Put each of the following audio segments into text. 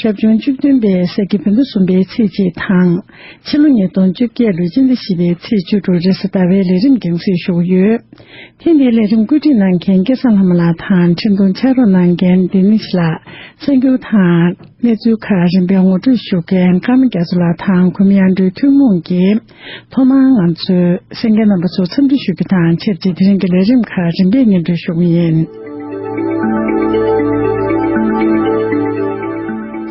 ཞབས་བྱུང་བཅུ་བདུན་པའི་ས་ཁྱི་བོད་ཟླ་གསུམ་པའི་ཚེས་གཅིག་དང། ཕྱི་ལོ་ཉིས་སྟོང་བཅོ་བརྒྱད་ལོའི་སྤྱི་ཟླ་བཞི་པའི་ཚེས་བཅུ་དྲུག་རེས་གཟའ་ཟླ་བའི་ལས་རིམ་འགེངས་སྲིད་བཞུགས་ཡོད། ཐེངས་འདིའི་ལས་རིམ་བཀོད་སྒྲིག་གནང་མཁན་སྐལ་བཟང་ལྷ་མོ་ལགས་དང་འཕྲིན་ཐུང་ཕྱག་རོགས་གནང་མཁན་ལྡི་ནེ་ཤི་ལགས་གསར་འགྱུར་དང་གནས་ཚུལ་ཁག་རིམ་པའི་ངོ་སྤྲོད་ཞུ་མཁན་ཀརྨ་རྒྱ་མཚོ་ལགས་དང་གུ་མི་ཨ་འགྲོའི་ཐུན་མོང་གི་ཐོག་མར་ང་ཚོས་སེང་གེ་རྣམ་པ་ཚོར་འཚམས་འདྲི་ཞུ་རྒྱུ་དང་ཆེར་བསྐྱེད་དེ་རིང་གི་ལས་རིམ་ཁག་རིམ་པས་སྙན་སྒྲོན་ཞུ་གི་ཡིན།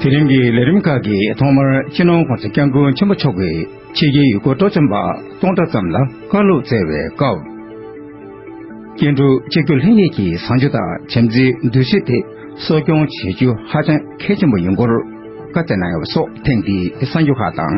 དེ་རིང་གི་ལས་རིམ་ཁག་གི་ཐོག་མར་ཕྱི་ནང་གོང་ས་སྐྱབས་མགོན་ཆེན་པོ་མཆོག་གིས་ཕྱི་རྒྱལ་ཡུལ་སྐོར་སྤྲོ་འཆམ་པ་སྟོང་ཕྲག་ཙམ་ལ་བཀའ་སློབ་བསྩལ་བའི་སྐབས། སྐྱེ་འགྲོ་གཅིག་གྱུར་ལྷན་སྐྱེས་ཀྱི་བཟང་སྤྱོད་དང་བྱམས་བརྩེའི་འདུ་ཤེས་དེ་གསོ་སྐྱོང་བྱེད་རྒྱུ་ཧ་ཅང་གལ་ཆེན་པོ་ཡིན་སྐོར་བཀའ་བསྩལ་གནང་ཡོད་པ་སོགས་ཐེངས་འདིའི་གསར་འགྱུར་ཁག་དང།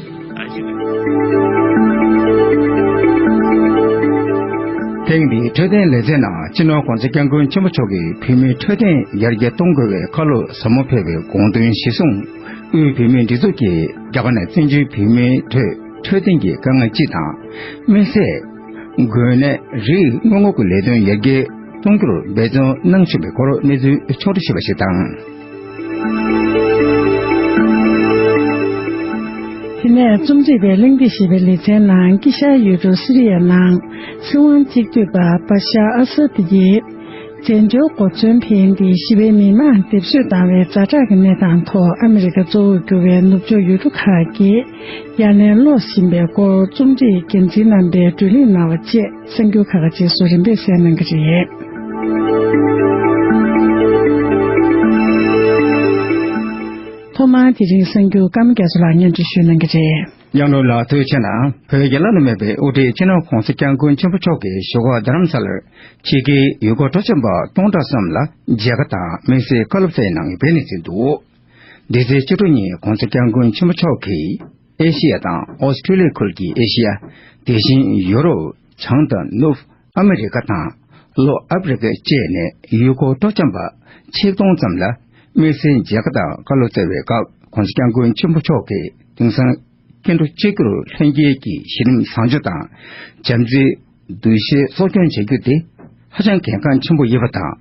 ཐེངས་འདིའི་འཕྲོད་བསྟེན་ལེ་ཚན་ནང་སྤྱི་ནོར ྋགོང་ས ྋསྐྱབས་མགོན་ཆེན་པོ་མཆོག་གིས་བུད་མེད་འཕྲོད་བསྟེན་ཡར་རྒྱས་གཏོང་དགོས་བའི་ཁ་ལོ་ཟབ་མོ་ཕེབས་པའི་དགོངས་དོན་གཞིར་བཟུང། དབུས་བུད་མེད་སྒྲིག་འཛུགས་ཀྱིས་རྒྱ་གར་ནས་བཙན་བྱོལ་བུད་མེད་ཁྲོད་འཕྲོད་བསྟེན་གྱི་དཀའ་ངལ་སྤྱི་དང། དམིགས་བསལ། འགོས་ནད་རིགས་སྔོན་འགོག་གི་ལས་དོན་ཡར་རྒྱས་གཏོང་རྒྱུར་འབད་བརྩོན་གནང་བཞིན་པའི་སྐོར་གནས་ཚུལ་ཕྱོགས་སྒྲིག་བྱས་པ་ཞིག་དང། དེ་ནས་རྩོམ་སྒྲིག་པས་གླེང་སྟེགས་ཞེས་པའི་ལེ་ཚན་ནང་དཀྱིལ་ཤར་ཡུལ་གྲུ་སི་རི་ཡ་ནང་སྲིད་དབང་གཅིག་སྡུད་པ་བཱ་ཤ་ཨ་སཱ་ཏི་ཡིས་བཙན་བྱོལ་གོ་མཚོན་འཕེན་ཏེ་ཞི་བའི་མི་མང་སྡེབ་གསོད་བཏང་བའི་རྫ་དྲག་གི་གནས་སྟངས་ཐོག་ཨ་མི་རི་ཀ་གཙོ་བོར་གྱུར་བའི་ནུབ་ཕྱོགས་ཡུལ་གྲུ་ཁག་གིས་གཡར་ལན་སློག་བཞིན་པའི་སྐོར་རྩོམ་སྒྲིག་འགན་འཛིན་རྣམ་པས་བགྲོ་གླེང་གནང་བ་བཅས། སེམས་སྐྱོ་ཁ་ཁ་རྗེས་སུ་རིམ་པས་བསལ་གནང་གི་རེད། ཐོག་མར་དེ་རིང་སེམས་སྐྱོ་སྐར་མ་རྒྱ་མཚོ་ལགས་སྙན་འབྲི་ཞུས་གནང་གི་རེད། གཡང་དྲུང་ལགས་ཐུགས་ཆེ་གནང་བོད་རྒྱ་བླ་ན་མེད་པའི་དབུ་ཁྲིད་ཕྱི་ནང་གོང་ས་སྐྱབས་མགོན་ཆེན་པོ་མཆོག་གི་ཞོག་ཁོག་རྡ་རམ་ས་ལར་ཕྱི་གི་ཡུལ་སྐོར་སྤྲོ་འཆམ་པ་སྟོང་ཕྲག་ཙམ་ལ་མཇལ་ཁ་དང་མིག་སེར་བཀའ་སློབ་བསྩལ་གནང་བའི་གནས་ཚུལ་འདུག་འདི་ཚེས་བཅུ་དྲུག་ཉིན་གོང་ས་སྐྱབས་མགོན་ཆེན་པོ་མཆོག་གིས། ཨེ་ཤེ་ཡ་དང་ཨོ་སི་ཁྲུ་ལི་ཡ་ཁུལ་གྱི་ཨེ་ཤེ་ཡ། དེ་བཞིན་ཡོ་རོབ་བྱང་དང་ནུབ་ཨ་མི་རི་ཀ་དང་ལྷོ་ཨ་ཕི་རི་ཀ་བཅས་ནས་ཡུལ་སྐོར་སྤྲོ་འཆམ་པ་ཆིག་སྟོང་ཙམ་ལ་དམིགས་བསལ་མཇལ་ཁ་དང་བཀའ་སློབ་སྩལ་བའི་སྐབས་ཁོང་ཚོ་སྐྱབས་མགོན་ཆེན་པོ་མཆོག་གི་དེང་སང་སྐྱེ་འགྲོ་གཅིག་གྱུར་ལྷན་སྐྱེས་ཀྱི་གཞི་རིམ་བཟང་སྤྱོད་དང་བྱམས་བརྩེའི་གདུལ་བྱའི་གསོ་སྐྱོང་བྱ་རྒྱུ་དེ་ཧ་ཅང་གལ་འགངས་ཆེན་པོ་ཡིན་པ་དང་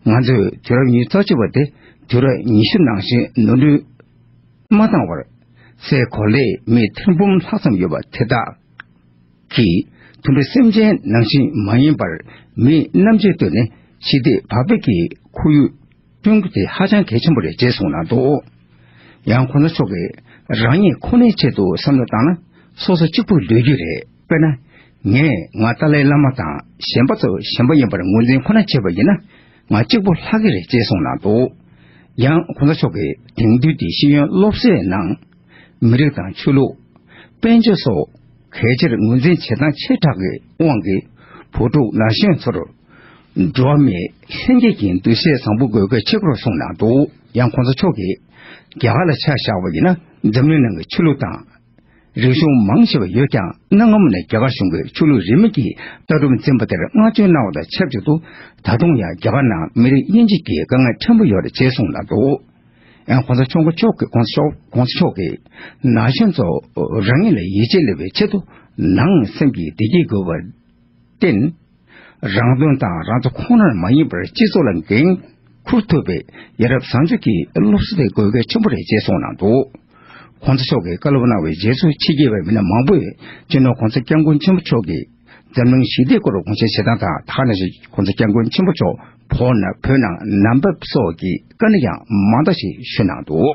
ང་ཚོས་དུས་རབས་ཉི་ཚོགས་བྱེད་པ་དེ་དུས་རབས་ཉི་ཤུ་ནང་བཞིན་ནོར་འཁྲུལ། མ་བཏང་བར་སའི་གོ་ལའི་མིའི་ཐེར་འབུམ་ལྷག་ཙམ་ཡོད་པ་དེ་དག་གིས་དུམ་བུའི་སེམས་ཅན་ནང་བཞིན་མ་ཡིན་པར་མིའི་རྣམ་དཔྱོད་བཏོན་ནས་ཞི་བདེ་བག་ཕེབས་ཀྱི་ཁོར་ཡུག་བསྐྲུན་རྒྱུ་དེ་ཧ་ཅང་གལ་ཆེན་པོ་རེད་ཅེས་གསུངས་གནང་འདུག་ཡང་གོ་ལ་མཆོག་གིས་རང་ཉིད་ཁོ་ནའི་ཆེད་དུ་བསམ་བློ་བཏང་ན་སོ་སོ་གཅིག་པུ་ལུས་རྒྱུ་རེད། དཔེར་ན། ངས་ང་ཏཱ་ལའི་བླ་མ་དང་གཞན་པ་ཚོ་གཞན་པ་ཡིན་པར་ངོས་འཛིན་ཁོ་ན་བྱས་པ་ཡིན་ན། ང་གཅིག་པོ་ལྷག་གི་རེད་ཅེས་གསུངས་གནང་འདུག་ཡང་གོང་ས་མཆོག་གིས་དེང་དུས་ཀྱི་ཤེས་ཡོན་སློབ་གསོའི་ནང། མི་རིགས་དང་ཆོས་ལུགས། དཔལ་འབྱོར་སོགས་གལ་ཆེར་ངོས་འཛིན་བྱེད་སྟངས་ཆེ་དྲགས་ཀྱི་དབང་གིས་བུ་ཕྲུག་ན་གཞོན་ཚོར། འགྲོ་བ་མིའི་ལྷན་སྐྱེས་ཀྱི་འདུ་ཤེས་བཟང་པོ་དགོས་གལ་ཆེ་སྐོར་གསུངས་གནང་འདུག་ཡང་གོང་ས་མཆོག་གིས། རྒྱ་གར་ལ་ཆ་བཞག་པ་ཡིན་ན་འཛམ་གླིང་ནང་གི་ཆོས་ལུགས་དང། རིག་གཞུང་མང་ཆེ་བ་ཡོད་ཀྱང་གནའ་སྔ་མོ་ནས་རྒྱ་གར་གཞུང་གིས་ཆོས་ལུགས་རིས་མེད་ཀྱི་ལྟ་གྲུབ་འཛིན་པ་དེར་བསྔགས་བརྗོད་གནང་བ་དང་ཆབས་ཅིག་ཏུ་ད་དུང་ཡང་རྒྱ་གར་ནང་མི་རིགས་དབྱེ་འབྱེད་ཀྱི་དཀའ་ངལ་ཕྲན་བུ་ཡོད་རེད་ཅེས་གསུངས་གནང་འདུག ྋགོང་ས་མཆོག་མགོ་འཁྱོག་གིས ྋགོང་ས་མཆོག་གིས་ན་གཞོན་ཚོ་རང་ཉིད་ལ་ཡིད་ཆེས་སླེབས་པའི་ཆེད་དུ་ནང་སེམས་ཀྱི་བདེ་སྐྱིད་དགོས་པར་བརྟེན། རང་དོན་དང་རང་ཚོ་ཁོ་ནར་མ་ཡིན་པར་སྤྱི་ཚོགས་ལ་འགན་འཁུར་ཐུབ་པའི་ཡ་རབས་བཟང་སྤྱོད་ཀྱི་སློབ་གསོ་དེ་དགོས་གལ་ཆེན་པོ་རེད་ཅེས་གསུངས་གནང་འདུག་གོང་ས་མཆོག་གིས་བཀའ་སློབ་གནང་བའི་རྗེས་སུ་ཕྱི་རྒྱལ་བའི་མི་སྣ་མང་པོས་སྤྱིར་ན་གོང་ས་སྐྱབས་མགོན་ཆེན་པོ་མཆོག་གིས་འཛམ་གླིང་ཞི་བདེའི་སྐོར་དགོངས་བཞེས་བྱེད་སྟངས་དང་ཐ་ན་གོང་ས་སྐྱབས་མགོན་ཆེན་པོ་མཆོག་བོད་ནང་ནམ་ཕབ་སོགས་ཀྱི་བཀའ་ནི་ཡང་མང་དག་ཞིག་ཞུས་གནང་འདུག།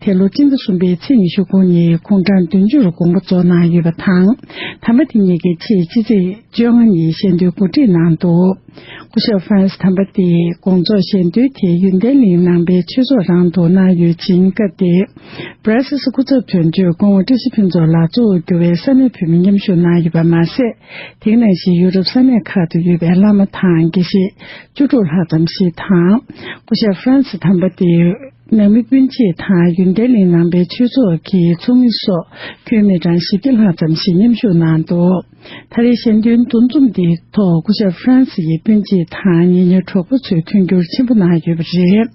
དེ་ལོ་སྤྱི་ཟླ་གསུམ་པའི་ཚེས་ཉི་ཤུ་དགུ་ཉིན་ཁོང་གྲངས་བདུན་ཅུ་རུ་དགོངས་པ་རྫོགས་གནང་ཡོད་པ་དང། དམ་པ་དེ་ཉིད་ཀྱི་ཆེད་ཕྱི་ཚེས་བཅོ་ལྔ་ཉིན་གཞེས་འདོན་གོ་སྒྲིག་གནང་འདུག་སྐུ་ཞབས Franz དམ་པ་དེས་དགོངས་རྫོགས་གཞེས་འདོན་དེ་ཡུན་ཏན་གླིང་ནང་པའི་ཆོས་ཚོགས་རང་དུ་གནང་ཡོད་ཅིང་སྐབས་དེ Brazils སྐུ་ཚབ་དོན་གཅོད་དགོངས་བཀྲ་ཤིས་ཕུན་ཚོགས་ལགས་གཙོ་བོར་གྱུར་བའི་ས་གནས་བོད་མི་མཉམ་ཞུགས་གནང་ཡོད་པ་མ་ཟད། དེང་ནང་བཞིན་ཡུ་རོབ་ས་གནས་ཁག་ཏུ་ཡོད་པའི་བླ་མ་དང་དགེ་བཤེས་བཅུ་དྲུག་ལྷག་ཙམ་ཞིག་དང། སྐུ་ཞབས Franz དམ་པ་དེའི། ནང་མི་སྤུན་མཆེད་དང་ཡུན་ཏན་གླིང་ནང་པའི་ཆོས་ཚོགས་ཀྱི་ཚོགས་མི་སོགས་ཁྱོན་མི་གྲངས་བཞི་བརྒྱ་ལྷག་ཙམ་ཞིག་མཉམ་ཞུགས་གནང་འདུག་ད་རེས་གཞན་དོན་འདུ་འཛོམས་འདིའི་ཐོག་སྐུ་ཞབས་ཧྥ་རན་སི་ཡི་སྤུན་མཆེད་དང་ཉེ་མྱུར་གྲོགས་པོ་ཚོས་མཐུན་འགྱུར་ཆེན་པོ་གནང་ཡོད་པ་རེད།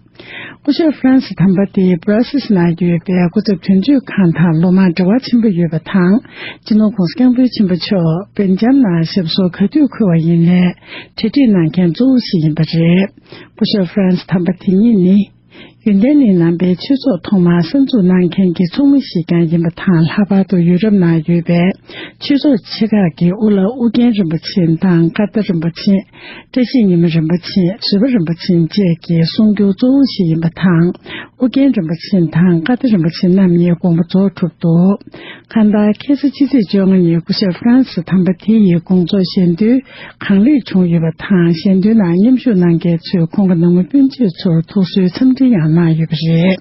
སྐུ་ཞབས་ཧྥ་རན་སི་དམ་པ་དེས་བྷ་ར་སིས་ནང་ཡོད་པའི་སྐུ་ཚབ་དོན་གཅོད་ཁང་དང་ལོ་མང་འབྲེལ་བ་ཆེན་པོ་ཡོད་པ་དང་སྤྱི་ནོར་ཁོངས་སུ་སྐྱབས་མགོན་ཆེན་པོ་མཆོག་སྦེལ་ཇམ་ནང་ཞབས་སོར་ག་དུས་འཁོད་བ་ཡིན་ལས་གྲ་སྒྲིག་གནང་མཁན་གཙོ་བོ་ཞིག་ཡིན་པ་རེད། སྐུ་ཞབས Franz དམ་པ་དེ་ཉིད་ནི། ཡོན་ཏན་གླིང་ནང་པའི་ཆོས་ཚོགས་ཐོག་མར་གསར་འཛུགས་གནང་མཁན་གྱི་ཚོགས་མི་ཞིག་ཀྱང་ཡིན་པ་དང་ལྷག་པར་དུ་ཡུ་རོབ་ནང་ཡོད་པའི་ཆོས་ཚོགས་ཆེ་ཁག་གི་དབུ་བླ་ཨུ་རྒྱན་རིན་པོ་ཆེ་དང་སྐར་རྟ་རིན་པོ་ཆེ། བཀྲ་ཤིས་ཉི་མ་རིན་པོ་ཆེ་བཟོད་པ་རིན་པོ་ཆེ་བཅས་ཀྱི་གསུང་རྒྱུན་གཙོ་བོ་ཞིག་ཡིན་པ་དང་ཨུ་རྒྱན་རིན་པོ་ཆེ་དང་སྐར་རྟ་རིན་པོ་ཆེ་རྣམ་གཉིས་དགོངས་པ་རྫོགས་གྲུབ་འདུག་ཁ་མདའ་ཁེ་སི་སྤྱི་ཚེས་བཅོ་ལྔ་ཉིན་སྐུ་ཞབས Franz དམ་པ་དེ་ཡི་དགོངས་རྫོགས་བཞེས་འདུན། གང་ལེགས་བྱུང་ཡོད་པ་དང་གཞན་དོན་ནང་མཉམ་ཞུགས་གནང་མཁན་ཚོས་ཁོང་གི་ནང་མི་སྤུན་མཆེད་ཚོར་ཐུགས་གསོའི་འཚམས་འདྲི་ཡང་གནང་ཡོད་པ་རེད།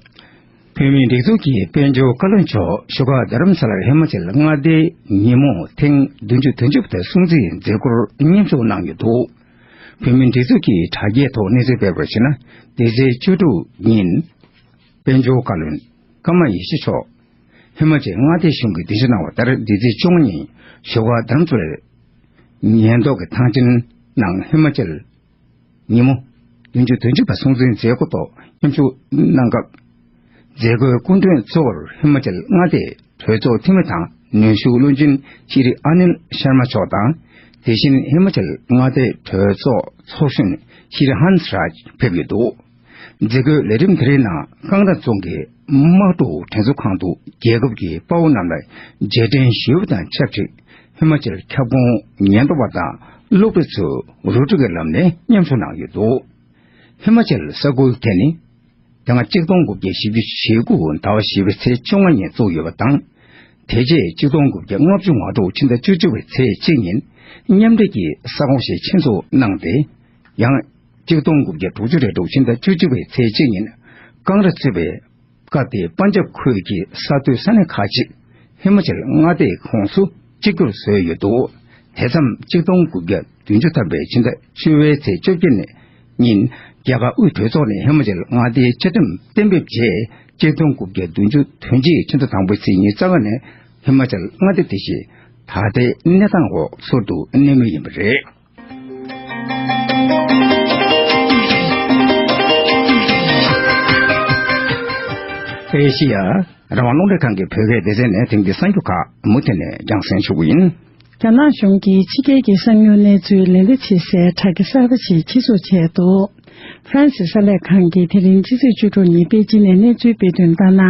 བོད་མིའི་སྒྲིག་འཛུགས་ཀྱི་དཔལ་འབྱོར་བཀའ་བློན་མཆོག་བཞུགས་སྒར་རྡ་རམ་ས་ལར་ཧི་མ་ཅལ་མངའ་སྡེའི་ཉིན་མོ་ཐེངས་བདུན་བཅུ་དོན་བཅུ་པ་དང་སྲུང་བརྩིའི་མཛད་སྒོར་མཉམ་ཞུགས་གནང་ཡོད་འདུག་བོད་མིའི་སྒྲིག་འཛུགས་ཀྱི་དྲ་རྒྱའི་ཐོག་གནས་ཚུལ་སྤེལ་བར་གཞིགས་ན་འདི་ཚེས་བཅུ་དྲུག་ཉིན་དཔལ་འབྱོར་བཀའ་བློན་ཀརྨ་ཡེ་ཤེས་མཆོག་ཧི་མ་ཅལ་མངའ་སྡེའི་གཞུང་གིས་སྡིངས་ཆ་གནང་བ་ལྟར་བདུད་རྩི་བཅུ་ལྔ་ཉིན་བཞུགས་སྒར་དཱམ་ཙུ་རའི་ཉེན་རྟོག་གི་ཐང་ཆེན་ནང་ཧི་མ་ཅལ་ཉིན་མོ་བདུན་ཅུ་དོན་གཅིག་པ་སྲུང་བརྩིའི་མཛད་སྒོ་ཐོག་མཉམ་ཞུགས་གནང་སྐབས། མཛད་སྒོའི་སྐུ་མགྲོན་གཙོ་བོར་ཧི་མ་ཅལ་མངའ་སྡེའི་གྲོས་ཚོགས་འཐུས་མི་དང་ནུས་ཤུགས་བློན་ཆེན་ཤི་རི་ཨ་ནིལ་ཤར་མ་མཆོག་དང། དེ་བཞིན་ཧི་མ་ཅལ་མངའ་སྡེའི་གྲོས་ཚོགས་ཚོགས་གཞོན་ཤི་རི་ཧན་སི་རཱཇ་ཕེབས་ཡོད་འདུག། མཛད་སྒོའི་ལས་རིམ་དེ་རིང་ནང་རྐང་ཐང་རྫོང་གི་དམག་གྲུ་དྲན་གསོ་ཁང་དུ་རྒྱལ་ཁབ་ཀྱི་དཔའ་བོ་རྣམས་ལ་རྗེས་དྲན་ཞུ་བ་དང་ཆབས་ཅིག་ཧི་མ་ཅལ་ཁྱབ་ཁོངས་ཉེན་རྟོག་པ་དང་སློབ་གྲྭ་ཚོས་རུ་ཏྲ་གི་ལམ་ནས་མཉམ་ཞུགས་གནང་ཡོད་འདུག་ཧི་མ་ཅལ་ས་ཁུལ་དེ་ནི་དེ་སྔ་གཅིག་སྟོང་དགུ་བརྒྱ་བཞི་བཅུ་ཞེ་དགུ་ཟླ་བ་བཞི་པའི་ཚེས་བཅོ་ལྔ་ཉིན་བཙུགས་ཡོད་པ་དང། དེ་རྗེས་གཅིག་སྟོང་དགུ་བརྒྱ་ལྔ་བཅུ་ང་དྲུག་ཕྱི་ཟླ་བཅུ་བཅུ་བའི་ཚེས་གཅིག་ཉིན་མཉམ་འབྲེལ་གྱི་ས་ཁོངས་ཤིག་ཆེད་འཛུགས་གནང་སྟེ་ཡང། གཅིག་སྟོང་དགུ་བརྒྱ་དྲུག་ཅུ་རེ་དྲུག་ཕྱི་ཟླ་བཅུ་གཅིག་པའི་ཚེས་གཅིག་ཉིན། ཀང་ར་གཙོས་པའི་ཀ་ཏེ་པཱན་ཇབ་ཁུལ་གྱི་ས་མཐོའི་ས་གནས་ཁག་ཅིག་ཧི་མ་ཅལ་མངའ་སྡེའི་ཁོངས་སུ་གཅིག་གྱུར་བཟོས་ཡོད་འདུག་དེ་མཚམས་གཅིག་སྟོང་དགུ་བརྒྱ་བདུན་ཅུ་ཐམ་པའི་ཕྱི་ཟླ་བཅུ་བའི་ཚེས་བཅོ་བརྒྱད་ཉིན། རྒྱལ་ཁབ་དབུས་གྲོས་ཚོགས་ནས་ཧི་མ་ཅལ་མངའ་སྡེའི་བཅའ་ཁྲིམས་གཏན་འབེབས་རྗེས་གཅིག་སྟོང་དགུ་བརྒྱ་བདུན་ཅུ་དོན་གཅིག་ཕྱི་ཟླ་དང་པོའི་ཚེས་གཉིས་རྩ་བ་ནས་ཧི་མ་ཅལ་མངའ་སྡེ་དེ་བཞིན་ད་ལྟའི་གནས་སྟངས་འོག་ཚུར་དུ་གནས་མུས་ཡིན་པ་རེད། ཨེ་ཤི་ཡ་རང་དབང་སློབ་འབྲིང་ཁང་གི་བོད་སྐད་སྡེ་ཚན་ནས་ཐེངས་འདིའི་གསར་འགྱུར་ཁག་མུ་མཐུད་ནས་རྒྱང་བསྲིངས་ཞུ་གི་ཡིན། རྒྱ་ནག་གཞུང་གིས་ཕྱི་རྒྱལ་གྱི་གསང་མྱུལ་གནས་ཚུལ་ལེན་བདེ་བྱེད་སའི་དྲ་རྒྱ་གསར་པ་ཞིག་ཕྱིར་བཟོ་བྱས་འདུག། ཧྥ་རན་སི་གསར་ལས་ཁང་གིས་དེ་རིང་ཕྱི་ཚེས་བཅུ་དྲུག་ཉིན་པེ་ཅིན་ནས་གནས་ཚུལ་སྤེལ་དོན་ལྟར་ན།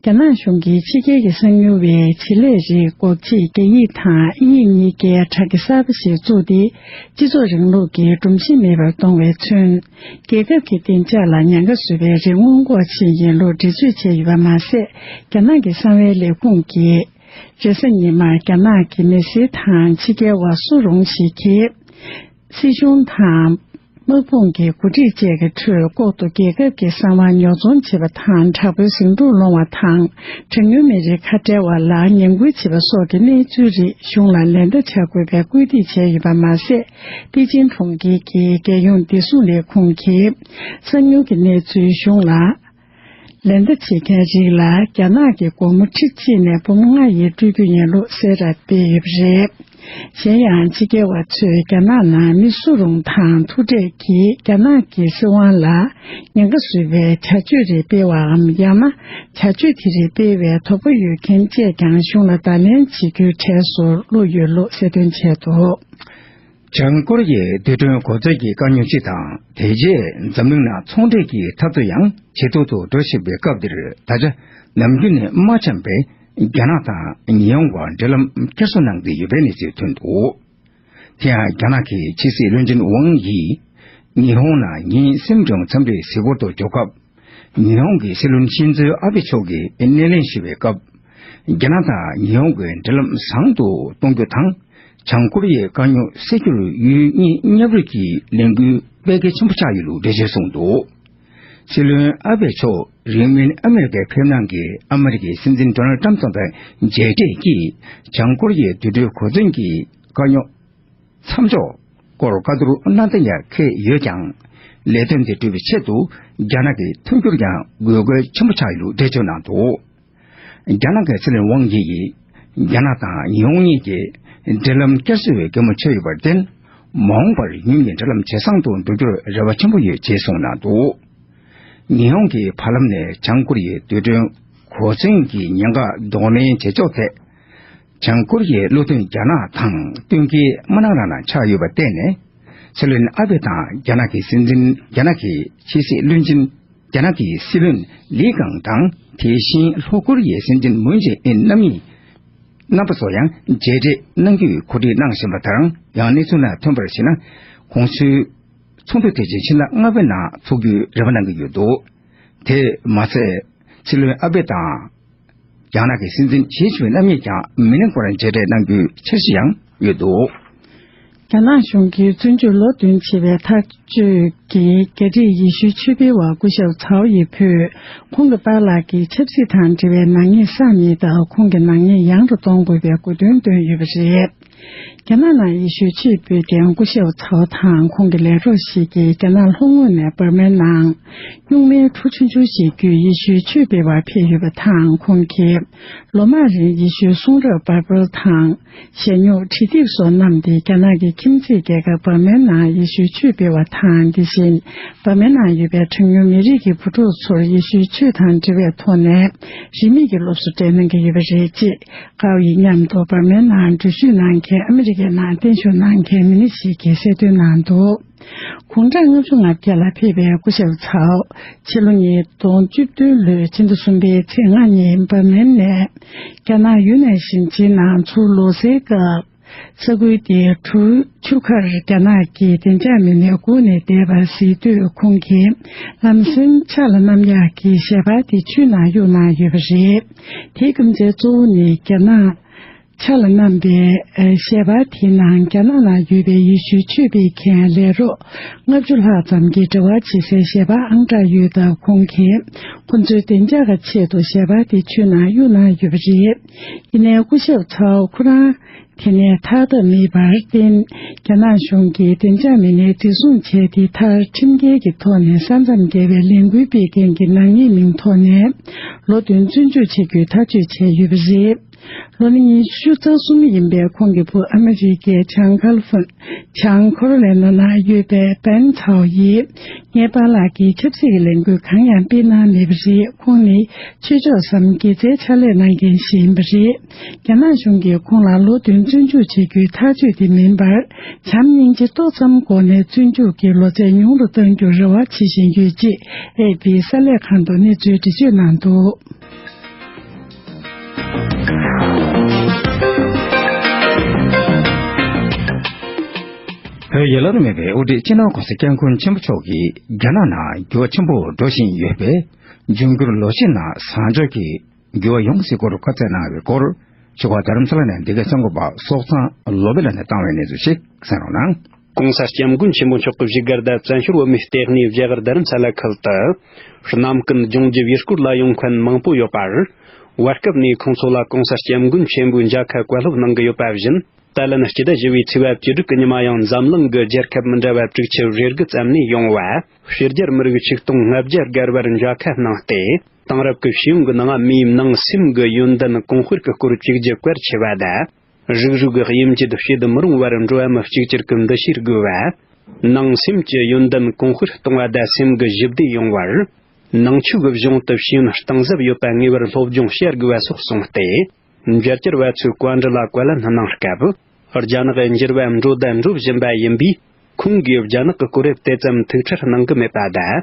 རྒྱ་ནག་གཞུང་གིས་ཕྱི་རྒྱལ་གྱི་གསང་ཉུལ་བའི་བྱེད་ལས་རིགས་འགོག་ཆེད་རྒྱ་ཡིག་དང་དབྱིན་ཡིག་གཉིས་ཀའི་དྲ་རྒྱ་གསར་པ་ཞིག་བཙུགས་ཏེ་སྤྱི་ཚོགས་རིང་ལུགས་ཀྱི་སྒྲོམ་གཞི་མེད་པར་གཏོང་བས་མཚོན། རྒྱལ་ཁབ་ཀྱི་བདེ་འཇགས་ལ་ཉེན་ཁ་བཟོ་བའི་རིགས་སྔོན་འགོག་ཆེད་ཡིན་ལུགས་འགྲེལ་བརྗོད་བྱས་ཡོད་པ་མ་ཟད་རྒྱ་ནག་གི་གསང་བའི་ལས་ཁུངས་ཀྱིས། རེས་གཟའ་ཉི་མར་རྒྱ་ནག་གི་མི་སེར་དང་ཕྱི་རྒྱལ་བ་སུ་རུང་ཞིག་གིས། སྲིད་གཞུང་དང། དམག་དཔུང་གི་འགོ་ཁྲིད་བཅས་ཀྱི་ཁྲོད་ལྐོག་ཏུ་རྒྱལ་ཁབ་ཀྱི་གསང་བ་ཉོ་ཚོང་བྱེད་པ་དང་དྲག་པོའི་ཟིང་འཁྲུག་སློང་བ་དང་གྲངས་ཉུང་མི་རིགས་ཁ་བྲལ་བ་ལ་ངན་སྐུལ་བྱེད་པ་སོགས་ཀྱི་གནས་ཚུལ་རིགས་གཞུང་ལ་ལན་བརྡ་བྱ་དགོས་པའི་སྐུལ་འདེད་བྱས་ཡོད་པ་མ་ཟད། པེ་ཅིན་གྲོང་ཁྱེར་གྱི་རྒྱལ་ཡོངས་བདེ་སྲུང་ལས་ཁུངས་ཀྱིས་གསང་ཉུལ་གྱི་གནས་ཚུལ་གཞུང་ལ། ལེ་འདེབས་བྱེད་མཁན་རིགས་ལ་རྒྱ་ནག་གི་སྒོར་མོ་ཁྲི་གཅིག་ནས་འབུམ་ལྔ་ཡིས་སྤྲོད་རྒྱུ་ཡིན་ལུགས་གསལ་བསྒྲགས་སྤེལ་ཡོད་པ་རེད། གཞན་ཡང་ཕྱི་རྒྱལ་བ་ཚོས་རྒྱ་ནག་ནང་མི་སུ་རུང་དང་ཐུག་འཕྲད་ཀྱིས་རྒྱ་ནག་གི་སྲིད་དབང་ལ་ཉེན་ཁ་བཟོས་པའི་བྱ་སྤྱོད་རེ་སྤེལ་བའམ་ཡང་ན་བྱ་སྤྱོད་དེ་རིགས་སྤེལ་བའི་དོགས་པ་ཡོད་མཁན་བཅས་ཀྱང་གཞུང་ལ་བརྡ་ལན་བྱེད་རྒྱུའི་གྲས་སུ་བླུགས་ཡོད་ལུགས་གསལ་སྟོན་བྱས་འདུག། བྱང་ཀོ་རི་ཡའི་བདེ་དྲོད་མགོ་བརྩེགས་ཀྱི་དཀའ་རྙོག་ཅིག་དང་དེ་རྗེས་འཛམ་གླིང་ནང་ཚོང་འབྲེལ་གྱི་འཐབ་རྩོད་ཡང་ཇེ་སྡུག་ཏུ་འགྲོ་བཞིན་པའི་སྐབས་འདིར་ད་ཆ་ནམ་རྒྱུན་ནས་མ་འཆམ་པའི་རྒྱ་ནག་དང་ཉི་ཧོང་བར་འབྲེལ་ལམ་སྐྱར་གསོ་གནང་གི་ཡོད་པའི་གནས་ཚུལ་ཐོན་འདུག་དེ་ཡང་རྒྱ་ནག་གི་ཕྱི་སྲིད་བློན་ཆེན་ཝང་ཡིས་ཉི་ཧོང་ནང་ཉིན་གསུམ་བྱུང་འཚམས་འདྲི་གཟིགས་སྐོར་དུ་འབྱོར་སྐབས། ཉི་ཧོང་གི་སྲིད་བློན་ཤིན་ཛོ་ཨ་བྷེ་མཆོག་གིས་སྣེ་ལེན་ཞུས་པའི་སྐབས། རྒྱ་ནག་དང་ཉི་ཧོང་གི་འབྲེལ་ལམ་བཟང་དུ་གཏོང་རྒྱུ་དང་བྱང་ཀོ་རི་ཡའི་དཀའ་རྙོག་སེལ་རྒྱུར་ཡུལ་གཉིས་མཉམ་རུབ་ཀྱི་ལས་འགུལ་སྤེལ་གལ་ཆེན་པོ་ཆགས་ཡོད་ལུགས་འགྲེལ་བརྗོད་གསུངས་འདུག་སྲིད་བློན་ཨ་བྷེ་མཆོག་རིང་མིན་ཨ་མེ་རི་ཀར་ཕེབས་གནང་གིས་ཨ་མེ་རི་ཀའི་སྲིད་འཛིན Donald Trump ཚོགས་པའི་མཇལ་འཕྲད་ཀྱིས་བྱང་ཀོ་རི་ཡའི་དུད་འགྲོའི་གོ་མཚོན་གྱི་དཀའ་རྙོག་མཚམས་འཇོག་སྐོར་བཀའ་བསྡུར་གནང་གཏན་འཁེལ་བྱས་ཡོད་ཀྱང། ལས་དོན་དེ་བསྒྲུབ་པའི་ཆེད་དུ་རྒྱ་ནག་གི་མཐུན་འགྱུར་ཡང་དགོས་གལ་ཆེན་པོ་ཆགས་ཡོད་ལུགས་འགྲེལ་བརྗོད་གནང་འདུག། རྒྱ་ནག་གི་ཚེ་རིང་དབང་སྐྱིད་ཀྱིས་རྒྱ་ནག་དང་ཉི་ཧོང་གཉིས་ཀྱི་འབྲེལ་ལམ་བསྐྱར་གསོ་བའི་གད་མོ་ཕྱེ་ཡོད་པར་བརྟེན། མ་འོངས་པར་གཉིས་ཀྱི་འབྲེལ་ལམ་ཇེ་བཟང་དུ་འགྲོ་རྒྱུར་རེ་བ་ཆེན་པོ་ཡོད་ཅེས་གསུངས་གནང་འདུག་ཉི་ཧོང་གི་བར་ལམ་ནས་བྱང་ཀོ་རི་ཡའི་རྡུལ་ཕྲན་གོ་མཚོན་གྱི་ཉེན་ཁ་གདོང་ལེན་བྱེད་ཕྱོགས་ཐད། བྱང་ཀོ་རི་ཡའི་བློ་མཐུན་རྒྱ་ནག་དང་བསྟུན་གྱིས་དམར་ནག་རང་ན་ཆགས་ཡོད་པར་བརྟེན་ནས། ཚེ་རིང་ཨ་བྷེ་དང་རྒྱ་ནག་གི་སྲིད་འཛིན་རྒྱ་ནག་གི་ཕྱི་སྲིད་བློན་ཆེན། རྒྱ་ནག་གི་སྲིད་བློན་ལི་ཀང་དང་དེ་བཞིན་ལྷོ་ཀོ་རི་ཡའི་སྲིད་འཛིན་མུན་ཇེ་ཨིན་རྣམ་གཉིས་རྣམ་པ་ཚོ་ཡང་མཇལ་འཕྲད་གནང་རྒྱུའི་གོ་སྒྲིག་གནང་བཞིན་པ་དང་ཡང་གནས་ཚུལ་ལ་ཐོན་པར་གཞིགས་ན་གོང་ཚུལ་ཚོགས་འདུ་དེ་བརྗོད་ཕྱི་ཟླ་ལྔ་པའི་ནང་འཚོགས་རྒྱུའི་རེ་བ་གནང་གི་ཡོད་འདུག་དེས་མ་ཚད་སྲིད་བློན་ཨ་བྷེ་དང། རྒྱ་ནག་གི་སྲིད་འཛིན་གཞིས་བྱེས་རྣམ་གཉིས་ཀྱང་མི་ལེན་སྐོར་མཇལ་འཕྲད་གནང་རྒྱུའི་འཆར་གཞི་ཡང་ཡོད་འདུག། རྒྱ་ནག་གཞུང་གིས་བཙོན་འཇུག་ལོ་བདུན་བྱས་པའི་ཐག་གཅོད་ཀྱིས་རྒྱ་རིགས་ཡེ་ཤུའི་ཆོས་འཕེལ་བ་སྐུ་ཞབས་ཚའོ་ཡེ་ཕུས་ཁོང་གི་པཱ་ལགས་ཀྱི་ཆབ་སྲིད་དང་འབྲེལ་བའི་ནག་ཉེས་བསགས་མེད་སྟབས་ཁོང་གི་ནག་ཉེས་ཡང་དུ་གཏོང་དགོས་པའི་དགོས་འདུན་བཏོན་ཡོད་པ་རེད། རྒྱ་ནག་ནང་ཡེ་ཤུའི་ཆེས་ཕུལ་དགེ་སྐུ་ཤེའུ་ཚའོ་དང་ཁོང་གི་ལས་རོགས་ཤིག་གིས་རྒྱ་ནག་ལྷོ་ངོས་ནས་འབར་མའི་ནང། སྨྱུག་མའི་གྲུ་ཆུང་ཆུང་ཞིག་བརྒྱུད་ཡེ་ཤུའི་ཆོས་སྤེལ་བར་ཕེབས་ཡོད་པ་དང་ཁོང་གིས་ལོ་མང་རིང་ཡེ་ཤུའི་གསུང་རབ་བར་པོལ་དང། ཞལ་སྨྱུག་བྲིས་སྟེགས་སོགས་བསྣམས་ཏེ་རྒྱ་ནག་གི་ཁྱིམ་མཚེས་རྒྱལ་ཁབ་འབར་མའི་ནང་ཡེ་ཤུའི་ཆོས་སྤེལ་བ་དང་དེ་བཞིན་འབར་མའི་ནང་ཡོད་པའི་གྲངས་ཉུང་མི་རིགས་ཀྱི་བུ་ཕྲུག་ཚོར་ཡེ་ཤུའི་ཆོས་དང་འབྲེལ་བའི་ཐོག་ནས་རིན་མེད་ཀྱི་སློབ་གསོ་སྤྲད་གནང་གི་ཡོད་པ་རེད། ཁའོ་ཡི་མཉམ་དུ་འབར་མའི་ནང་འགྲུལ་བཞུད་གནང་མཁན་ཨ་མི་རི་ཀའི་ནང་བརྟན་བཞུགས་གནང་མཁན་མི་སྣ་ཞིག་གིས་གསལ་སྟོན་གནང་འདུག་གུང་ཁྲན་ལྔ་བཅུ་ང་བརྒྱད་ལ་ཕེབས་པའི་སྐུ་ཞབས་ཚའོ་ཆི་ལོ་ཉིས་སྟོང་བཅུ་བདུན་ལོའི་ཕྱི་ཟླ་གསུམ་པའི་ཚེས་ལྔ་ཉིན་འབར་མའི་ནས་རྒྱ་ནག་ཡུན་ནན་ཞིང་ཆེན་ནང་ཚུར་ལོག་སའི་སྐབས། ས་ཁུལ་དེའི་ཁྲུའུ་ཆུ་ཁར་རྒྱ་ནག་གི་བདེ་འཇགས་མི་སྣས་སྒུག་ནས་བསྡད་པ་གཟིགས་དུས་ཁོང་གིས་ལམ་སེང་ཕྱག་ལ་གནམ་ཡག་གི་ཞལ་འབག་དེ་ཆུ་ནང་གཡུག་ན་ཡོད་པ་རེད། དེའི་རྐུན་རྫས་གཙོ་བོ་ནི་རྒྱ་ནག་ཕྱག་ལ་གནམ་པའི་ཞལ་འབག་དེའི་ནང་རྒྱ་ནག་ལ་ཡོད་པའི་ཡེ་ཤུའི་ཆོས་སྤེལ་མཁན་ལས་རོགས་ལྔ་བཅུ་ལྷག་ཙམ་གྱི་འབྲེལ་བ་བྱེད་སའི་ཞལ་འབག་ཨང་གྲངས་ཡོད་སྟབས་ཁོང་གིས་ཁོ་ཚོའི་བདེ་འཇགས་ཀྱི་ཆེད་དུ་ཞལ་འབག་དེ་ཆུ་ནང་གཡུག་ན་ཡོད་པ་རེད། ཡིན་ནའི་སྐུ་ཞབས་ཚའོ་ཁོ་རང་དེ་ནས་ཐར་ཐབས་མེད་པར་བརྟེན་རྒྱ་ནག་གཞུང་གིས་བདེ་འཇགས་མི་སྣའི་འཛིན་བཟུང་བྱས་ཏེ་མཐར་ཁྲིམས་འགལ་གྱི་ཐོག་ནས་ས་མཚམས་བརྒལ་བའི་ལས་འགུལ་སྤེལ་མཁན་གྱི་ནག་ཉེས་མིང་ཐོག་ནས་ལོ་བདུན་བཙོན་འཇུག་བྱེད་རྒྱུའི་ཐག་གཅོད་བྱས་ཡོད་པ་རེད། ལོ་ནི་ཉི་ཤུ་རྩ་གསུམ་ཡིན་པའི་ཁོང་གི་བུ་ཨ་མི་རི་ཀའི་ཇཱན་ཀལ་ཧྥུན། བྱང་ཁོར་ལེ་ནོ་ན་ཡོད་པའི་པན་ཐའོ་ཡིས་ངའི་པཱ་ལགས་ཀྱིས་ཆབ་སྲིད་ཀྱི་ལས་འགུལ་གང་ཡང་སྤེལ་གནང་མེད་པ་རེད་ཁོང་ནི་ཆོས་ཕྱོགས་སམ་དགེ་རྩའི་ཕྱག་ལས་གནང་མཁན་ཞིག་ཡིན་པ་རེད། རྒྱ་ནག་གཞུང་གིས་ཁོང་ལ་ལོ་བདུན་བཙོན་འཇུག་བྱེད་རྒྱུའི་ཐག་གཅོད་དེ་མིན་པར་བྱམས་སྙིང་རྗེ་ཏོག་ཙམ་སྒོ་ནས་བཙོན་འཇུག་གི་ལོ་ཚད་ཉུང་རུ་གཏང་རྒྱུར་རེ་བ་བྱེད་བཞིན་ཡོད་ཅེས་ཨེ་ཕིའི་གསར་ལས་ཁང་དུ་གནས་ཚུལ་འདྲི་གཅོད་གནང་འདུག། བོད་ཡུལ་ལོར་མེད་པའི་དབུ་ཁྲིད་སྤྱི་ནོར ྋགོང་ས ྋསྐྱབས་མགོན་ཆེན་པོ་མཆོག་གིས་རྒྱ་ནག་ནང་འགྱུར་བ་ཆེན་པོ་འགྲོ་བཞིན་ཡོད་པས་འབྱུང་འགྱུར་ལོ་ཤས་ནང་བཟང་ཕྱོགས་ཀྱི་འགྱུར་བ་ཡོང་སྲིད་སྐོར་བཀའ་བསྩལ་གནང་བའི་སྐོར་ཆོས་སྒར་རྡ་རམ་ས་ལ་ནས་འདི་གའི་གསར་འགོད་པ་སོག་ཚང་ལོ་པེ་ལགས་ནས་བཏང་བའི་གནས་ཚུལ་ཞིག་གསན་རོགས་གནང། གོང་ས་སྐྱབས་མགོན་ཆེན་པོ་མཆོག་གི་བཞུགས་སྒར་ཟླ་བཙན་ཤོར་བོད་མིའི་ལྟེ་གནས་བཞད་དབར་རྡ་རམ་ས་ལ་ཁུལ་དུ། གནམ་སྐུ་འདི་ལྗོངས་རྒྱུ་བའི་སྐོར་ལ་ཡོང་མཁན་མང་པོ་ཡོད་པར། བར་སྐབས་ནས་ཁོང་ཚོ་ལ་གོང་ས་སྐྱབས་མགོན་ཆེན་པོའི་མཇའ་ཁ་བཀའ་སློབ་གནང་གི་ཡོད་པ་བཞིན་ད་ལན་སྤྱི་ཟླ་བཞི་བའི་ཚེས་བབ་བཅུ་དྲུག་གི་ཉི་མ་ཡང་འཛམ་གླིང་གི་རྒྱལ་ཁབ་མི་འདྲ་བ་དྲུག་ཆུ་བཞི་རྒུ་ཙམ་ནས་ཡོང་བ་ཕྱི་རྒྱལ་མི་རིགས་ཆིག་སྟོང་ལྔ་བརྒྱ་སྒར་བར་མཇའ་ཁ་གནང་སྟེ་དེང་རབས་ཀྱི་ཤེས་ཡོན་གྱི་ནང་མིའི་ནང་སེམས་གྱི་ཡོན་ཏན་གོང་སྤེལ་གྱི་སྐོར་གཅིག་རྒྱུ་གལ་ཆེ་བ་དང། རིགས་རུས་ཀྱི་དབྱིབས་འབྱེད་བྱེད་མི་རུང་བར་འགྲོ་བ་མི་གཅིག་གྱུར་གྱི་འདུ་ཤེས་རྒུད་པ། ནང་སེམས་ཀྱི་ཡོན་ཏན་གོང་འཕེལ་གཏོང་བ་དང་སེམས་ཀྱི་ཞི་བདེ་ཡོང་བར་ནང་ཆོས་ཀྱི་གཞུང་དུ་ཤེས་ཡོན་གཏིང་ཟབ་ཡོད་པ་ངེས་པར་སློབ་སྦྱོང་བྱ་དགོས་པ་སོགས་གསུངས་ཏེ། རྒྱལ་གཅེར་བ་ཚོས་བཀའ་འདྲི་ལ་བཀའ་ལན་གནང་སྐབས། རྒྱ་ནག་གི་འགྱུར་བ་འགྲོ་དང་འགྲོ་བཞིན་པ་ཡིན་པས་ཁོང་གིས་རྒྱ་ནག་གི་གོ་རིམ་དེ་ཙམ་ཐུགས་ཁྲལ་གནང་གི་མེད་པ་དང།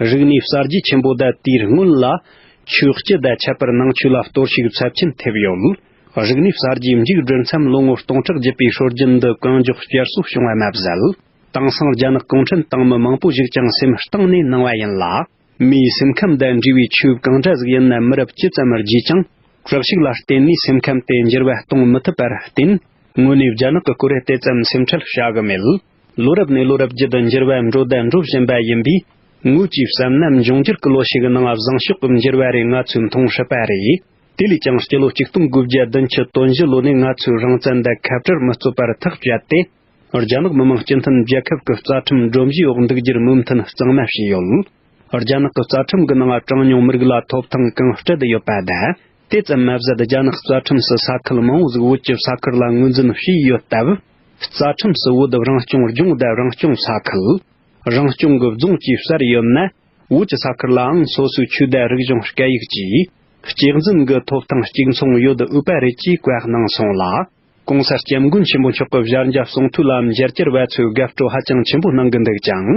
རིག་གནས་གསར་བརྗེ་ཆེན་པོ་ཟླ་དེའི་སྔོན་ལ། ཆོས་སྤྱི་ཟླ་ཁྱད་པར་ནང་ཆོས་ལ་གཏོར་བཤིག་ཚབས་ཆེན་ཐེབས་ཡོད། རིག་གནས་གསར་བརྗེའི་མཇུག་བསྒྲིལ་མཚམས་ལོ་ངོ་སྟོང་ཕྲག་བརྒྱུད་པའི་ཧྲོལ་རྒྱུན་འདི་གང་མགྱོགས་བསྐྱར་གསོ་བྱུང་བ་མ་ཟད། དེང་སང་རྒྱ་ནག་གུང་ཁྲན་ཏང་མི་མང་པོ་ཞིག་ཀྱང་སེམས་གཏིང་ནས་གནང་བ་ཡིན་ལ། མིའི་སེམས་ཁམས་དང་འབྲེལ་བའི་ཆོས་གང་འདྲ་ཟིག་ཡིན་ནམ་མི་རབས་ཅི་ཙམ་བརྒྱུད་ཀྱང། དྲག་ཤུགས་ལ་བརྟེན་ནས་སེམས་ཁམས་དེ་འགྱུར་བ་གཏོང་མི་ཐུབ་པར་བརྟེན། དངོས་གནས་རྒྱ་ནག་གི་སྐོར་དེ་ཙམ་སེམས་ཁྲལ་བྱ་གི་མེད། ལོ་རབས་ནས་ལོ་རབས་བརྒྱུད་དུ་འགྱུར་བ་འགྲོ་བརྡ་འགྲོ་བཞིན་པ་ཡིན་པས། ངོས་ཀྱིས་བསམ་ན་འབྱུང་འགྱུར་གྱི་ལོ་ཞིག་ནང་བཟང་ཕྱོགས་ཀྱི་འགྱུར་བ་རེ་ང་ཚོས་མཐོང་སྲིད་པ་རེད། དེ་ལས་ཀྱང་སྤྱི་ལོ་གཅིག་སྟོང་དགུ་བརྒྱ་བདུན་ཅུ་དོན་བཞི་ལོ་ནས་ང་ཚོས་རང་བཙན་འདི་ཁ་བྲལ་མི་རྩོད་པར་ཐག་བཅད་དེ། རྒྱ་ནག་མི་དམངས་སྤྱི་མཐུན་རྒྱལ་ཁབ་ཀྱི་རྩ་ཁྲིམས་སྒྲོམ་གཞིའི་འོག་འདུག་རྒྱུར་མོས་མཐུན་གཙང་མ་བྱས་ཡོད། རྒྱ་ནག་གི་རྩ་ཁྲིམས་ཀྱི་ནང་གྲངས་ཉུང་མི་རིགས་ལ་ཐོབ་ཐང་གང་སྤྲད་ཡོད་པ་དང། དེ་ཙམ་མ་ཟད་རྒྱ་ནག་རྩ་ཁྲིམས་སུ་ས་ཁུལ་མང་བོ་ཟིག་བོད་ཀྱི་ས་ཁུལ་ལ་ངོས་འཛིན་བྱས་ཡོད་སྟབས། རྩ་ཁྲིམས་སུ་བོད་རང་སྐྱོང་ལྗོངས་དབྱར་རང་སྐྱོང་ས་ཁུལ། རང་སྐྱོང་གི་རྫོང་བཅས་གསར་ཡོད་ནད་བོད་ཀྱི་ས་ཁུལ་ལའང་སོ་སོའི་ཆོས་དད་རིག་གཞུང་སྐད་ཡིག་བཅས་གཅེས་འཛིན་གྱི་ཐོབ་ཐང་གཅིག་མཚུངས་ཡོད་དགོས་པ་རེད་ཅེས་བཀའ་གནང་སོང་ལ། གོང་ས་སྐྱབས་མགོན་ཆེན་པོ་མཆོག་གི་བཞར་འཇབ་གསུང་ཐུགས་ལམ་རྒྱལ་གཅེར་བ་ཚོས་དགའ་སྤྲོ་ཧ་ཅང་ཆེན་པོ་གནང་གི་འདུག་ཀྱང།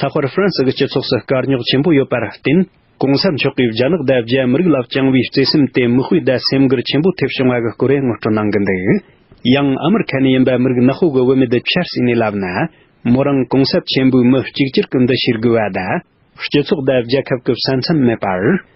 ལྷག་པར་ཧྥ་རན་སི་གི་སྤྱི་ཚོགས་སུ་དཀའ་རྙོག་ཆེན་པོ་ཡོད་པར་བརྟེན། གོང་ས་མཆོག་གིས་རྒྱ་ནག་དང་རྒྱ་མི་རིགས་ལ་བཅངས་བའི་བརྩེ་སེམས་དེ་མི་དཔེ་ཟླ་སེམས་འགུལ་ཆེན་པོ་ཐེབས་བྱུང་བ་གི་སྐོར་ཡང་ངོ་སྤྲོད་གནང་གི་འདུག་ཡང་ཨ་མེར་ཁ་ནས་ཡིན་པ་མི་རིགས་ནག་ཧོ་གི་བུད་མེད་དེ་ཆར་སྲིད་ནས་བསླབས་ན། མོ་རང་གོང་ས་ཆེན་པོའི་མི་གཅིག་གྱུར་གི་འདུ་ཤེས་དགོས་བ་དང། སྤྱི་ཚོགས་དང་རྒྱལ་ཁབ་ཀི་ས་མཚམས་མེད་པར།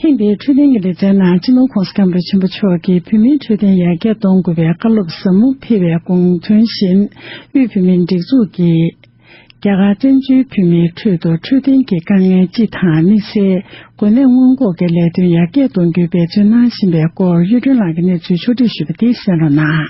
ཐེངས་འདིའི་འཕྲོད་བསྟེན་གྱི་ལེ་ཚན་ནང་སྤྱི་ནོར་ཁོང་སྐམ་པོ་ཆེན་པོ་མཆོག་གིས་བོད་མིའི་འཕྲོད་བསྟེན་ཡར་རྒྱས་གཏོང་དགོས་པའི་བཀའ་སློབ་ཟབ་མོ་ཕེབས་པའི་དགོངས་དོན་བཞིན་དབུས་བོད་མིའི་སྒྲིག་འཛུགས་ཀྱིས། རྒྱ་གར་བཙན་བྱོལ་བོད་མིའི་ཁྲོད་དུ་འཕྲོད་བསྟེན་གྱི་དཀའ་ངལ་སྤྱི་དང་དམིགས་བསལ་འགོས་ནད་སྔོན་འགོག་གི་ལས་དོན་ཡར་རྒྱས་གཏོང་རྒྱུའི་འབད་བརྩོན་གནང་བཞིན་པའི་སྐོར་གཡུ་སྒྲོན་ལགས་ཀྱི་གནས་ཚུལ་ཕྱོགས་བསྒྲིགས་ཞུས་པ་འདི་གསན་རོགས་གནང།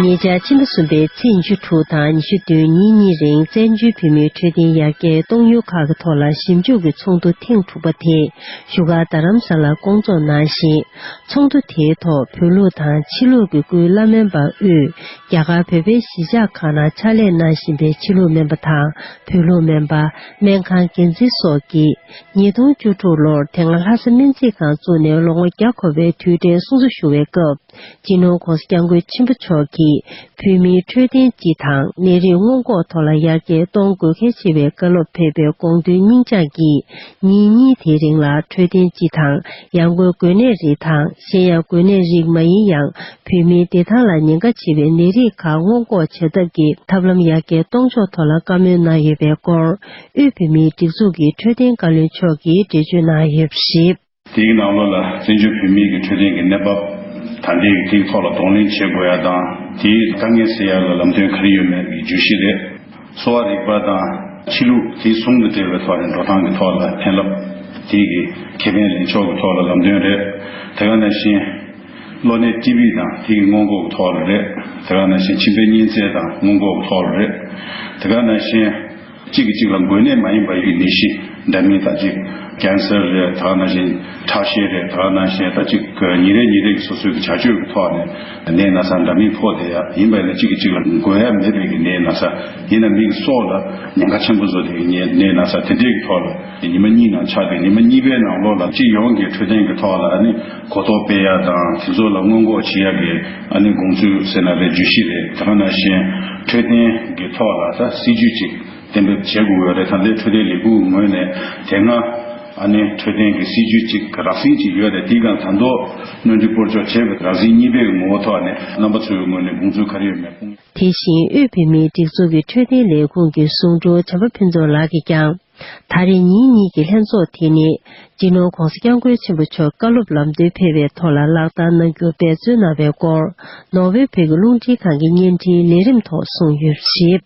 ཉེ་ཆར་ཕྱི་ཟླ་གསུམ་པའི་ཚེས་ཉི་ཤུ་དྲུག་དང་ཉི་ཤུ་བདུན་ཉིན་གཉིས་རིང་བཙན་བྱོལ་བོད་མིའི་འཕྲོད་བསྟེན་ཡར་རྒྱས་གཏོང་ཡུལ་ཁག་གི་ཐོག་ལ་ཞིབ་འཇུག་གི་ཚོགས་འདུ་ཐེངས་དྲུག་པ་དེ་བཞུགས་སྒར་རྡ་རམ་ས་ལར་བསྐོང་ཚོགས་གནང་ཞིང། ཚོགས་འདུ་དེའི་ཐོག་བོད་ལུགས་དང་ཕྱི་ལུགས་ཀྱི་སྐུའི་བླ་སྨན་པ་དབུས་རྒྱ་གར་བོད་པའི་གཞིས་ཆགས་ཁག་ནང་ཕྱག་ལས་གནང་བཞིན་པའི་ཕྱི་ལུགས་སྨན་པ་དང་བོད་ལུགས་སྨན་པ། སྨན་ཁང་འགན་འཛིན་སོགས་ཀྱིས། ཉིས་སྟོང་བཅུ་དྲུག་ལོར་དེ་སྔ་ལྷ་ས་སྨན་རྩིས་ཁང་བཙུགས་ནས་ལོ་ངོ་བརྒྱ་འཁོར་བའི་དུས་དྲན་གསུང་ཆོས་ཞུ་བའི་སྐབས་སྤྱི་ནོར ྋགོང་ས ྋསྐྱབས་མགོན་ཆེན་པོ་མཆོག་གིས་བོད་མིའི་འཕྲོད་བསྟེན་སྤྱི་དང་ནད་རིགས་སྔོན་འགོག་ཐོག་ལ་ཡར་རྒྱས་གཏོང་དགོས་གལ་ཆེ་བའི་བཀའ་སློབ་ཕེབས་པའི་དགོངས་དོན་སྙིང་བཅངས་ཀྱིས་ཉིན་གཉིས་དེའི་རིང་ལ་འཕྲོད་བསྟེན་སྤྱི་དང་ཡང་སྒོས་འགོས་ནད་རིགས་དང་གཞན་ཡང་འགོས་ནད་རིགས་མ་ཡིན་ཡང་བོད་མིའི་བདེ་ཐང་ལ་ཉེན་ཁ་ཆེ་བའི་ནད་རིགས་ཁག་སྔོན་འགོག་བྱ་ཐབས་ཀྱི་ཐབས་ལམ་ཡར་རྒྱས་གཏོང་ཕྱོགས་ཐོག་ལ་བཀའ་མོལ་གནང་ཡོད་པའི་སྐོར་དབུས་བོད་མིའི་སྒྲིག་འཛུགས་ཀྱི་འཕྲོད་བསྟེན་བཀའ་བློན་མཆོག་གིས་འགྲེལ་བརྗོད་གནང་ཡོད་པ་རེད། དེའི་ནང་ལོགས་ལ་བཙན་བྱོལ་བོད་མིའི་གི་འཕྲོད་བསྟེན་གི་གནས་བབ་དང་དེའི་གི་ཐིག་ཐོག་ལ་གདོང་ལེན་བྱེད་དགོས་ཡ་དང་དེའི་དཀའ་ངལ་སེལ་ཡ་ལ་ལམ་སྟོན་ག་རེ་ཡོད་མེད་གི་བརྗོད་གཞི་རེད། གསོ་བ་རིག་པ་དང་ཕྱི་ལུགས་དེ་ཟུང་དུ་སྦྲེལ་བའི་ཐོག་ནས་འགྲོ་སྟངས་གི་ཐོག་ལ་ཕན་རླབས་དེའི་གི་ཁེ་ཕན་ལེན་ཕྱོགས་གི་ཐོག་ལ་ལམ་སྟོན་རེད། དེ་ག་ནང་བཞིན་གློ་ནད་ཏི་བི་དང་དེའི་གི་སྔོན་འགོག་གི་ཐོག་ལ་རེད། དེ་ག་ནང་བཞིན་མཆིན་པའི་གཉན་ཚད་དང་སྔོན་འགོག་གི་ཐོག་ལ་རེད། དེ་ག་ནང་བཞིན། གཅིག་གིས་གཅིག་ལ་འགོས་ནད་མ་ཡིན་པ་ཡི་ནད་གཞི་འདྲ་མིན་དང་གཅིག Cancer རེད་ད་ན་གཞན་ཁྲག་ཤེད་རེད་ད་ན་གཞན་ད་གཅིག་ཉིན་རེ་ཉིན་རེ་གི་སོ་སོའི་གི་བྱ་སྤྱོད་ཀྱི་ཐོག་ནས་ནད་ན་ཚ་འདྲ་མིན་ཕོག་བསྡད་ཡ་ཡིན་པ་ཡིན་ན་གཅིག་གིས་གཅིག་ལ་འགོས་ཡ་མེད་པའི་གི་ནད་ན་ཚ་ཡིན་ན་མིག་གི་སོགས་ལ་ཉེན་ཁ་ཆེན་པོ་བཟོ་བསྡད་གི་ནད་ན་ཚ་དེ་འདྲའི་གི་ཐོག་ལ་ཉི་མ་གཉིས་ནང་ཆགས་ཏེ་ཉི་མ་གཉིས་པའི་ནང་ལོགས་ལ་སྤྱི་ཡོངས་ཀྱི་འཕྲོད་བསྟེན་གི་ཐོག་ལ་ནི། གོ་རྟོགས་སྤེལ་ཡག་དང་དེ་ཚོ་ལ་སྔོན་འགོག་བྱེད་ཡག་གི་ཨ་ནི་དགོངས་ཚུལ་ཟེར་ན་རེད་བརྗོད་གཞི་རེད་དེ་ག་ནང་བཞིན་འཕྲོད་བསྟེན་གི་ཐོག་ལ་ད་སྲིད་ཇུས་ཅིག་གཏན་འབེབས་བྱེད་དགོས་འོས་རེད་ད་ལས་འཕྲོད་བསྟེན་ལས་ཁུངས་ངོས་ནས་དེ་སྔ་ཨ་ནི་འཕྲོད་བསྟེན་གི་སྲིད་ཇུས་ཅིག་རགས་ཟིན་ཅིག་ཡོད་རེད་དེ་ག་དང་ཐོག་སྣོན་འཕྲི་སྤོར་གཅོག་བྱེད་པའི་རགས་ཟིན་གཉིས་པའི་ངོ་བོ་ཐོག་ནས་རྣམ་པ་ཚོའི་ངོས་ནས་དགོངས་ཚུལ་ག་རེ་ཡོད་མེད་དཔུང་དེ་བཞིན་དབུས་བོད་མིའི་སྒྲིག་འཛུགས་ཀྱི་འཕྲོད་བསྟེན་ལས་ཁུངས་ཀྱི་ཟུང་དྲུང་བྱམས་པ་ཕུན་ཚོགས་ལགས་ཀྱིས་ཀྱང། ད་རེས་ཉིན་གཉིས་ཀྱི་ལྷན་ཚོགས་དེ་ནི་སྤྱི་ནོར ྋགོང་ས ྋསྐྱབས་མགོན་ཆེན་པོ་མཆོག་བཀའ་སློབ་ལམ་སྟོན་ཕེབས་པའི་ཐོག་ལ་ལག་བསྟར་གནང་རྒྱུར་འབད་བརྩོན་གནང་བའི་སྐོར་ནོར་ཝེ་བོད་ཀྱི་རླུང་འཕྲིན་ཁང་གི་བརྙན་འཕྲིན་ལས་རིམ་ཐོག་གསུངས་ཡོད་པར་གཞིགས།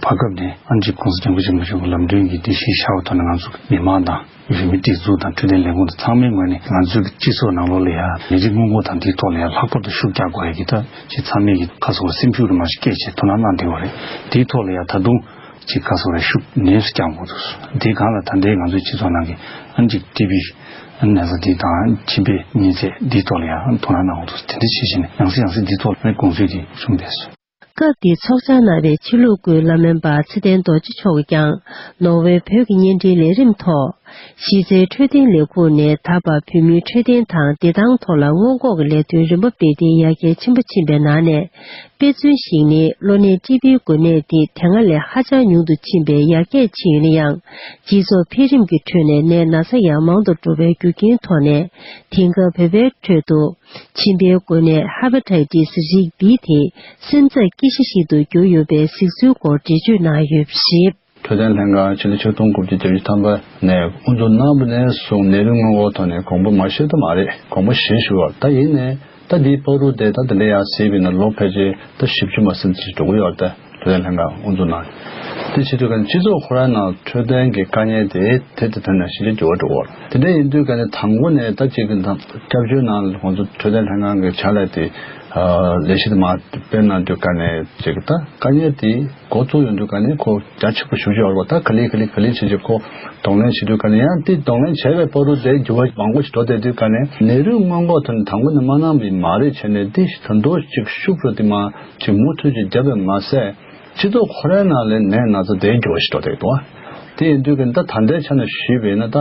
བར་སྐབས་ནས་ཨ་འཇིགས ྋགོང་ས ྋསྐྱབས་མགོན་ཆེན་པོ་མཆོག་གི་ལམ་སྟོན་གྱི་དེ་བཞིན་ཤར་བ་ཐོག་ནས་ང་ཚོ་མི་མང་དང། ཡུལ་མི་སྒྲིག་འཛུགས་དང་འཕྲོད་བསྟེན་ལས་ཁུངས་དང་ཚང་མའི་ངོས་ནས་ང་ཚོའི་གི་སྤྱི་ཚོགས་ནང་ལོགས་ལ་ཡང་ལས་རིགས་སྔོན་འགོག་དང་དེའི་ཐོག་ལ་ཡང་ལྷག་པར་དུ་ཤུགས་རྒྱག་དགོས་ཡག་གི་ཐབས་ཅིག་ཚང་མས་གི་ཁ་གསོ་བར་སེམས་ཤུགས་རིང་མ་ཞིག་སྐྱེད་ཆེད་ཐུགས་སྣང་གནང་བསྡད་ཡོད་རེད་དེའི་ཐོག་ལ་ཡང་ད་དུང། གཅིག་བཀའ་ཟུར་བས་ཤུགས་ནན་སུ་བསྐྱང་དགོས་འདུག་དེ་གང་ལ་ད་ལྟའི་ང་ཚོའི་སྤྱི་ཚོགས་ནང་གི་ཨ་འཇིག་ཏི་བི་ནན་ས་ཏི་དང་ཁྱིམ་པའི་གཉེན་ཚད་འདིའི་ཐོག་ལ་ཡང་དོ་སྣང་གནང་དགོས་འདུག་དེ་འདྲ་བྱས་ཤིང་ཡང་སྲིད་ཡང་སྲིད་འདིའི་ཐོག་ལ་གོང་ཚོད་ཀྱི་གསུང་བས་སོ། སྐབས་དེའི་ཚོགས་བཅར་གནང་བའི་ཕྱི་ལུགས་སྐུའི་བླ་སྨན་པ་ཚེ་བརྟན་རྡོ་རྗེ་མཆོག་གིས་ཀྱང་ནོར་ཝེ་བོད་ཀྱི་བརྙན་འཕྲིན་ལས་རིམ་ཐོག་གཞིས་རྩེའི་འཕྲོད་བསྟེན་ལས་ཁུངས་ནས་ད་བར་བོད་མིའི་འཕྲོད་བསྟེན་དང་བདེ་ཐང་ཐོག་ལ་སྔོན་འགོག་གི་ལས་དོན་རིམ་པ་སྤེལ་གཏིང་ཡར་རྒྱས་ཆེན་པོ་ཕྱིན་པའི་ནང་ནས་དཔེར་མཚོན་ཞིག་ནི་གློ་ནད་སྤྱི་པའི་འགོས་ནད་དེ་དེ་སྔ་ལས་ཧ་ཅང་ཉུང་དུ་ཕྱིན་པས་ཡར་རྒྱས་ཕྱིན་ཡོད་ན་ཡང་སྤྱི་ཚོགས་འཕེལ་རིམ་གྱི་ཁྲོད་ནས་ནད་ན་ཚ་ཡང་མང་དུ་འགྲོ་བའི་རྒྱུ་རྐྱེན་ཐོག་ནས་དེང་སྐབས་བོད་པའི་ཁྲོད་དུ་མཆིན་པའི་འགོས་ནད Hepatitis རིགས་འདི་དེ་སེམས་ཚབས་སྐྱེ་གཞི་ཞིག་ཏུ་གྱུར་ཡོད་པའི་གཟིགས་ཚུལ་སྐོར་འགྲེལ་བརྗོད་གནང་ཡོད་པ་རེད། འཕྲོད་བསྟེན་ལྷན་ཁང་ཕྱི་ལོ་ཆིག་སྟོང་དགུ་བརྒྱ་བརྒྱད་ཅུ་ཐམ་པ་ནས་དབུ་འཛུགས་གནང་པ་ནས་བཟུང་ནད་རིགས་སྔོན་འགོག་ཐོག་ནས་གོང་བུ་མ་ཞིག་ཏུ་མ་རེད་གོང་བུ་བཞི་ཞུ་བར་ད་ཡིན་ནའི་ད་འདིའི་ཕག་རུ་དེ་ད་དེ་འདྲ་ཡག་སྲིད་པའི་ནང་ལོ་ཕལ་ཆེར་ད་བཞི་བཅུ་མ་ཟིན་ཅིག་འགྲོ་གི་ཡོད་ད་འཕྲོད་བསྟེན་ལྷན་ཁང་དབུ་འཛུགས་གནང་དེ་ཕྱི་དུས་ག་ནས་སྤྱི་ཚོགས་ཧུར་ཧར་ནང་འཕྲོད་བསྟེན་གྱི་དཀའ་ཉེན་དེ་དེ་དེ་ཐོན་ནས་ཤེས་རྒྱ་འགྱུར་བ་འགྲོ་གི་ཡོད་དེ་འདྲ་ཡིན་དུས་ག་ནས་དང་པོ་ནས་ད་ཅིག་གི་སྐྱབས་བཅོལ་ནང་ཁོང་ཚོ་འཕྲོད་བསྟེན་ལྷན་ཁང་གི་བྱ་ལས་དེ་ལས་གཞི་དེ་མ་སྤེལ་གནང་དུས་ག་ནས་ཅིག་ད་དཀའ་ཉེན་དེ། འགོ་བཙུགས་ཡོང་དུས་ཀ་ནས་ཁོ་རྒྱ་ཆེན་པོ་ཞུ་རྒྱུ་ཡོད་པ་དང་ག་ལེ་ག་ལེ་ག་ལེ་བྱེད་ཀྱི་ཁོ་གདོང་ལེན་བྱེད་དུས་ཀ་ནས་ཡང་དེ་གདོང་ལེན་བྱས་པའི་པོ་རུ་དེ་རྒྱུ་བ་མང་པོ་ཞིག་འགྲོ་བསྡད་དུས་ཀ་ནས་ནེ་རུའི་སྔོན་འགོག་དོན་དང་པོ་ནི་མ་ནང་པའི་མ་རེད་བྱས་ནས་དེ་ཞིག་ད་འདོད་ཅིག་ཤུབ་རུ་དེ་མ་ཅིག་མུ་མཐུད་ཅིག་བརྒྱབ་པས་མ་ཟད་སྤྱི་ཚོགས་ཁོ་རའི་ནང་ལས་ནས་ན་ཚ་དེ་རྒྱུ་བ་ཞིག་འགྲོ་བསྡད་ཡོད་དོ། དེ་ཡིན་དུས་ཀ་ནས་ད་ད་ལྟའི་ཆ་ནས་ཞུས་པས་ན་ད།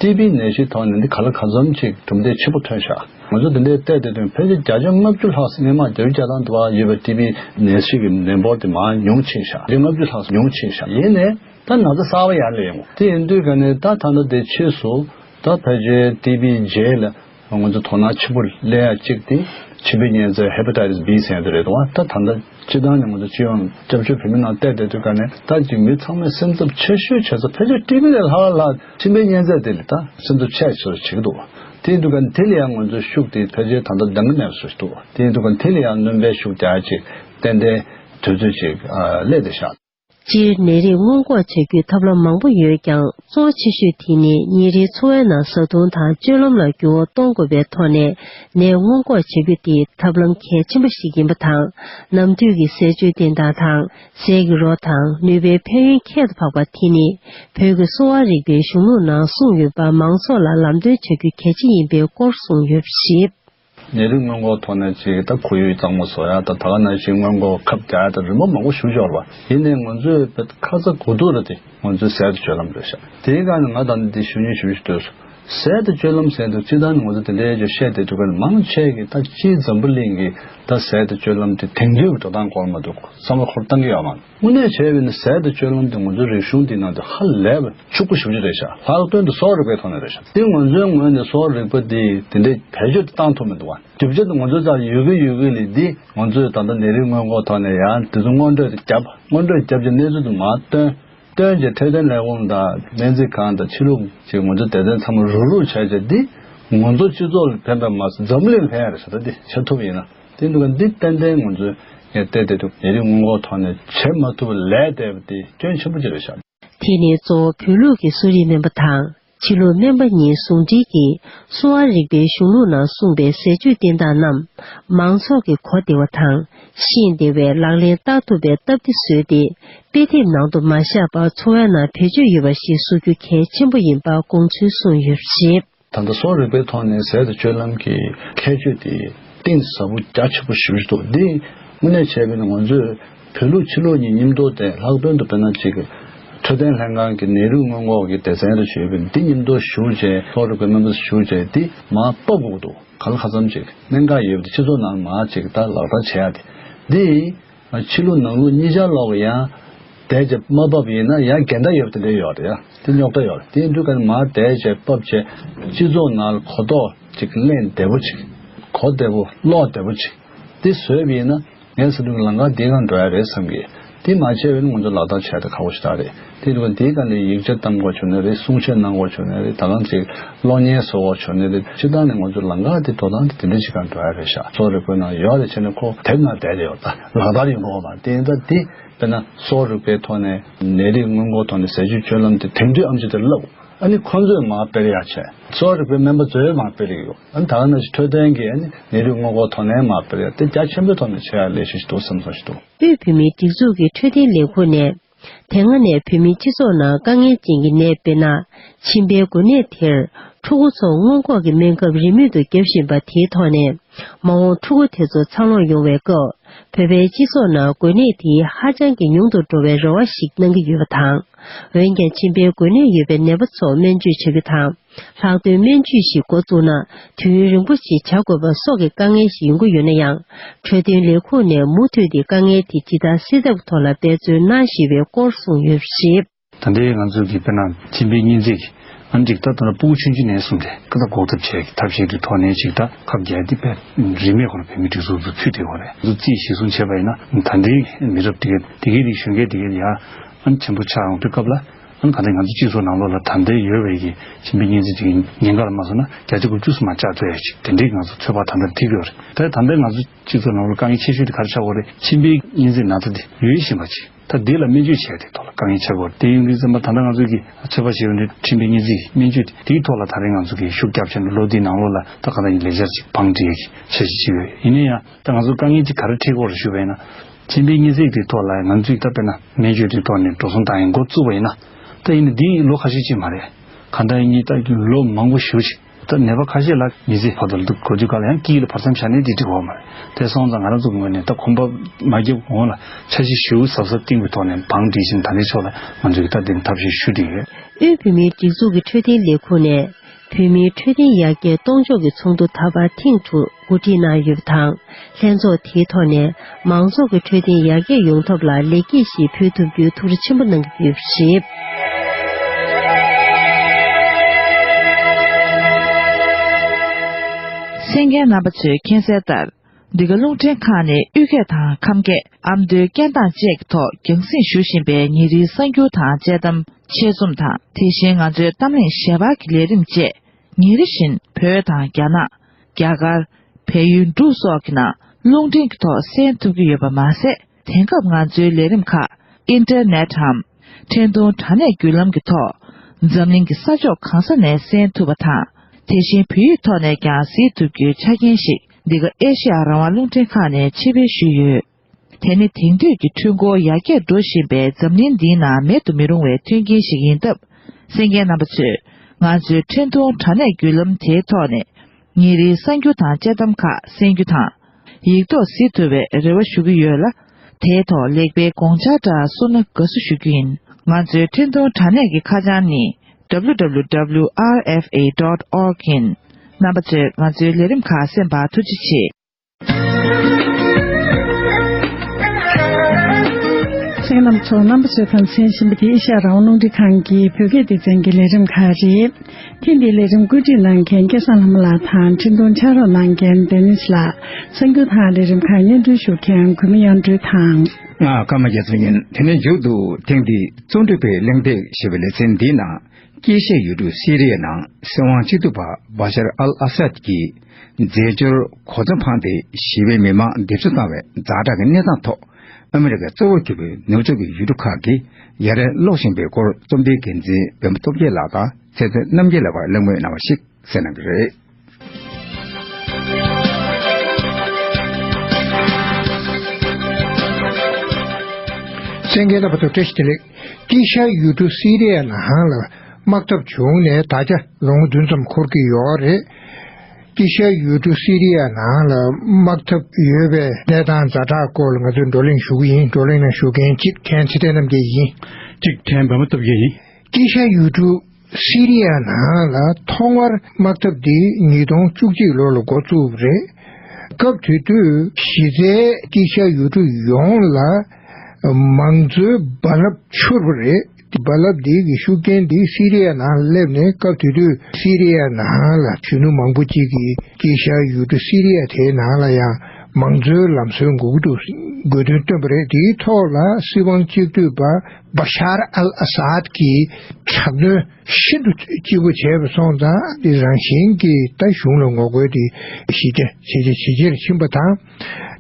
ཀྲི་པིའི་ནད་གཞིའི་ཐོག་ནས་འདི་ག་ལ་ག་འཛོམས་ཀྱིས་གྲུབ་འབྲས་ཆེ་པོ་ཐོན་ཤག་ང་ཚོ་འདི་འདྲའི་ལྟས་དེ་དོན་ཕལ་ཆེར་བརྒྱ་ཆ་ལྔ་བཅུ་ལྷག་སྲིང་ལེ་མ་རྒྱ་རི་རྒྱ་ཐང་དུ་བ་ཡོད་པའི་ཀྲི་པིའི་ནད་གཞི་གི་ནད་འབོར་དེ་མ་ཉུང་ཆེ་ཤག་བརྒྱ་ལྔ་བཅུ་ལྷག་ཉུང་ཆེ་ཤག་ཡིན་ནས་ད་ན་ཚ་གསར་བ་ཡར་ལེན་ངོ་དེ་ཡིན་དུས་ག་ནས་ད་ད་ལྟ་དེ་ཕྱིས་སུ་ད་ཕལ་ཆེར་ཀྲི་པིའི་རྗེས་ལ། ང་ཚོ་དོ་སྣང་ཆེན་པོ་སླེ་ཡ་གཅིག་དེ་མཆིན་པའི་གཉན་རྩལ Hepatitis B ཟེར་ཡ་དེ་རེད་དུ་བ་ད་ད་ལྟ་སྤྱི་བཏང་ནས་ང་ཚོ་སྤྱི་ཡོངས་སྐྱབས་བཅོལ་བོད་མི་ནང་བལྟས་བལྟས་དུས་ཀ་ནས་ད་ཅིག་མི་ཚང་མས་སེམས་འཚབ་ཆེ་ཤོས་བྱེད་ས་ཕལ་ཆེར་ཏི་བི་ལས་ལྷག་ལྷག་མཆིན་པའི་གཉན་རྩལ་དེ་ལས་ད་སེམས་འཚབ་ཆེ་ཤོས་བྱེད་ཀྱི་འདུག་དེའི་དུས་ཀ་ནས་དེ་ལས་ཡང་ང་ཚོའི་ཤུགས་དེ་ཕལ་ཆེར་ད་ལྟ་འདང་གི་མེད་པ་བཟོ་བཞིན་འདུག་དེའི་དུས་ཀ་ནས་དེ་ལས་ཡང་རྣོན་པའི་ཤུགས་རྒྱག་ཅིག་ཏན་ཏན་དུས་ཚོད་ཅིག་སླེ་སྟེ་བཞག་སྤྱིར་ནད་རིགས་སྔོན་འགོག་བྱ་རྒྱུའི་ཐབས་ལམ་མང་པོ་ཡོད་ཀྱང་གཙོ་བོ་ཆེ་ཤོས་དེ་ནི་ཉིན་རེའི་འཚོ་བའི་ནང་བཟའ་བཏུང་དང་སྤྱོད་ལམ་ལ་འགྱུར་བ་གཏོང་དགོས་པའི་ཐོག་ནས་ནད་སྔོན་འགོག་བྱ་རྒྱུ་དེ་ཐབས་ལམ་གལ་ཆེན་པོ་ཞིག་ཡིན་པ་དང་ནམ་དུས་ཀྱི་ཟས་སྤྱོད་བདེ་ཐང་དང་ཟས་ཀྱི་རོ་དང་ནུས་པའི་ཕན་ཡོན་ཁྱད་དུ་འཕགས་པ་དེ་ནི་བོད་ཀྱི་གསོ་བ་རིག་པའི་གཞུང་ལུགས་ནང་གསུངས་ཡོད་པ་མང་ཚོགས་ལ་ལམ་སྟོན་བྱ་རྒྱུ་གལ་ཆེན་ཡིན་པའི་སྐོར་གསུངས་ཡོད་པ་ཞིབ། ནད་རིགས་སྔོན་འགོག་ཐོག་ནས་ཅིག་ད་ཁོར་ཡུག་གཙང་མ་བཟོ་ཡག་དང་ད་ག་ནང་བཞིན་སྔོན་འགོག་ཁབ་རྒྱག་ཡག་དང་རི་མོ་མང་པོ་ཞུ་ཆོག་ལ་དེ་ནས་ང་ཚོས་བོད་ཁ་ཚ་དགོས་གཏུགས་རེད་དེ་ང་ཚོས་གསལ་དུ་སྤྱོད་ལམ་བཟོས་ཤག་དེའི་སྐབས་ནས་ང་ད་ནི་འདི་ཞུ་ཉེ་ཞུ་ཞུ་འདོད་སོང་གསལ་དུ་སྤྱོད་ལམ་ཟེར་འདུག་ཅི་ད་ནི་ང་ཚོ་དེ་འདྲའི་ཅོ་བཤད་དེ་འདུག་ག་ལ་མང་ཆེ་གི་ད་སྤྱིའི་འཛམ་བུ་གླིང་གི་ད་གསལ་དུ་སྤྱོད་ལམ་དེ་དེང་དུས་ཀྱི་འགྲོ་སྟངས་སྐོར་མ་འདུག་གོ་བསམ་བློ་འཁོར་བཏང་གི་ཡོད་མ་རེད། དངོས་གནས་བྱས་པས་ན་ཟད་དུ་སྤྱོད་ལམ་དེ་ང་ཚོའི་རིག་གཞུང་འདིའི་ནང་དུ་ཧ་ལས་པ་ཕྱུག་པོ་ཞིག་བརྗོད་བྱས་ཤག་ལྷག་དོན་དུ་སོག་རིག་པའི་ཐོག་ནས་རེད་ཤག་དེ་ང་ཚོའི་ངོས་ནས་སོག་རིག་པ་འདི་དེ་འདྲའི་བེད་སྤྱོད་དུ་བཏང་ཐུབ་མི་འདུག་བ་གྲུབ་ཆ་དེ་ང་ཚོའི་རྩར་ཡོད་ཀི་ཡོད་ཀི་ལས་འདི་ང་ཚོས་ད་ལྟ་ནད་རིགས་སྔོན་འགོག་ཐོག་ནས་ཡང་དེ་ཚོ་སྔོན་འགྲོས་བརྒྱབ་སྔོན་འགྲོས་བརྒྱབ་ཀྱི་གནས་ཚུལ་དུ་མ་སྟོན་སྟོན་གྱི་འཕྲོད་བསྟེན་ལས་ཁུངས་དང་སྨན་རྩིས་ཁང་དང་ཕྱི་ལུགས་ཀྱི་ང་ཚོའི་དད་ལྡན་ཚང་མ་རུག་རུག་བྱས་བྱས་འདི་ང་ཚོ་སྤྱི་ཚོགས་ལ་ཕན་པ་མ་ཟད་འཛམ་གླིང་ལ་ཕན་ཡ་རེད་ཤག་ད་འདི་བྱ་ཐུབ་ཡིན་ན། དེ་འདུག་ག་འདི་ཏན་ཏན་ང་ཚོས་ངས་བལྟས་བལྟས་འདུག་ཉེ་རིང་སྔོན་འགོག་ཐོག་ནས་བྱེད་མ་ཐུབ་པ་ལས་འདས་པ་དེ་སྐྱོན་ཆེན་པོ་གཅིག་རེད་བཞག་དགོས། དེ་ནི་གཙོ་བོ་བོད་ལུགས་ཀྱི་གསོ་རིག་སྨན་པ་དང་བྱིས་ལུགས་སྨན་པ་གཉིས་ཟུང་སྒྲིལ་གྱིས་གསོ་བ་རིག་པའི་གཞུང་ལུགས་ནང་གསུངས་པའི་ཟས་སྤྱོད་བསྟེན་སྟངས་རྣམས་མང་ཚོགས་ཀྱི་གོ་བདེ་བ་དང་ཤེས་བདེ་བའི་ལག་ལེན་བསྟར་ཐུབ་པའི་སྟབས་བདེ་བཟོས་ཏེ་དཔེ་དེབ་ནང་དུ་མ་བཞག་པར་འཚོ་བའི་ནང་བེད་སྤྱོད་ཡོད་པ་ཞིག་བཟོ་རྒྱུ་གལ་ཆེན་པོ་ཡིན་པ་དགོངས་ཚུལ་གསུངས་ཡོད་པ་རེད། ད་ལྟ་གསོ་རིག་པའི་ཐོག་ནས་ཟས་དང་སྤྱོད་ལམ་གྱི་ཁྱད་ཆོས་དེ་གཏིང་ཟབ་པོ་རྒྱ་ཆེ་པོ་ཞིག་རེད་འདུག་འདིས་དངོས་གནས་བྱས་པས་ན་ང་ཚོས་བོད་ལུགས་ཕྱི་ལུགས་གཉིས་མཉམ་དུ་དེ་ལྷག་དོན་དུ་བོད་ནང་གཅིག་འཕྲོད་བསྟེན་ལྷན་ཁང་གི་ནད་རིགས་སྔོན་འགོག་གི་སྡེ་ཚན་རེ་བྱོས་པས་འདི་མཉམ་དུ་ཞུགས་རྗེས་གསོ་རིག་པའི་སྨན་པ་ཚོ་ཞུགས་རྗེས་འདི་མ་གཏོགས་དགོས་འདུག་ག་ལ་ཁ་ཙམ་གཅིག་གནད་འགག་ཡོད་པ་དེ་སྤྱི་ཚོགས་ནང་མ་གཅིག་ལྟར་ལག་བསྟར་བྱེད་ཡ་དེ་འདིས། ཕྱི་ལོ་ནང་ལོ་གཉིས་ཆར་ལོག་ཡང། དལ་ཆེ་དམའ་བབས་ཡིན་ན་ཡང་འགལ་ཟླ་ཡོད་པ་དེ་འདྲ་ཡོད་རེད་ཡ། དེ་རྙོག་དྲ་ཡོད་རེད་དེ་འདུག་ག་ནི་མ་དལ་ཆེ་བབས་ཆེ། སྤྱི་ཚོགས་ནང་ལ་གོ་རྟོགས་ཅིག་གླེང་བདེ་བོ་ཅིག། གོ་བདེ་བོ་ཀློག་བདེ་བོ་ཅིག། དེ་བཟོས་པ་ཡིན་ན། ངས་བསམ་གྱི་ལང་ཀ་འདི་གང་འགྲོ་ཡ་རེད་བསམ་གྱི། དེ་མ་བྱས་པས་ནི་ང་ཚོ་ལག་བསྟར་བྱས་ད་ཁག་པོ་ཞིག་ད་རེད། དེ་རེད་བ་དེའི་ཁ་ནས་ཡིག་ཆ་གཏམ་དགོས་བྱུང་ན་རེད་གསུང་བཤད་གནང་དགོས་བྱུང་ན་རེད་ད་ལམ་ཞིག་གློག་བརྙན་བཟོ་དགོས་བྱུང་ན་རེད་སྤྱི་བཏང་ནས་ང་ཚོ་ལང་ཀ་དེ་དོ་དང་དེ་འདྲ་ཞིག་ག་འདྲ་རེད་ཤག་གསོ་རིག་པའི་ནང་ཡོག་རེད་བྱས་ན་ཁོ་དེབ་ནང་བསྡད་རེད་ཡོག་ད་ལག་བསྟར་ཡིན་དགོས་མ་རེད་དེ་ད་དེ་དཔེར་ན་གསོ་རིག་པའི་ཐོག་ནས་ནད་རིགས་སྔོན་འགོག་ཐོག་ནས་ཟས་བཅུད་སྤྱོད་ལམ་དེ་དེབ་འདྲི་ཨམ་ཅི་དེ་ལབ་ཨ་ནི་ཁོ་ཚོས་མ་སྤེལ་ཡག་བྱས་གསོ་རིག་པའི་སྨན་པ་ཚོས་མ་སྤེལ་ཡག་ཡོག་ཨ་ནི་ད་ལག་ན་ཞིག་འཕྲོད་བསྟེན་གྱི་ཨ་ནི་ནད་རིགས་སྔོན་འགོག་ཐོག་ནས་མ་སྤེལ་ཡག་དེ་རྒྱ་ཆེན་པོའི་ཐོག་ནས་བྱས་ཡག་ལས་ཤིག་འདུག་སེམས་སོང་ཞིག་འདུག། དབུས་བོད་མིའི་སྒྲིག་འཛུགས་ཀྱི་འཕྲོད་བསྟེན་ལས་ཁུངས་ནས་དེ་སྔ་ནས་བོད་མིའི་སྤྱི་ཚོགས་ནང་དཀའ་ངལ་ཅན་གྱི་ནད་དཔེར་ན་མཆིན་པའི་འགོས་ནད་དེར་ཕྲུ་གུ་ཚོ་སྔོན་འགོག་གི་སྨན་ཁབ་རིན་མེད་དུ་བརྒྱབ་བཞིན་པ་དེའི་ཐོག་ནས་མ་འོངས་ཕྲུ་གུ་དེ་ཚོ་འཚར་ལོངས་ཡོང་བའི་སྐབས་བོད་པའི་སྤྱི་ཚོགས་ནང་འགོས་ནད་དེ་ཧ་ཅང་གི་ཉུང་དུ་འགྲོ་བའི་རེ་བ་ཞིག་གནང་གི་ཡོད་པ་དང། འོན་ཀྱང་མཆིན་པའི་འགོས་ནད་ཡོད་པའི་ནད་པ་ཚོ་སྨན་བཅོས་བྱ་རྒྱུ་དང། ལྷག་དོན་སྨན་བཅོས་ཤིག་འགོ་བཙུགས་ན་དུས་ཡུན་རིང་པོ་ཞིག་བྱ་དགོས་པ་སོགས་ཀྱི་དཀའ་ངལ་ཞིག་ཡོང་གི་ཡོད་ན་ཡང་འཕྲོད་བསྟེན་ལས་ཁུངས་ནས་མུ་མཐུད་དེ་དཀའ་ངལ་དེ་ཇི་ལྟར་སེལ་ཐབས་ཐོག་ལ་འབད་བརྩོན་གནང་བཞིན་པའི་སྐོར་གསུངས་ཡོད་པར་གཞིགས། ད་ལྟའི་ང་ཚོ་གི་བོད་ནང་སྤྱི་པའི་གཉེན་རྩིས་ཨ་འགྲིག་ལྟ་དང་སྤུ་གུ་ཆུང་ཆུང་ནས་གསུམ་ཏེ་ཀ་ད་འགོག་ཐབས་བྱས་ཀྱི་ཐབས་ཤེས་ཀྱི་ཐོག་ནས་ཅིག་ད་ཁབ་རྒྱལ་ཏེ་བེད་རིན་མེད་ཁོ་ན་བོད་མི་སྒྲིག་འཛུགས་སུ་ཚུད་དེ་ཁོ་རེ་འདུ་རྩིས་གཞིས་སྲུང་བྱས་པ་ཡིན་ན་ད་འདིའི་མི་རབས་དེ་གས་དེ་གས་དེ་གཞོན་སྐས་དེ་གས་ཡ། ཨམ་ཆེན་པོ་ཆགས་ཡོང་དུས་སྐབས་ལ། གང་ལྟར་ང་ཚོ་སྤྱི་ཚོགས་ནང་ལོགས་ལ་དྲང་བདེན་ཡོད་བས་ཀྱི་ཁྱིམ་པའི་གཉེན་ཚིག་ཅིག་ཉིན་འགའ་ལ་མ་སོང་ན་བརྒྱ་ཆ་དགུ་བཅུ་སུ་མ་བཅག་ཚོད་ཡག་ཅིག་དེ་འདྲའི་ང་ཚོ་ཚོད་དཔག་དམ་དྲན་ཐིག་ཡོད་རེད་དེར་དམ་པའི་ང་ཚོ་སྤྱི་ཚོགས་ནང་ལོགས་དཀའ་ངལ་ཆེ་ཤོས་དེ་ག་རེ་ཆགས་འགོ་རེད་ཁྱིམ་པའི་གཉེན་ཚིག་ན་ཚ་དེ་ཡོད་བཞིན་པ་ཅིག་ད་དེ་ལ་སྨན་བཅོས་བྱས་དེ་ཐོག་ལ་དཀའ་ངལ་ཆགས་འགོ་རེད་དེ་ཡིན་དུས་ཚང་མ་ད་ལྟ་ང་ཚོས་ཀྱི་ཚོད་དཔག་བྱེད་འོས་འདྲ་ཁྱིམ་པའི་གཉེན་ཚིག་སྨན་བཅོས་དེ་དེའི་ཐོག་ལ་ད་རེས་ང་ཚོ་ཀྱི་ཤུགས་རྒྱབ་བྱས་ན་ལོ་དེའི་ནང་ལོགས་ལ་ད་གང་ལྟར་ཡིན་ལས་འཆར་ཅིག་བང་སྒྲིག་ཡག་གི་བྱ་བཞིན་ཅིག་ཡོད་ཡིན་ན་ཡང་ད་ང་ཚོ་དཀའ་ངལ་ཅིག་ག་རེ་འཕྲད་འགོ་རེད་ཞུ་བས་ན། མཆན་འདིའི་སྙན་ཚིག་དེའི་ཐོག་ལ་ང་ཚོས་བལྟ་བས་ན་སྨན་བཅོས་དེའི་ཐོག་ནས་འགྲོ་སོང་བཏང་ཡང་འགོ་བཙུགས་པ་ཡིན་ན། ད་ཡིན་ན་འདི་ཡིན་ལོ་ཁ་ཤས་ཅིག་མ་རེད། གང་ལྟར་ཡིན་ཡིན་བལྟ་རྒྱུ་ལོ་མང་པོ་ཞུ་ཞིག་ད་ནད་པ་ཁ་ཤས་ལ་མི་ཚེ་བར་དུ་འདུག་དགོས་དུས་ག་ལ་ཡང་སྐྱིད་ལ་བར་མཚམས་བཞག་ནས་དེ་འགྲིག་བ་མ་རེད་དེ་སོང་ཙང་ང་རང་ཚོ་གི་ངོས་ནས་ད་གོམ་པ་མ་བརྒྱབ་གོང་ལ་འཆར་གཞི་ཞིབ་ཟབ་ཟབ་བཏིང་བའི་ཐོག་ནས་བང་སྒྲིག་བཞིན་ད་ལྟའི་ཕྱོགས་ལ་ང་ཚོས་ཀྱི་ལྟ་དེ་ནི་ཐབས་ཤེས་ཞུ་དེ་ཡོད། དབུས་བོད་མིའི་སྒྲིག་འཛུགས་ཀྱི་འཕྲོད་བསྟེན་ལས་ཁུངས་ནས་བོད་མིའི་འཕྲོད་བསྟེན་ཡར་རྒྱས་གཏོང་ཕྱོགས་ཀྱི་ཚོགས་འདུ་ད་བར་ཐེངས་དྲུག་གོ་སྒྲིག་གནང་ཡོད་པ་དང་ལྷན་ཚོགས་དེའི་ཐོག་ནས་མང་ཚོགས་ཀྱི་འཕྲོད་བསྟེན་ཡར་རྒྱས་ཡོང་ཐབས་ལ་ལེགས་སྐྱེས་ཤིག་ཕུལ་ཐུབ་རྒྱུའི་ཐུགས་རེ་ཆེན་པོ་གནང་གི་ཡོད་པ་རེད། སེང་གེའི་རྣམ་པ་ཚོས་མཁྱེན་གསལ་ལྟར། འདི་ག་རླུང་འཕྲིན་ཁང་ནས་དབུས་སྐད་དང་ཁམས་སྐད་ཨ་མདོའི་སྐད་གདངས་བཅས་ཀྱི་ཐོག་རྒྱང་སྲིང་ཞུ་བཞིན་པའི་ཉིན་རེའི་གསར་འགྱུར་དང་དཔྱད་གཏམ་ཆེད་རྩོམ་དང་དེ་བཞིན་ང་ཚོའི་གཏམ་གླེང་ཞལ་པར་གྱི་ལས་རིམ་བཅས་ཉིན་རེ་བཞིན་བོད་དང་རྒྱ་ནག། རྒྱ་གར། བལ་ཡུལ་འབྲུག་སོགས་ཀྱི་ནང་རླུང་འཕྲིན་གྱི་ཐོག་གསན་ཐུབ་ཀྱི་ཡོད་པ་མ་ཟད། དེང་སྐབས་ང་ཚོའི་ལས་རིམ་ཁག་ཨིན་ཏེར་ནེ་ཏའམ་འཕྲིན་གཏོང་དྲ་གནས་བརྒྱུད་ལམ་གྱི་ཐོག་འཛམ་གླིང་གི་ས་ཕྱོགས་གང་ས་ནས་གསན་ཐུབ་པ་དང་དེ་བཞིན་བོད་ཡིག་ཐོག་ནས་ཀྱང་གཟིགས་ཐུབ་རྒྱུའི་ཆ་རྐྱེན་ཞིག་འདི་ག་ཨེ་ཤེ་ཡ་རང་དབང་རླུང་འཕྲིན་ཁང་ནས་ཕྱིར་འབུལ་ཞུས་ཡོད། དེ་ནི་དེང་དུས་ཀྱི་འཕྲུལ་འཁོར་ཡར་རྒྱས་འགྲོ་བཞིན་པའི་འཛམ་གླིང་འདིའི་ནང་མེད་དུ་མི་རུང་བའི་མཐུན་རྐྱེན་ཞིག་ཡིན་སྟབས་སེམས་མཁན་རྣམ་པ་ཚོས་ང་ཚོའི་འཕྲིན་གཏོང་དྲ་གནས་བརྒྱུད་ལམ་དེའི་ཐོག་ནས་ངེད་རིག་གསར་འགྱུར་དང་དཔྱད་གཏམ་ཁག་གསན་རྒྱུ་དང། ཡིག་ཐོག་གཟིགས་ཐུབ་པའི་རེ་བ་ཞུ་གི་ཡོད་ལ། དེའི་ཐོག་ལེགས་སྤེལ་དགོངས་འཆར་འདྲ་གསུངས་ན་དགའ་བསུ་ཞུ་རྒྱུ་ཡིན། ང་ཚོའི་འཕྲིན་ཐུང་དྲ་གནས་ཀྱི་ཁ་བྱང་ནི། www.rfa.org། ཡིན། རྣམ་པ་ཚོས་ང་ཚོའི་ལས་རིམ་ཁག་གསན་པར་ཐུགས་རྗེ་ཆེ། མཚན་ལམ་ཚོ་རྣམ་པ་ཚོས་ཕམ་ཟན་བཞིན་པ་འདི་ཨེ་ཤ་རང་ནོར་འཁྲིད་ཁང་གི་བོད་སྐད་སྡེ་ཚན་གྱི་ལས་རིམ་ཁག་རེད། ཐེངས་འདིའི་ལས་རིམ་བཀོད་སྒྲིག་གནང་མཁན་སྐལ་བཟང་ལྷ་མོ་ལགས་དང་འཕྲིན་ཐུང་ཕྱག་རོགས་གནང་མཁན Dennis ལགས་གསར་འགྱུར་དང་ལས་རིམ་ཁག་སྙན་སྒྲོན་ཞུ་མཁན་གུས་མེ་གཡང་སྤྲུལ་དང། ང་ཀརྨ་རྒྱ་མཚོ་ཡིན་དེ་ནས་མཇུག་ཏུ་ཐེངས་འདིའི་རྩོམ་སྒྲིག་པའི་གླེང་སྟེགས་ཞེས་པའི་ལེ་ཚན་འདིའི་ནང་དཀྱེལ་བཤད་ཡོད་དུས་སི་རི་ཡའི་ནང་སྲིད་དབང་གཅིག་སྡུད་པ Bashar al-Assad ཀྱིས། འཛད་སྤྱོར་གོ་མཚོན་འཕངས་ཏེ་ཞི་བའི་མི་མང་སྡེབ་གསོད་བཏང་བའི་རྫ་བྲག་གི་གནས་སྟངས་ཐོག་ཨ་མི་རི་ཀའི་གཙོ་བོར་གྱུར་པའི་ནུབ་ཕྱོགས་ཀྱི་ཡུལ་གྲུ་ཁག་གིས་ཡ་རབས་ཀློག་བཞིན་པའི་སྐོར་རྩོམ་སྒྲིག་འགན་འཛིན་བེམ་པོ་སྟོབས་རྒྱལ་ལགས་དང་ཚེ་བཙན་རྣམ་རྒྱལ་ལགས་བར་གླེང་མོལ་གནང་བ་ཞིག་གསན་གནང་གི་རེད། སེང་གེ་རྣམ་པ་ཚོ་བཀྲ་ཤིས་བདེ་ལེགས། ཀི་ཤ་ཡུལ་གྲུ་སི་རེ་ཡ་ནང་ལ་དམག་འཐབ་བྱུང་ནས་ད་ཆ་ལོ་ངོ་བདུན་ཙམ་འཁོར་གྱི་ཡོད་རེད། ཀི་ཤ་ཡུལ་གྲུ་སི་རི་ཡ་ནང་ལ་དམག་འཐབ་ཡོད་པའི་གནས་སྟངས་རྫ་དྲག་སྐོར་ལ་ང་ཚོས་བགྲོ་གླེང་ཞུ་གི་ཡིན་བགྲོ་གླེང་ནང་ཞུགས་མཁན་གཅིག་ཁྲེན་ཚེ་བརྟན་རྣམ་རྒྱལ་ཡིན། གཅིག་ཁྲེན་འབར་མ་སྟོབས་རྒྱལ་ཡིན། ཀི་ཤ་ཡུལ་གྲུ་སི་རི་ཡ་ནང་ལ་ཐོག་མར་དམག་འཐབ་འདི་ཉིས་སྟོང་བཅུ་གཅིག་ལོ་ལ་འགོ་བཙུགས་པ་རེད། སྐབས་དེ་དུས་གཞི་རྩའི་ཀི་ཤ་ཡུལ་གྲུ་ཡོངས་ལ་མང་གཙོའི་རྦ་རླབས་འཕྱུར་བ་རེད། རྦ་རླབས་འདི་གི་ཤུགས་རྐྱེན་འདི་སི་རི་ཡ་ནང་སླེབས་ནས་སྐབས་དེ་དུས་སི་རི་ཡ་ནང་ལ་གཞོན་ནུ་མང་པོ་གཅིག་གིས་སྐྱེས་ཤར་ཡུལ་གྲུ་སི་རི་ཡ་དེའི་ནང་ལ་ཡང་མང་གཙོའི་ལམ་སྲོལ་འགོག་ཏུ་དགོས་དོན་བཏོན་པ་རེད་དེའི་ཐོག་ལ་སྲིད་དབང་གཅིག་སྡུད་པ Bashar al-Assad གྱིས་དྲག་གནོན་ཤིན་ཏུ་ལྕི་པོ་བྱས་པ་སོང་ཙང་དེ་རང་བཞིན་གྱིས་ད་གཞུང་ལ་ངོ་རྒོལ་དེ་གཞི་རྒྱ་ཇེ་ཆེ་ཇེ་ཆེར་ཕྱིན་པ་དང་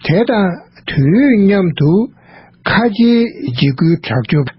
དེ་དང་དུས་མཉམ་དུ་ཁ་ཆེའི་འཇིགས་སྐུལ་དྲག་སྤྱོད།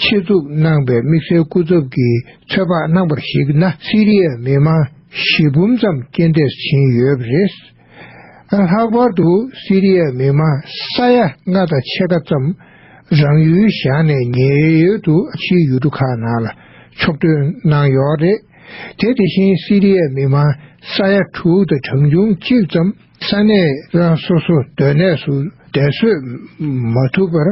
ཆེད་འཛུགས་གནང་པའི་དམིགས་བསལ་སྐུ་ཚབ་ཀྱི་ཚོད་དཔག་གནང་པར་གཞིགས་ན་སི་རི་ཡའི་མི་མང་བཞི་འབུམ་ཙམ་རྐྱེན་འདས་ཕྱིན་ཡོད་པ་རེད། ལྷག་པར་དུ་སི་རི་ཡའི་མི་མང་ས་ཡ་ལྔ་དང་ཕྱེད་ཀ་ཙམ་རང་ཡུལ་བཞག་ནས་ཉེ་ཡོད་དུ་ཕྱིའི་ཡུལ་གྲུ་ཁག་ནང་ལ་ཕྱོགས་སྐྲུན་གནང་ཡོད་རེད། དེ་དེ་བཞིན་སི་རི་ཡའི་མི་མང་ས་ཡ་དྲུག་དང་གྲངས་ཆུང་གཅིག་ཙམ། ས་གནས་རང་སོ་སོ་སྡོད་གནས་སུ་བདེན་གསོད་མ་ཐུབ་པར་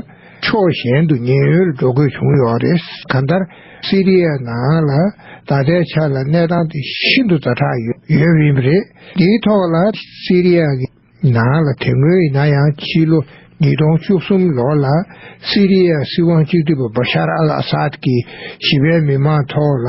ཕྱོགས་གཞན་དུ་ཉེན་གཡོལ་འགྲོ་དགོས་བྱུང་ཡོད་པ་རེད། གང་ལྟར་སི་རི་ཡའི་ནང་ལ་ད་ལྟའི་ཆ་ལ་གནས་སྟངས་དེ་ཤིན་ཏུ་ཛ་དྲག་ཡོད་པ་ཡིན་རེད། དེའི་ཐོག་ལ་སི་རི་ཡ་གི་ནང་ལ་དེ་སྔོན་ཡིན་ན་ཡང་ཕྱི་ལོ་ཉིས་སྟོང་བཅུ་གསུམ་ལོར་ལ་སི་རི་ཡའི་སྲིད་དབང་སྤྱི་འཐུས་པ་བྷ་ཤར་ཨལ་ཨ་སཱད་ཀྱིས་ཞི་བའི་མི་མང་ཐོག་ལ་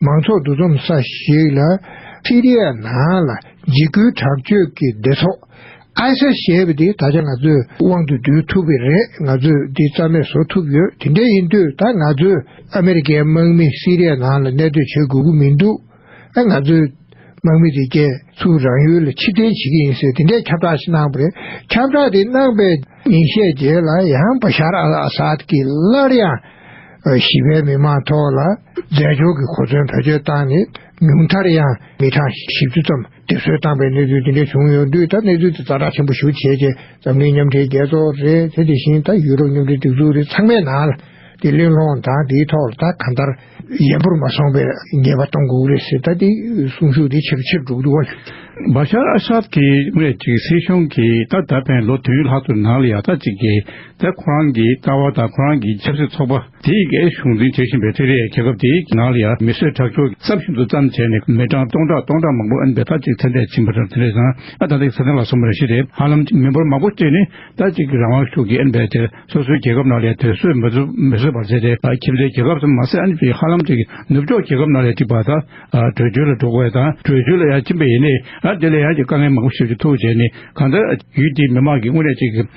མང་ཚོགས་འདུ་འཛོམས་ས་ཞིག་ལ་སི་རི་ཡ་ནང་ལ་འཇིགས་སྐུལ་དྲག་སྤྱོད་ཀྱི་སྡེ་ཚོགས། ISIS། ཞེས་པ་དེ་ད་ཆ་ང་ཚོས་དབང་དུ་བསྡུ་ཐུབ་པས་རེད་ང་ཚོས་འདི་རྩ་མེད་བཟོ་ཐུབ་ཡོད་དེ་འདྲ་ཡིན་དུས་ད་ང་ཚོས་ཨ་མེ་རི་ཁའི་དམག་མི་སི་རི་ཡ་ནང་ལ་གནས་སྡོད་བྱེད་དགོས་ཀྱི་མི་འདུག་ཨ་ང་ཚོའི་དམག་མི་དེ་རྒྱལ་ཚུགས་རང་ཡུལ་ལ་ཕྱིར་འཐེན་བྱེད་ཀྱི་ཡིན་ཟེར་དེ་འདྲའི་ཁྱབ་བསྒྲགས་ཤིག་གནང་བ་རེད་ཁྱབ་བསྒྲགས་དེ་གནང་པའི་ཉིན་ཤས་རྗེས་ལ་ཡང་བྷ་ཤར་ཨལ་ཨ་སཱད་ཀྱིས་སླར་ཡང། བཞི་པའི་མི་མང་ཐོག་ལ་རྫས་སྦྱོར་གྱི་གོ་མཚོན་བེད་སྤྱོད་བཏང་ནས་ཉུང་མཐར་ཡང་མི་གྲངས་བཞི་བཅུ་ཙམ་སྡེབ་གསོད་བཏང་པའི་གནས་ཚུལ་དེ་འདྲ་བྱུང་ཡོད་དུས་ད་གནས་ཚུལ་དེ་རྩ་བཀྲག་ཆེན་པོ་ཞུ་བྱེད་ཀྱི་འཛམ་གླིང་མཉམ་འབྲེལ་རྒྱལ་ཚོགས་རེད་དེ་དེ་བཞིན་ད་ཡུ་རོབ་མཉམ་འབྲེལ་སྒྲིག་འཛུགས་རེད་ཚང་མའི་ནང་ལ་དེ་གླེང་སློང་དང་དེའི་ཐོག་ལ་ད་གང་ལྟར་ཡན་པོར་མ་སོང་པའི་ཉེས་པ་གཏོང་དགོས་རེད་ཟེར་ད་དེ་གསུང་ཤུགས་དེ་ཆེ་རུ་ཆེ་རུ་འགྲོ་གི་འདུག་བ། བྷ་ཤར་ཨ་ས་ཏི་སྨད་ཅིག་སྲིད་གཞུང་གིས་ད་ད་ཕན་ལོ་དོན་ལྷག་ཙམ་ནང་ལ་ཡག་རྩ་གཅིག་གི་ད་ཁོ་རང་གི་ལྟ་བ་དང་ཁོ་རང་གི་ཆབ་སྲིད་ཚོགས་པ་དེའི་འགས་གཞུང་འཛིན་བྱེད་བཞིན་པའི་ཐེ་རེ་ཡའི་རྒྱལ་ཁབ་དེའི་ནང་ལ་ཡང་མི་གསོད་ཁྲག་སྦྱོར་གྱི་རྩ་ཤིན་ཏུ་བཙམ་བྱས་ནས་མི་གྲངས་སྟོང་ཕྲག་སྟོང་ཕྲག་མང་པོ་འབད་ཐག་ཅིག་ཚེ་འདས་ཕྱིན་པ་དང་དེ་ལས་བཟང་ང་ད་ལྟའི་ས་སྟེང་ལ་སོང་བ་རེ་ཞིག་རེད་ཧ་ལམ་མི་འབོར་མང་པོ་གཅིག་ནི་ད་གཅིག་གི་རང་དབང་ཤུགས་ཀྱིས་འབད་དེ་སོ་སོའི་རྒྱལ་ཁབ་ནང་ལས་དེ་སོས་མི་སོས་པར་བྱས་ཏེ་ཁྱིམ་མཚེས་རྒྱལ་ཁབ་ཙམ་མ་ཟད་དེ་ཧ་ལམ་གཅིག་ནུབ་ཕྱོགས་རྒྱལ་ཁབ་ནང་ལས་གཅིག་པ་དང་བྲོས་བྱོལ་ལ་འགྲོ་དགོས་དང་བྲོས་བྱོལ་ལ་ཡང་ཕྱིན་པ་ཡིན་ནས་དེ་ལས་ཡང་དཀའ་ངལ་མང་པོ་ཞིག་ཐུག་བྱས་ནས་གང་ལྟར་ཡུལ་དེའི་མི་མང་གིས་དངོས་གནས་གཅིག་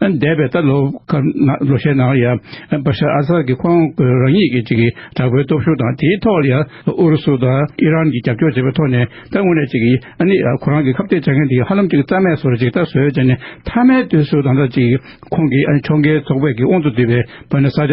འདས་པའི་ད་ལོ་ཁར་ནང་ལོ་ཤས་ནང་ཡང་བཱ་ཤར་ཨ་སཱར་གྱི་ཁོང་གི་རང་ཉིད་ཀྱི་ཅིག་དྲག་པོའི་སྟོབས་ཤུགས་དང་དེའི་ཐོག་ལ་ཡང་ཨུ་རུ་སུ་དང་ཨི་རན་གྱིས་རྒྱབ་སྐྱོར་བྱས་པའི་ཐོག་ནས་ད་དངོས་གནས་ཅིག་ཨ་ནི་ཁོ་རང་གི་ཁ་བརྡའི་བྱ་མཁན་དེ་ཧ་ལམ་ཅིག་རྩ་མེད་སོར་ཅིག་ད་གཟོད་བྱས་ནས་མཐའ་མའི་དུས་སུ་ད་ལྟ་ཅིག་ཁོང་གིས་ཨ་ནི་མཆོང་བརྒལ་ཚོགས་པས་ཀྱི་དབང་དུ་བསྡུས་པའི་བཱ་ནི་ས་ཆ་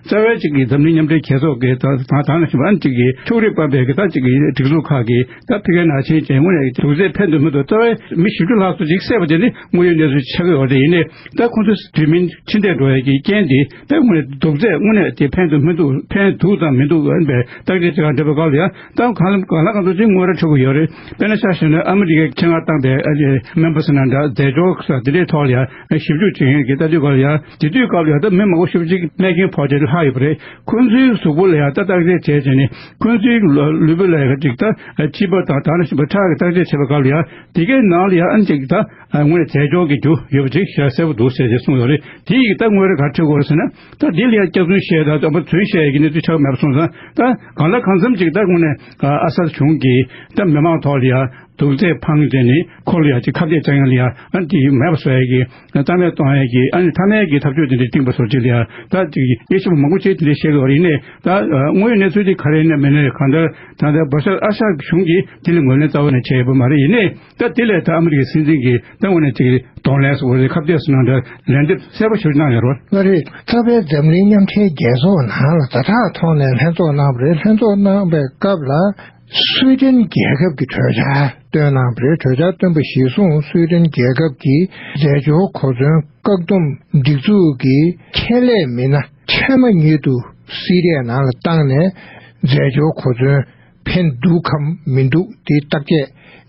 རྩ་བའི་གཅིག་གིས་འཛམ་གླིང་མཉམ་འབྲེལ་རྒྱལ་ཚོགས་ཀྱི་དང་ཐང་ནང་བཞིན་པ་གཅིག་གིས་ཕྱུགས་རིགས་སྤར་བའི་གྲྭ་གཅིག་གིས་སྒྲིག་འཛུགས་ཁག་གིས་ད་ཕི་ཀའི་ནང་ཆེན་བྱེད་སྔོན་ནས་དུག་རྫས་ཕན་འདོད་མི་འདུག་རྩ་བའི་མི་བཞི་བཅུ་ལྷག་སུ་གཅིག་བསད་པ་དེ་ནི་དངོས་ཡོད་གནས་ཚུལ་ཆགས་ཡོད་པ་རེད་ཡིན་ནས་ད་ཁོང་ཚོས་དུས་མིན་འཕྲིན་སྟེགས་འགྲོ་ཡས་ཀྱི་རྐྱེན་དེ་ད་དངོས་ནས་དུག་རྫས་དངོས་གནས་དེ་ཕན་འདོད་མི་འདུག་ཕན་འདུག་དང་མི་འདུག་ཨན་པའི་བརྟག་དཔྱད་བྱེད་ཁང་འདྲ་པོའི་སྐབས་ལ་ཡང་ད་གང་ལ་གང་ཚོད་ཅིག་དངོས་ར་འཕྲོད་གི་ཡོད་རེད་དཔེར་ན་ཤར་ཞིང་ནས་ཨ་མི་རི་ཀའི་ཁྱེད་ང་བཏང་པའི་ཨ་རིའི་མེན་ཕོ་སི་ནང་འདྲ་རྫས་སྦྱོར་ས་དེ་འདྲའི་ཐོག་ལ་ཡང་ཞིབ་འཇུག་བྱེད་མཁན་གྱི་ལྟ་དུས་སྐབས་ལ་ཡང། དེ་དུས་སྐབས་ལ་དྭགས་མི་མང་པོ་ཤུགས་གཅིག་རྨས་སྐྱོན་ཕོག་རྗེས་ལྷག་ཡོད་པ་རེད། ཁོང་ཚོའི་གཟུགས་པོ་ལ་ཡང་བརྟག་དཔྱད་བྱས་རྗེས་ནས་ཁོང་ཚོའི་ལུས་པོ་ལ་ཡང་གཅིག་དང་སྤྱི་པ་དང་ད་ནི་ཕྲག་གི་བརྟག་དཔྱད་བྱས་པའི་སྐབས་ལ་ཡང་དེ་གའི་ནང་ལ་ཡང་གཅིག་དང་དངོས་རྫས་སྦྱོར་གྱི་རྒྱུ་ཡོད་པ་ཅིག་ཤ་གསལ་བོ་འདུག་ཟེར་རྗེས་གསུངས་ཡོད་རེད་དེ་ཡི་གེ་ད་ངོས་རེ་གར་ཁྲིད་དགོས་ཟེར་ན་ད་དེ་ལ་ཡང་སྐྱག་རྫུན་བཤད་དང་དམ་པ་རྫུན་བཤད་ཀྱི་གནས་ཚུལ་ཆགས་མེད་པ་སོང་ཙང་ད་གང་ལ་གང་འཚམ་ཅིག་ད་དངོས་ནས་ཨ་གསར་གཞུང་གིས་ད་མི་མང་ཐོག་ལ་ཡང་དུག་རྫས་འཕངས་རྗེས་ནས་ཁོ་ལ་ཡང་ཅིག་ཁ་བརྡས་བཅག་ཡང་ལ་ཡང་དེ་ཡིན་མེད་པ་ཟེར་གི་ཏཱ་ལས་ཏོང་ཧའེ་གྱིས་ཨ་ནི་ཐ་ནའི་གི་ཐབས་བྱུས་དེ་འདྲའི་བཏིངས་པ་སོགས་ཅི་ཡང་ད་ཅིག་དབྱེ་ཞིབ་མང་པོ་བྱས་དེ་འདྲའི་བཤད་དགོས་པ་རེད་ནས་ད་དངོས་ཡོད་གནས་ཚུལ་དེ་ག་རེ་ནས་མི་ནས་གང་ལྟར་ད་ལྟ་བྷ་ཤར་ཨ་ཤར་གཞུང་གིས་དེ་ལ་ངོས་ལེན་རྩ་བ་ནས་བྱས་ཡོད་པ་མ་རེད་ཡིན་ནས་ད་དེ་ལས་ད་ཨ་མི་རི་ཀའི་སྲིད་འཛིན་གྱི་ད་ངོས་ནས་ཅིག་གདོང་ལེན་སོགས་ཀྱི་ཁ་བརྡའི་སུ་གནང་འདྲ་ལན་འདེབས་གསལ་པོ་ཞུ་གནང་ཡོད་རོགས། ལོ་རེའི་རྩ་བའི་འཛམ་གླིང་མཉམ་འབྲེལ་རྒྱལ་ཚོགས་ནང་ལ་ཟླ་གྲངས་ཐོག་ནས་ལྷན་ཚོགས་གནང་བ་རེད་ལྷན་ཚོགས་གནང་བའི་སྐབས་ལ། སུའེ་ཏེན་རྒྱལ་ཁབ་ཀྱི་གྲོས་འཆར་བཏོན་གནང་བའི་གྲོས་འཆར་བཏོན་པ་གཞིར་བཟུང་སུའེ་ཏེན་རྒྱལ་ཁབ་ཀྱི་འཛད་སྤྱོད་གོ་མཚོན་བཀག་སྡོམ་སྒྲིག་འཛུགས་ཀྱི་ཁྱད་ལས་མི་སྣ་ཚད་མ་ཉིད་དུ་སི་རའི་ནང་ལ་བཏང་ནས་འཛད་སྤྱོད་གོ་མཚོན་འཕེན་འདུག་གམ་མི་འདུག་དེ་བརྟག་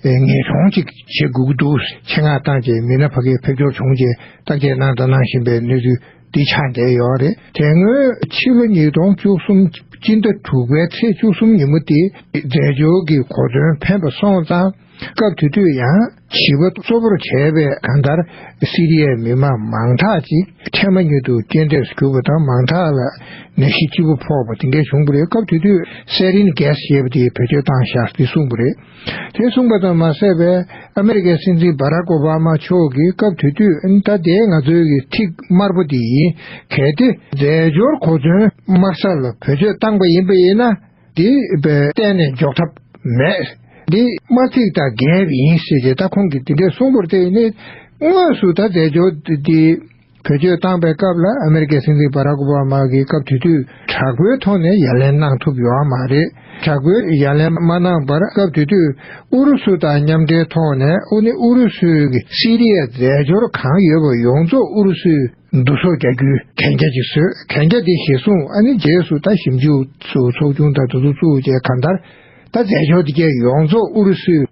དཔྱད་ངེས་འབྱུང་ཅིག་བྱེད་དགོས་ཀྱི་འདུག་ཆེད་མངགས་ཏང་ཅེ་མི་ན་བྷ་གྷལ་ཕེབས་འབྱོར་བྱུང་རྗེས་བརྟག་དཔྱད་གནང་དང་གནང་བཞིན་པའི་གནས་ཚུལ། འདི་ཆ་འདྲེས་ཡོད་རེད་དེ་སྔོན་ཕྱི་ལོ་ཉིས་སྟོང་བཅུ་གསུམ་སྤྱི་ཟླ་དྲུག་པའི་ཚེས་བཅུ་གསུམ་ཉིན་མོ་དེ་རྫས་སྦྱོར་གྱི་གོ་དོན་ཕན་པ་སོང་ཙང་སྐབས་དེ་དུས་ཡང་བྱིས་པ་གཙོ་བོར་བྱས་པའི་གང་ལྟར་སི་རི་ཡའི་མི་མང་མང་དག་ཅིག་འཕྲལ་མ་ཉིད་དུ་རྐྱེན་འདས་སུ་གྱུར་པ་དང་མང་དག་ལ་ནད་གཞི་ལྕི་པོ་ཕོག་པ་དེ་འདྲའི་བྱུང་པ་རེད་སྐབས་དེ་དུས་སེ་རིན་གེས་ཞེས་པ་དེས་བེད་སྤྱོད་བཏང་བཞག་འདི་གསུངས་པ་རེད། དེ་གསུངས་པ་དང་མ་ཟད་པའི་ཨ་མེ་རི་ཀའི་སྲིད་འཛིན་བྷ་ར་ཀོ་བྷ་མ་མཆོག་གིས་སྐབས་དེ་དུས་ད་ལྟའི་ང་ཚོའི་གི་ཐིག་དམར་པོ་དེ་ཡིན་གལ་ཏེ་རྫས་སྦྱོར་གོ་མཚོན་དམར་ས་ལ་བེད་སྤྱོད་བཏང་པ་ཡིན་པ་ཡིན་ན་དེ་གཏན་ནས་འཇོག་ཐབས་མེད། འདི་དམར་ཐིག་དང་འགལ་བ་ཡིན་ཟེར་ཞེས་ད་ཁོང་གིས་དེ་འདྲའི་གསུངས་པོར་བརྟེན་ནས་དངོས་སུ་ད་རྫས་སྦྱོར་དེ་བེད་སྤྱོད་བཏང་པའི་སྐབས་ལ་ཨ་མེ་རི་ཀའི་སྲིད་འཛིན་བྷ་རག་ཨོ་བྷ་མ་གིས་སྐབས་དེ་དུས་དྲག་པོའི་ཐོག་ནས་ཡ་ལན་གནང་ཐུབ་ཡོད་མ་རེད། དྲག་པོའི་ཡ་ལན་མ་གནང་པར་སྐབས་དེ་དུས་ཨུ་རུ་སུ་དང་མཉམ་འབྲེལ་ཐོག་ནས་ཨུ་ནི་ཨུ་རུ་སུའི་གི་སི་རི་ཡའི་རྫས་སྦྱོར་གང་ཡོད་པ་ཡོངས་རྫོགས་ཨུ་རུ་སུའི་བསྡུ་གསོག་རྒྱག་རྒྱུའི་གན་རྒྱ་ཅིག་བཟོས་གན་རྒྱ་དེ་གཞིར་བཟུང་ཨ་ནི་རྗེས་སུ་ད་ཞིབ་འཇུག་སུ་ཚོགས་ཆུང་དང་དུ་བཙུགས་བཅས་གང་ལྟར་ད་རྫས་སྦྱོར་དེ་གའི་ཡོངས་རྫོགས་ཨུ་རུ་སུའི།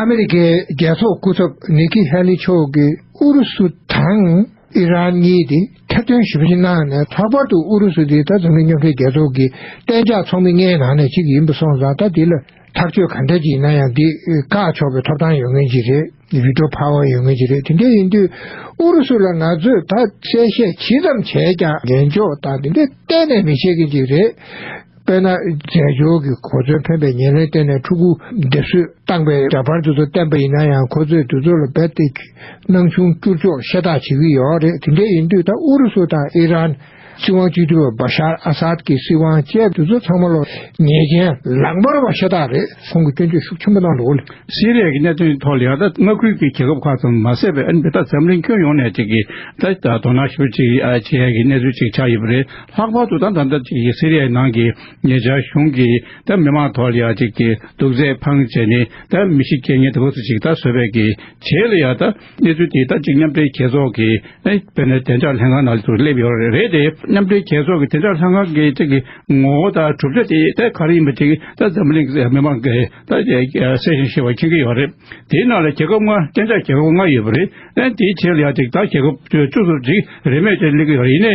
ཨ་མི་རི་ཀའི་རྒྱལ་ཚོགས་སྐུ་ཚབ་ནེ་ཁི་ཧེ་ལི་མཆོག་གིས་ཨུ་རུ་སུ་དང་ཨི་རན་གཉིས་དེ་ཐེར་འདོན་ཞིབ་བཤེར་གནང་ནས་ལྷག་པར་དུ་ཨུ་རུ་སུ་དེ་ད་གཟོད་མི་ཉམས་རྒྱལ་ཚོགས་ཀྱི་གཏན་འཇགས་ཚོགས་མི་ལྔའི་ནང་ནས་གཅིག་ཡིན་པ་སོང་ཙང་ད་དེ་ལ་ཐག་གཅོད་ག་འདྲ་ཅིག་གནང་ཡང་དེ་བཀག་ཆོག་པའི་ཐོབ་ཐང་ཡོད་ངེས་ཀྱི་རེད Veto Power ཡོད་ངེས་ཀྱི་རེད་དེ་འདྲ་ཡིན་དུས་ཨུ་རུ་སུ་ལ་ང་ཚོས་ད་གསལ་བཤད་ཇི་ཙམ་བྱས་ཀྱང་ཉན་འཇོག་དང་དེ་འདྲ་གཏན་ནས་མི་བྱེད་མཁན་ཅིག་རེད། དཔེར་ན་རྫས་སྦྱོར་གྱི་གོ་མཚོན་འཕེན་པའི་ཉེར་ལེན་བསྟན་ནས་ཕྲུ་གུ་འདེབས་གསོས་བཏང་པའི་འདྲ་པར་དེ་ཚོ་བསྟན་པ་ཡིན་ན་ཡང་ཁོ་ཚོས་དེ་ཚོ་ལ་རྦད་དེ་སྣང་ཆུང་བསྐྱུར་ཆོག་ཤ་སྟག་བྱེད་ཀྱི་ཡོད་རེད་དེ་འདྲ་ཡིན་དུས་ད་ཨུ་རུ་སུ་དང་ཨི་རན། སྲིད་དབང་བཅོས་བསྒྱུར་བ་བཱ་ཤར་ཨ་སཱད་ཀྱི་སྲིད་དབང་བཅས་དེ་ཚོ་ཚང་མ་ལོ་ཉེས་ཅན། ལག་འབར་བ་ཤ་སྟག་རེད་ཁོང་གིས་སྐྱོན་བརྗོད་ཤུགས་ཆེན་པོ་གནང་འདུག་ལ། སི་རེ་ཡའི་གནད་དོན་ཐོག་ལི་ཨ་ཐ་མངའ་ཁུལ་གྱི་རྒྱལ་ཁབ་ཁག་ཙམ་མ་ཟད་པའི་ཨན་བྷི་ཐ་འཛམ་གླིང་ཁྱོན་ཡོངས་ནས་ཅིག་གིས་ད་ལྟ་དོ་སྣང་ཞུ་ཅིག་བྱེད་ཡ་གི་གནས་ཚུལ་ཅིག་ཆགས་ཡོད་པ་རེད་ལྷག་པར་དུ་ད་ལྟ་འདི་ཅིག་སི་རི་ཡའི་ནང་གི་ཉེ་ཆར་གཞུང་གིས་ད་མི་མང་དོག་ལ་ཡ་གཅིག་གི་དུག་རྫས་འཕང་བྱས་ནས་ད་མི་ཤི་རྐྱེན་ངན་དུ་བུ་སུ་ཞིག་ད་བཟོས་བས་ཀྱི་བྱས་ལ་ཡ་ད་གནས་ཚུལ་དེ་ད་ཅིག་མཉམ་འབྲེལ་རྒྱལ་ཚོགས་ཀྱི་བོད་ནས་བདེ་འཇགས་ལྷན་ཁང་ནང་དུ་སླེབས་ཡོད་རེད་དེ་མཉམ་འབྲེལ་རྒྱལ་ཚོགས་ཀྱི་བདེ་འཇགས་ལྷན་ཁང་གི་ཅིག་གི་ངོ་བོ་ད་གྲུབ་ཆ་དེ་ད་ག་རེ་ཡིན་པ་ཅིག་ད་འཛམ་བུ་གླིང་གི་མི་མང་གི་ད་གསལ་ཞིང་ཤེས་པ་མཁྱེན་གྱི་ཡོད་རེད་དེའི་ནང་ལ་རྒྱལ་ཁབ་ལྔ་བརྟན་འཇགས་རྒྱལ་ཁབ་ལྔ་ཡོད་པ་རེད་དེའི་བྱས་ལ་ཡ་ཅིག་ད་རྒྱལ་ཁབ་བཅུ་གསུམ་ཅིག་རེས་མོས་ཀྱིས་གླེང་གི་ཡོད་རེད་ཡིན་ནའི་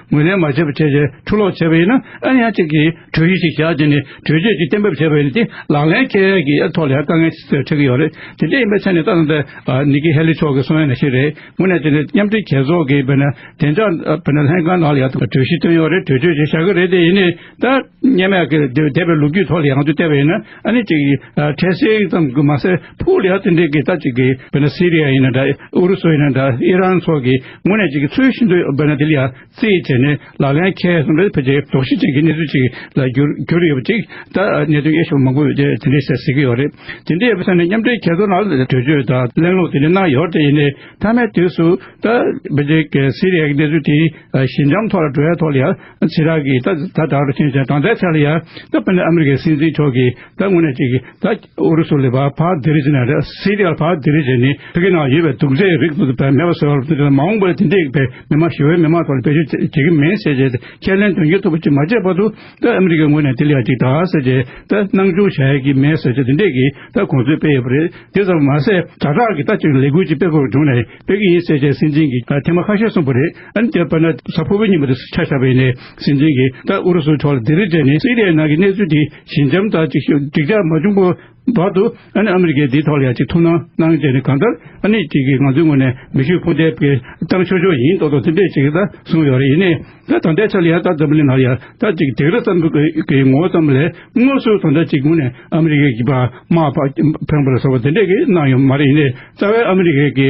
ངོས་ལེན་མ་བྱས་པར་ཁྱེད་ཀྱིས་འཕྲུལ་སློག་བྱས་པ་ཡིན་ན་ཨ་ནི་ཡང་གཅིག་གིས་གྲོས་གཞི་ཞིག་བཞག་རྗེས་ནས་གྲོས་ཆོད་ཅིག་གཏན་འབེབས་བྱས་པ་ཡིན་ན་དེ་ལག་ལེན་ཁྱེད་ཀྱི་ཐོག་ལ་ཡང་དཀའ་ངལ་ཆེ་ཆེ་གི་ཡོད་རེད་དེ་འདྲ་ཡིན་པའི་ཚེ་ནི་ཏག་ཏག་དེ་ནི་ཀི་ཧེ་ལི་མཆོག་གི་གསུང་ཡང་ཞིག་རེད་ངོ་ནས་དེ་ནི་མཉམ་འབྲེལ་རྒྱལ་ཚོགས་ཀྱི་བདེ་འཇགས་ལྷན་ཁང་ནང་ལ་ཡང་གྲོས་གཞི་བཏོན་ཡོད་རེད་གྲོས་ཆོད་ཅིག་བཞག་གི་རེད་དེ་ཡིན་ནས་ད་སྙན་མའི་ཀྱི་སྡེ་པའི་ལོ་རྒྱུས་ཐོག་ལ་ཡང་དུ་བལྟས་པ་ཡིན་ན་ཨ་ནི་ཅིག་ཁྲེ་སེའི་ཙམ་གྱི་མ་ཟད་ཕུ་ལེ་ཧ་ཐི་འདྲེ་གི་ད་ཅིག་གི་བོད་ན་སི་རི་ཡ་ཡིན་ན་འདྲ་ཨུ་རུ་སུ་ཡིན་ན་འདྲ་ཨི་རན་སོགས་ཀྱི་ངོས་ནས་ཅིག་ཚུལ་ཤིན་ཏུ་བོད་ན་དེ་ལ་ཡང་རྩིས་བྱས་ནས་ལག་ལེན་ཁྱད་གསུམ་རེ་ཕལ་ཆེར་དོགས་གཞི་ཅན་གྱི་གནས་ཚུལ་ཅིག་ལ་གྱུར་གྱུར་ཡོད་པ་ཅིག་ད་གནད་དོན་དབྱེ་ཞིབ་མང་པོས་དེ་དེ་འདྲས་བཤད་ཟིན་གྱི་ཡོད་རེད་དེ་འདྲས་ཡོད་པའི་ས་ནས་མཉམ་འབྲེལ་གྱེས་ཚོར་ལ་གྲོས་ཆོད་དང་གླེང་སློང་དེ་འདྲས་གནང་ཡོད་རེད་ཡིན་ནའི་མཐའ་མའི་དུས་སུ་ད་བོད་ཀྱི་སི་རི་ཡ་ཀྱི་གནས་ཚུལ་དེ་ཞི་འཇམ་ཐོག་ལ་བྲོ་བའི་ཐོག་ལ་ཡང། ཕྱི་རགས་ཀྱིས་ད་ད་ལྟར་ཕྱིན་ཅི་གང་བསྡད་ཚར་ཡ་ད་པེ་ནི་ཨ་མི་རི་ཀའི་སྲིད་འཛིན་མཆོག་གིས་ད་དངོས་གནས་ཅིག་ད་ཨུ་རུ་སུ་ལས་བར་བར་དེ་རིགས་ནས་རེད་སི་རི་ཡར་བར་དེ་རིགས་བྱས་ནས་ཕི་གི་ནང་ཡོད་པའི་དུག་རྫས་རིགས་དུག་པའི་མེ་བ་སོགས་རིགས་དེ་མ་འོངས་པར་དེ་འདྲས་པའི་མི་མང་ཞི་བའི་མི་མང་ཐོག་ལ་བེད་སྤྱོད་བྱེད་བྱེད་ཀྱི་མིན་ཟེར་བྱས་ཏེ་ཁས་ལེན་དོན་འཁྱོལ་ཐུབ་པ་ཅིག་མ་བྱས་བར་དུ་ད་ཨ་མི་རི་ཀའི་ངོས་ནས་དེ་ལ་ཡ་ཅིག་དང་ཟེར་བྱས་ད་སྣང་ཆུང་བྱ་ཡ་ཀྱི་མེད་ཟེར་བྱས་དེ་འདྲས་ཀྱིས་ད་གོང་ཚོད་སྤེལ་ཡོད་པ་རེད་དེ་ཙམ་མ་ཟད་དྲ་གྲགས་ཀྱིས་ད་ཅིག་ལས་འགུལ་ཅིག་སྤེལ་དགོས་བྱུང་ནས་སྤེལ་གྱི་ཡིན་ཟེར་བྱས་སྲིད་འཛིན་གྱིས་ཐེངས་མ་ཁ་ཤས་གསུངས་པ་རེད། ཨན་རྒྱལ་པོ་ན་ཚ་ཕུར་བུའི་ཉིན་མོ་དེ་ཆ་ཆགས་པའི་ནས་སྲིད་འཛིན་གྱིས་ད་ཨུ་རུ་སུའི་ཐོག་ལ་སྡིག་རིས་སྤྲད་ནས་སི་རི་ཡའི་ནང་གི་གནས་ཚུལ་དེ་ཞི་འཇམ་དང་ཅིག་ཤོས་འགྲིག་ཆགས་མ་བྱུང་པོའི་བར་དུ་ཨན་ཨ་མི་རི་ཀས་དེའི་ཐོག་ལ་ཡང་ཅིག་ཐུགས་སྣང་གནང་བྱས་ནས་གང་ལྟར་ཨ་ནི་ཅིག་གིས་ང་ཚོའི་ངོས་ནས་མི་ཤུགས་འཕོ་འདེབས་ཀྱི་སྟངས་ཤོར་ཤོར་ཡིན་ཏོག་ཏོག་ཚིམ་པས་ཅིག་ད་གསུངས་ཡོད་རེད་ཡིན་ནས་ད་ད་ལྟའི་ཆ་ལ་ཡང་ད་འཛམ་གླིང་ནང་ཡང་ད་ཅིག་སྡིག་རིས་ཙམ་གྱི་ངོ་བོ་ཙམ་ལས་དངོས་སུ་ད་ད་ཅིག་ངོས་ནས་ཨ་མི་རི་ཀས་ཀྱི་པདྨ་བྷན་བྷར་སོགས་པ་དེ་འདྲས་ཀྱིས་གནང་ཡོད་མ་རེད་ཡིན་ནས་རྩ་བའི་ཨ་མི་རི་ཀས་ཀྱི་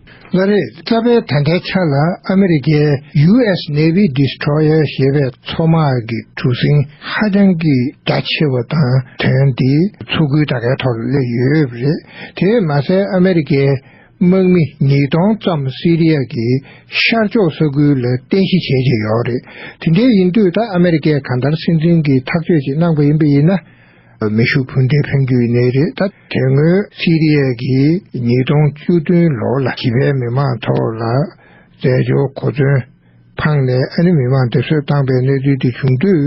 ལྔ་རེས་གཙབ་པའི་ད་ལྟའི་ཆ་ལ་ཨ་མི་རི་ཀའི US Navy Destroyer ཞེས་པའི་མཚོ་དམག་གི་གྲུ་གཟིངས་ཧ་ཅང་གི་རྒྱ་ཆེ་བ་དང་དོན་དེ་མཚོ་ཁུལ་དག་གའི་ཐོག་ལ་སླེབས་ཡོད་པ་རེད། དེས་མ་ཟད་ཨ་མི་རི་ཀའི་དམག་མི་ཉིས་སྟོང་ཙམ་སི་རི་ཡཱ་གི་ཤར་ཕྱོགས་ས་ཁུལ་ལ་རྟེན་གཞི་བྱེད་ཀྱི་ཡོད་རེད། དེ་འདྲའི་ཡིན་དུས་ད་ཨ་མི་རི་ཀས་གང་ལྟར་སྲིད་འཛིན་གྱི་ཐག་གཅོད་ཅིག་གནང་པ་ཡིན་པ་ཡིན་ན། མེ་ཤུགས་འཕུར་མདེལ་འཕེན་རྒྱུའི་གནས་རི་དང་དེ་སྔོན་སི་རི་ཡཱ་གིས་ཉིས་སྟོང་བཅུ་བདུན་ལོར་ལ་གི་བའི་མི་མང་ཐོག་ལ་རྫས་སྦྱོར་གོ་མཚོན་འཕངས་ནས་ཨ་རི་མི་མང་སྡོད་གསོལ་བཏང་པའི་གནས་ཚུལ་དེ་བྱུང་དུས་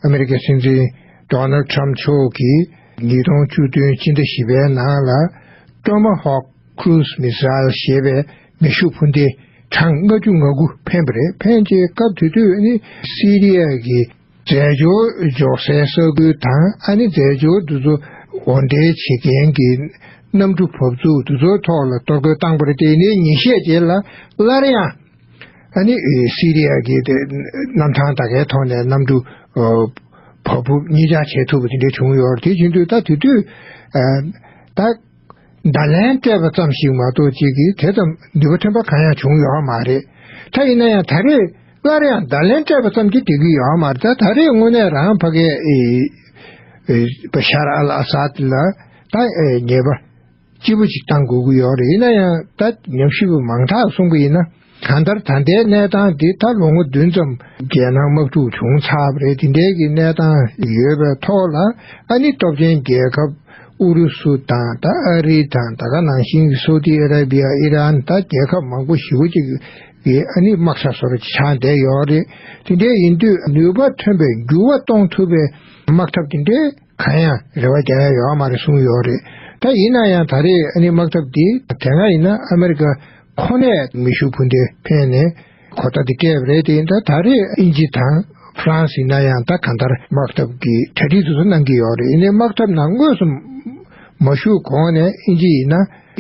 ཨ་མི་རི་ཀའི་སྲིད་འཛིན Donald Trump མཆོག་གིས་ཉིས་སྟོང་བཅུ་བདུན་སྤྱི་ཟླ་བཞི་པའི་ནང་ལ Tomahawk Cruise Missile ཞེས་པའི་མེ་ཤུགས་འཕུར་མདེལ་གྲངས་ལྔ་བཅུ་ང་དགུ་འཕེན་པ་རེད་འཕེན་རྗེས་སྐབས་དེ་དུས་ནི་སི་རི་ཡཱ་གི་འཛད་སྦྱོར་འཇོག་སའི་ས་ཁུལ་དང་ཨ་ནེ་འཛད་སྦྱོར་འདུ་ཚོགས་དབོར་འདྲེན་བྱེད་མཁན་གྱི་གནམ་གྲུ་བབས་ཚུགས་འདུ་ཚོགས་ཐོག་ལ་གཏོར་རྒོལ་བཏང་པར་བརྟེན་ནས་ཉིན་ཤས་རྗེས་ལ་སླར་ཡང་ཨ་ནེ་སི་རི་ཡཱ་གི་གནམ་ཐང་དག་གའི་ཐོག་ནས་གནམ་གྲུ་བབས་ཕུབ་གཉིས་ཆག་བྱེད་ཐུབ་པ་དེ་འདྲ་བྱུང་ཡོད་རེད་དེ་བཞིན་དུ་ད་དེ་དུས་ད་བརྡ་ལན་སྤྲད་པ་ཙམ་ཞིག་མ་གཏོགས་ཅིག་གིས་དེ་ཙམ་འདུས་པ་ཐོན་པ་གང་ཡང་བྱུང་ཡོད་མ་རེད། ད་ཡིན་ན་ཡང་ད་རེས་སླར་ཡང་བརྡ་ལན་སྤྲད་པ་ཙམ་གྱིས་འགྲིག་གི་ཡོད་མ་རེད་ད་ད་རེས་དངོས་གནས་རང་ཕ་གའི་ཤཱར་ཨལ་ཨ་སཱད་ལ་ད་ཉེས་པ་ལྕི་པོ་ཞིག་བཏང་དགོས་ཀྱི་ཡོད་རེད་ཡིན་ན་ཡང་ད་ཉམས་ཞིབ་མང་དག་གསུང་གི་ཡིན་ན། གང་ལྟར་ད་ལྟའི་གནས་སྟངས་འདི་ད་ལོ་ངོ་བདུན་ཙམ་རྒྱལ་ནང་དམག་འཁྲུག་བྱུང་ཚར་རེད་དེ་འདྲའི་གི་གནས་སྟངས་ཡོད་པའི་ཐོག་ལ་ཨ་ནི་སྟོབས་ཆེན་རྒྱལ་ཁབ་ཨུ་རུ་སུ་དང་ད་ཨ་རི་དང་ད་ག་ནང་བཞིན་གི་སོ་ཏི་ཨ་ར་བྷི་ཡ་ཨི་རན་ད་རྒྱལ་ཁབ་མང་པོ་ཞི་བོ་ཅིག་གི་ཨ་ནི་དམག་ས་སོར་ཆགས་བསྡད་ཡོད་རེད་དེ་འདྲའི་ཡིན་དུས་ནུས་པ་ཐོན་པའི་འགྱུར་བ་གཏོང་ཐུབ་པའི་དམག་འཐབ་དེ་འདྲའི། གང་ཡང་རེ་བ་རྒྱག་ཡ་ཡོད་མ་རེད་གསུངས་ཡོད་རེད་ད་ཡིན་ན་ཡང་ད་རེས་ཨ་ནི་དམག་འཐབ་འདི་དེ་སྔ་ཡིན་ན་ཨ་མེ་རི་ཀ་ཁོ་ནས་མེ་ཤུགས་འཕུར་མདེལ་འཕེན་ནས་གོ་བརྡ་འདི་སྤྲད་པ་རེད་དེ་ཡིན་ད་ད་རེས་ཨིན་ཇི་དང་ཧྥ་རན་སི་ཡིན་ན་ཡང་ད་གང་ལྟར་དམག་འཐབ་ཀྱི་གྲ་སྒྲིག་དེ་ཚོ་གནང་གི་ཡོད་རེད་ཡིན་ནའི་དམག་འཐབ་ནང་དངོས་སུ་མ་ཞུགས་གོང་ནས་ཨིན་ཇི་ཡིན་ན་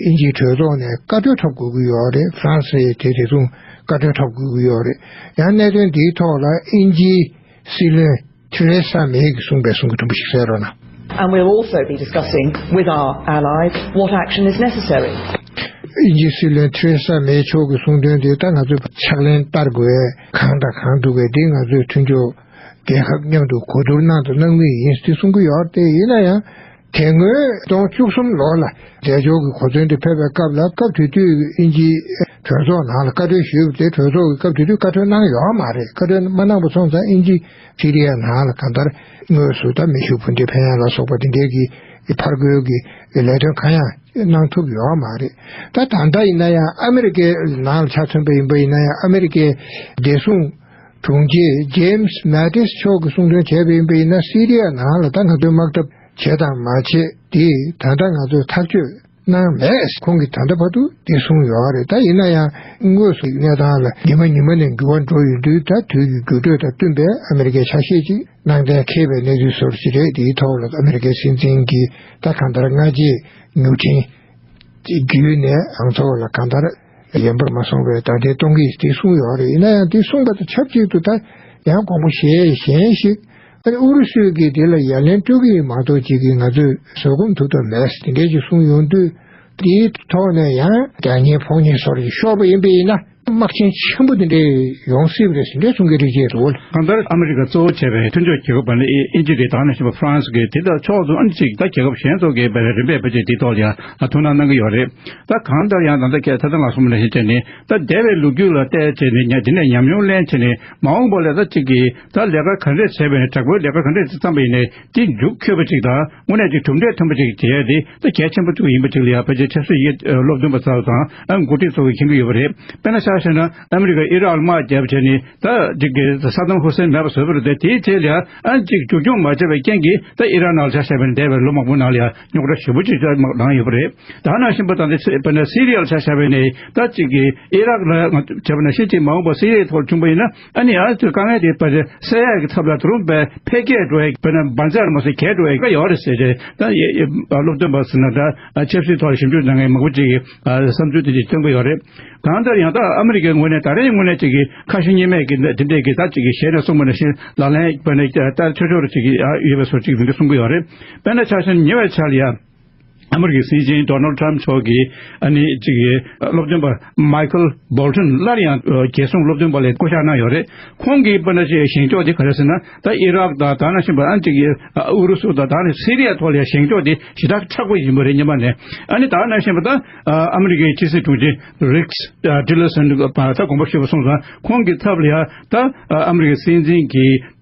ཨིན་ཇིའི་གྲོས་ཚོགས་ནས་བཀའ་འཁྲོལ་འཁྲབ་དགོས་ཀྱི་ཡོད་རེད་ཧྥ་རན་སི་དེ་དེ་མཚུངས་བཀའ་འཁྲོལ་འཁྲབ་དགོས་ཀྱི་ཡོད་རེད་ཡང་གནད་དོན་འདིའི་ཐོག་ལ་ཨིན་ཇིའི་སྲིད་བློན། ཐེ་རེ་ས་མེ་ཡིས་གསུངས་པའི་གསུང་གི་དྲུང་བུ་ཞིག་གསལ་རོགས་གནང། ཨིན་ཇི་སྲིད་བློན་ཐེ་རེ་ས་མེ་མཆོག་གི་གསུང་དོན་དེ་ད་ང་ཚོས་ཕྱག་ལེན་བསྟར་དགོས་བས་གང་དང་གང་འདུག་བས་དེ་ང་ཚོས་མཐུན་ཕྱོགས་རྒྱལ་ཁབ་མཉམ་དུ་གོ་བསྡུར་གནང་དུ་གནང་གི་ཡིན་ཏེ་གསུང་གི་ཡོད་ཡིན་ན་ཡང། དེ་སྔོན་སྟོང་བཅུ་གསུམ་ལོར་ལ་འདས་ཕྱོགས་ཀྱི་གོ་མཚོན་དུ་ཕེབས་པའི་སྐབས་ལ་སྐབས་དེ་དུས་ཀྱི་ཨིན་ཇིའི་གྲོས་ཚོགས་ནང་ལ་བཀའ་ཁྲོལ་ཞུས་པ་དེ་གྲོས་ཚོགས་ཀྱིས་སྐབས་དེ་དུས་བཀའ་ཁྲོལ་གནང་ཡོད་མ་རེད་བཀའ་ཁྲོལ་མ་གནང་པ་སོང་ཙང་ཨིན་ཇི་སི་རི་ཡ་ནང་ལ་གང་ལྟར་དངོས་སུ་ད་མི་ཤུ་བྷུན་ཏེ་བྷན་ལ་སོགས་པ་དེ་འདྲས་ཀྱི་ཕར་རྒོལ་གྱི་ལས་དོན་གང་ཡང་གནང་ཐུབ་ཡོད་མ་རེད་ད་ད་ལྟ་ཡིན་ན་ཡང་ཨ་མི་རི་ཀའི་ནང་ལ་ཆ་མཚོན་པ་ཡིན་པ་ཡིན་ན་ཡང་ཨ་མི་རི་ཀའི་བདེ་སྲུང་དྲུང་ཆེ James Mattis མཆོག་གིས་གསུང་འདོན་བྱས་པ་ཡིན་པ་ཡིན་ན་སི་རི་ཡ་ནང་ལ་ད་ང་ཚོས་དམག་འཐབ་བྱས་དང་མ་བྱས་དེ་ད་ལྟ་ང་ཚོས་ཐག་གཅོད་གནང་མེད་ཁོང་གིས་ད་ལྟ་བར་དུ་དེ་གསུངས་ཡོད་རེད་ད་ཡིན་ན་ཡང་དངོས་སུ་གནས་སྟངས་ལ་ཉི་མ་ཉི་མ་ནས་འགྱུར་བ་འགྲོ་ཡོད་དུས་ད་དུས་ཀྱི་འགྱུར་འགྲོས་དང་བསྟུན་པའི་ཨ་མེ་རི་ཀའི་ཆ་ཤས་ཅིག་ནང་གཏན་འཁེལ་བའི་གནས་ཚུལ་ཟུར་ཞིག་རེད་དེའི་ཐོག་ལ་ཨ་མེ་རི་ཀའི་སྲིད་འཛིན་གྱིས་ད་གང་ལྟར་སྔ་རྗེས་མྱུར་འཕྲིན་བརྒྱུད་ནས་ཨང་ཚོགས་ལ་གང་ལྟར། གཞན་པར་མ་གསུངས་པས་ད་ལྟའི་སྟོང་གིས་དེ་གསུངས་ཡོད་རེད་ཡིན་ན་ཡང་དེ་གསུངས་པ་དང་ཆབས་ཅིག་ཏུ་ད་ཡང་དགོངས་པ་གཞན་གཞན་ཞིག་ཨ་རི་ཨུ་རུ་སུས་ཀྱིས་དེ་ལ་ཡ་ལན་སྤྲོད་ཀྱི་ཡིན་མ་གཏོགས་ཅིག་གིས་ང་ཚོས་བཟོད་སྒོམ་ཐུབ་ཐབས་མེད་དེ་འདྲས་ཅིག་གསུངས་ཡོང་དུས་དེའི་ཐོག་ནས་ཡང། རྒྱ་ཉེ་ཕོག་ཉེ་སོགས་ཀྱིས་ཤོར་བ་ཡིན་པས་ཡིན་ན་དམག་ཆེན་ཆེན་པོ་དེ་འདྲས་ཡོང་སྲིད་པ་རེད་ཟེར་འདྲས་གསུངས་ཀྱི་རེད་ཅེས་རེད་བོད། གང་ལྟར་ཨ་མི་རི་ཀ་གཙོ་བོ་བྱས་པའི་མཐུན་ཕྱོགས་རྒྱལ་ཁབ་པ་ལི་ཨེ་ཨེ་ཅི་རེ་དྭགས་ནས་བྱོན་པ་ཧྥ་རན་སི་གིས་དེ་ལྟར་ཕྱོགས་བསྡོམས་ཨང་གཅིག་ད་རྒྱལ་ཁབ་གཞན་ཚོགས་ཀྱི་རིམ་པས་ཕེབས་རྗེས་དེའི་ཐོག་ལ་ཡང་ཐུགས་སྣང་གནང་གི་ཡོད་རེད། ད་གང་ལྟར་ཡང་ད་ལྟ་ཁྱེད་ད་ལྟ་ང་སོ་མ་ལེན་བྱེད་ནི་ད་སྡེ་བའི་ལུགས་རྒྱུད་ལ་བལྟས་བྱེད་ནི་ཉག་དེ་ནས་ཉམས་མྱོང་ལེན་བྱེད་ནི་མ་འོངས་པ་ལས་ད་གཅིག་གིས་ད་ལས་ཀ་ག་འདྲས་བྱས་པས་ནི་དྲག་པོའི་ལས་ཀ་ག་འདྲས་དེ་བརྩམས་པ་ཡིན་ནི་དེ་མཇུག་འཁྱོལ་བ་ཅིག་དང་དངོས་གནས་ཀྱི་གྲུབ་འབྲས་ཐོན་པ་ཅིག་བྱེད་ཡ་དེ་ད་གལ་ཆེན་པོ་གཅིག་ཡིན་པ་ཅིག་ལ་ཡང་ཕལ་ཆེར་ཆབ་སྲིད་ཡིག་སློབ་སྟོན་པ་ཚགས་དང་ཨ་མགོ་ཁྲིད་སོགས་ཀྱིས་མཁྱེན་གྱི་ཡོད་པ་རེད་དཔེར་ན་ཤ་བཤད་ན་ཨ་མི་རི་ཀ་ཨི་རག་དམག་རྒྱབ་བྱས་ནི་ད་གཅིག་གིས་སཱ་དཱམ་ཧུ་སེན་མེད་པ་བཟོས་པ་རེད་དེ་དེའི་ཐད་ལ་ཡང་ཨ་གཅིག་བཅོས་སྐྱོང་མ་བྱས་པའི་རྐྱེན་གྱིས་ད་ཨི་རག་ནང་ལ་ཤ་བཤད་པ་ནི་འདས་པའི་ལོ་མང་པོའི་ནང་ལ་ཡང། རྙོག་དྲ་ཞི་བོ་ཅིག་ཅར་མར་ལངས་ཡོད་པ་རེད་ད་ནང་ཤིན་པོ་དང་དེ་ཚེ་བོད་ནས་སི་རི་ཡར་ཆ་བཞག་པའི་ནས་ད་ཅིག་གིས་ཨི་རག་ལ་ང་བྱས་པ་ནས་ཤི་ཅིག་མ་འོངས་པར་སི་རི་ཡའི་ཐོག་བྱུང་པ་ཡིན་ན་ཨ་ནི་ཨ་ཚོས་དཀའ་ངལ་དེ་བར་སེལ་ཡག་གི་ཐབས་ལ་དུ་རུང་བས་འཕེལ་རྒྱས་འགྲོ་བའི་བོད་ནས་འབར་འཛག་མ་བཟོ་གལ་འགྲོ་བའི་ཀ་ཡོག་རེད་ཟེར་རྗེས་ད་སློབ་སྟོན་པ་ཟེར་ན་ད་ཆབ་སྲིད་ཐོག་ཞིབ་འཇུག་མཛད་མཁན་མང་པོ་ཅིག་གིས་བསམ་ཚུལ་དེ་ཅིག་སྟོན་གི་ཡོད་རེད་གང་ལྟར་ཡང་དག་ཨ་མི་རི་ཀའི་ངོས་ནས་ད་རེས་དངོས་གནས་ཅིག་གིས་ཁ་ཞེ་གཉིས་མེད་ཀྱིས་དེ་འདྲས་ཀྱིས་ད་ཅིག་གིས་ཞལ་ནས་གསུངས་པ་ནས་བཞིན་ལག་ལེན་བོད་ནས་ལྟ་ཆོས་ཆོས་རེ་ཅིག་ཡོད་པའི་སོར་ཅིག་མིང་གིས་གསུང་གི་ཡོད་རེད། དཔེར་ན་ཆགས་ཞེན་ཉེ་བའི་ཆར་ཡང་ཨ་མི་རི་ཀའི་སྲིད་འཛིན་རྡོ་ནལ་ཏྲམ་མཆོག་གིས་ཨ་ནེ་གཅིག་གི་སློབ་སྟོན་པ་མཱི་ཁལ་སྦོལ་ཏོན་སླར་ཡང་རྒྱལ་སྲུང་སློབ་སྟོན་པ་ལས་བསྐོ་གཞག་གནང་ཡོད་རེད། ཁོང་གིས་དཔེར་ན་ཆེས་བཞེངས་སྐྱོགས་དེ་ག་རེ་ཟེར་ན་ད་ཨི་རག་དང་ད་ནང་བཞིན་པ་ཨ་ཅིག་གི་ཨུ་རུ་སུ་དང་ད་ནི་སི་རི་ཡ་ཐོག་ལས་བཞེངས་སྐྱོགས་དེ་ཞེ་དྲག་ཁྲག་པོ་ཡིན་པ་རེད་སྙམ་པ་ནས་ཨ་ནི་ད་ནང་བཞིན་པ་ད་ཨ་མི་རི་ཀའི་ཕྱི་སྲིད་དྲུང་ཆེ་རིགས་ཏི་ལེ་སོན་ད་དགོངས་པ་ཞུས་པ་སོང་ཙང་ཁོང་གིས་ཐབས་ལ་ཡ་ད་ཨ་མི་རི་ཀའི་སྲིད་འཛིན་གྱི།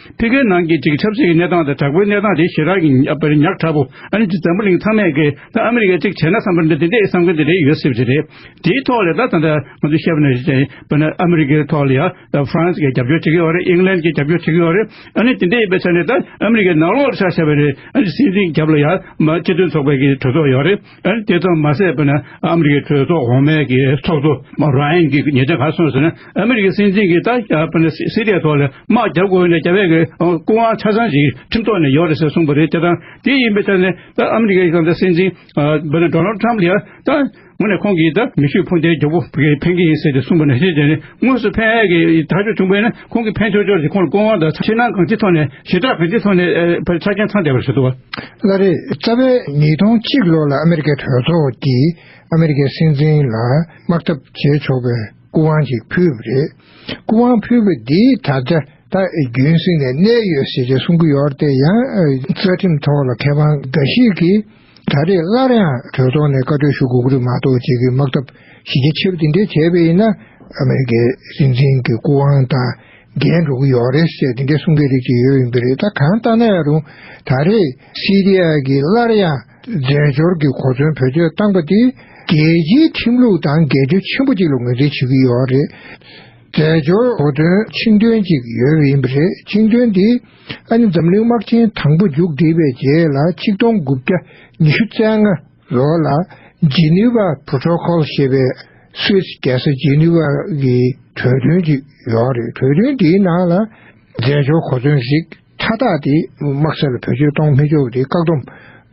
ཕི་གའི་ནང་གི་གཅིག་ཆབ་སྲིད་ཀྱི་གནས་སྟངས་དང་དྲག་པོའི་གནས་སྟངས་དེ་ཞེ་དྲག་གི་ཉག་ཕྲ་པོ་ཨ་རིའི་སྤྱི་ཙམ་པོ་གླིང་ཚང་མས་གིས་ད་ཨ་མི་རི་ཀས་གཅིག་བྱས་ན་བསམ་པ་འདི་འདི་འདྲའི་བསམ་མཁན་འདི་འདྲའི་ཡོད་སྲིད་པ་དེ་རེད། དེའི་ཐོག་ལས་ད་ད་ལྟ་ང་ཚོས་བཤད་པ་ནི་རེད་པ་ནི་ཨ་མི་རི་ཀའི་ཐོག་ལ་ཡང་ད་ཧྥ་རན་སི་ཀས་རྒྱབ་སྐྱོར་བྱེད་ཀྱི་ཡོད་རེད་ཨིང་ལན་གྱིས་རྒྱབ་སྐྱོར་བྱེད་ཀྱི་ཡོད་རེད་ཨ་ནི་དེ་འདྲའི་ཡིན་པའི་ཆ་ནས་ད་ཨ་མི་རི་ཀའི་ནང་ལོགས་ལ་ཆ་བཤད་པ་རེད་ཨ་རིའི་སྲིད་འཛིན་རྒྱབ་ལ་ཡང་མ་སྤྱི་མཐུན་ཚོགས་པའི་གི་གྲོས་ཚོགས་ཡོད་རེད། ཨ་དེ་ཙམ་མ་ཟད་པ་ནི་ཨ་མི་རི་ཀའི་གྲོས་ཚོགས་འོག་མའི་གི་ཚོགས་གཙོ Ryan གིས་ཉེ་ཆར་ག་གསུངས་ཟེར་ན་ཨ་མི་རི་ཀའི་སྲིད་འཛིན་གིས་ད་ཆ་པ་ནི་སི་རི་ཡའི་ཐོག་ལ་དམག་རྒྱག་དགོས་ནས་རྒྱ་བལ་གི་སྐུ་དབང་ཆ་ཚང་ཞིག་ཁྲིམས་ཐོག་ནས་ཡོད་རེད་ཟེར་གསུངས་པ་རེད་དེ་དང་དེ་ཡིན་པའི་ཆ་ནས་ད་ཨ་མི་རི་ཀའི་སྲིད་འཛིན་པ་ནི Donald Trump ལ་ཡང་ད་ངོ་ནས་ཁོང་གིས་ད་མེ་ཤུགས་འཕུར་མདེལ་རྒྱོབ་པོ་གི་ཕན་གི་ཡིན་ཟེར་ཏེ་གསུངས་པ་ནི་ཤེས་བྱས་ནས་དངོས་སུ་ཕན་གི་ཐག་གཅོད་བྱུང་པས་ན། ཁོང་གིས་ཕན་ཆོག་ཆོག་ཅིག་ཁོང་ལ་སྐུ་དབང་དང་ཕྱི་ནང་གང་ཅིའི་ཐོག་ནས་ཞེ་དྲག་གང་ཅིའི་ཐོག་ནས་ཕར་ཆ་རྐྱེན་ཚང་བསྡད་པར་བྱེད་ཐུབ་བ། ལ་རེད། རྩ་བའི་ཉིས་སྟོང་གཅིག་ལོ་ལ་ཨ་མེ་རི་ཀའི་གྲོས་ཚོགས་ཀྱིས་ཨ་མེ་རི་ཀའི་སྲིད་འཛིན་ལ་དམག་འཐབ་བྱེད་ཆོག་པའི་སྐུ་དབང་ཞིག་ཕུལ་བ་རེད། སྐུ་དབང་ཕུལ་བ་འདིས་ད་ཆ་ད་རྒྱུན་སྲིད་ནས་གནས་ཡོད་ཞེས་ཀྱང་གསུང་གི་ཡོད་དེ་ཡང་རྩ་ཁྲིམས་ཐོག་ལ་མཁས་དབང་འགའ་ཞིག་གིས། ད་རེས་སླར་ཡང་གྲོས་ཚོགས་ནས་བཀའ་ཁྲོལ་ཞུ་གོ་གི་མ་གཏོགས་བྱེད་ཀྱི་དམག་འཐབ་གཞི་རྒྱ་ཆེ་རུ་དེ་འདྲས་བྱས་པས་ཡིན་ན་ཨ་མི་རི་ཀའི་སྲིད་འཛིན་གྱི་སྐུ་དབང་དང་འགལ་འགྲོ་གི་ཡོད་རེད་ཟེར་དེ་འདྲས་གསུང་མཁན་རིགས་ཅིག་ཡོད་ཡིན་གྱི་རེད་ད་གང་ལྟ་ན་ཡང་རུང་ད་རེས་སི་རི་ཡ་གིས་སླར་ཡང་རྫས་སྦྱོར་གྱི་གོ་མཚོན་བེད་སྤྱོད་བཏང་པ་དེས་རྒྱལ་སྤྱིའི་ཁྲིམས་ལུགས་དང་འགལ་འབྱོར་ཆེན་པོ་ཅིག་ལ་ངོས་འཛིན་བྱེད་ཀྱི་ཡོད་རེད། རྫས་སྦྱོར་གོ་དོན་ཆིངས་དོན་ཅིག་ཡོད་པས་ཡིན་པ་རེད་ཆིངས་དོན་དེ། ཨ་ནི་འཛམ་གླིང་དམག་ཆེན་དང་པོ་མཇུག་བསྒྲིལ་བའི་རྗེས་ལ་ཆིག་སྟོང་དགུ་བརྒྱ་ཉི་ཤུ་རྩ་ལྔ་ལོར་ལ Geneva Protocol ཞེས་པའི Swiss རྒྱལ་ས་ཇི་ནི་ཝཱ་གི་གྲོས་མཐུན་ཅིག་ཡོད་རེད་གྲོས་མཐུན་དེའི་ནང་ལ་རྫས་སྦྱོར་གོ་མཚོན་ཞིག་མཐའ་དག་དེ་དམག་སྲིད་ལ་བེད་སྤྱོད་གཏོང་མི་ཆོག་དེ་བཀག་སྡོམ་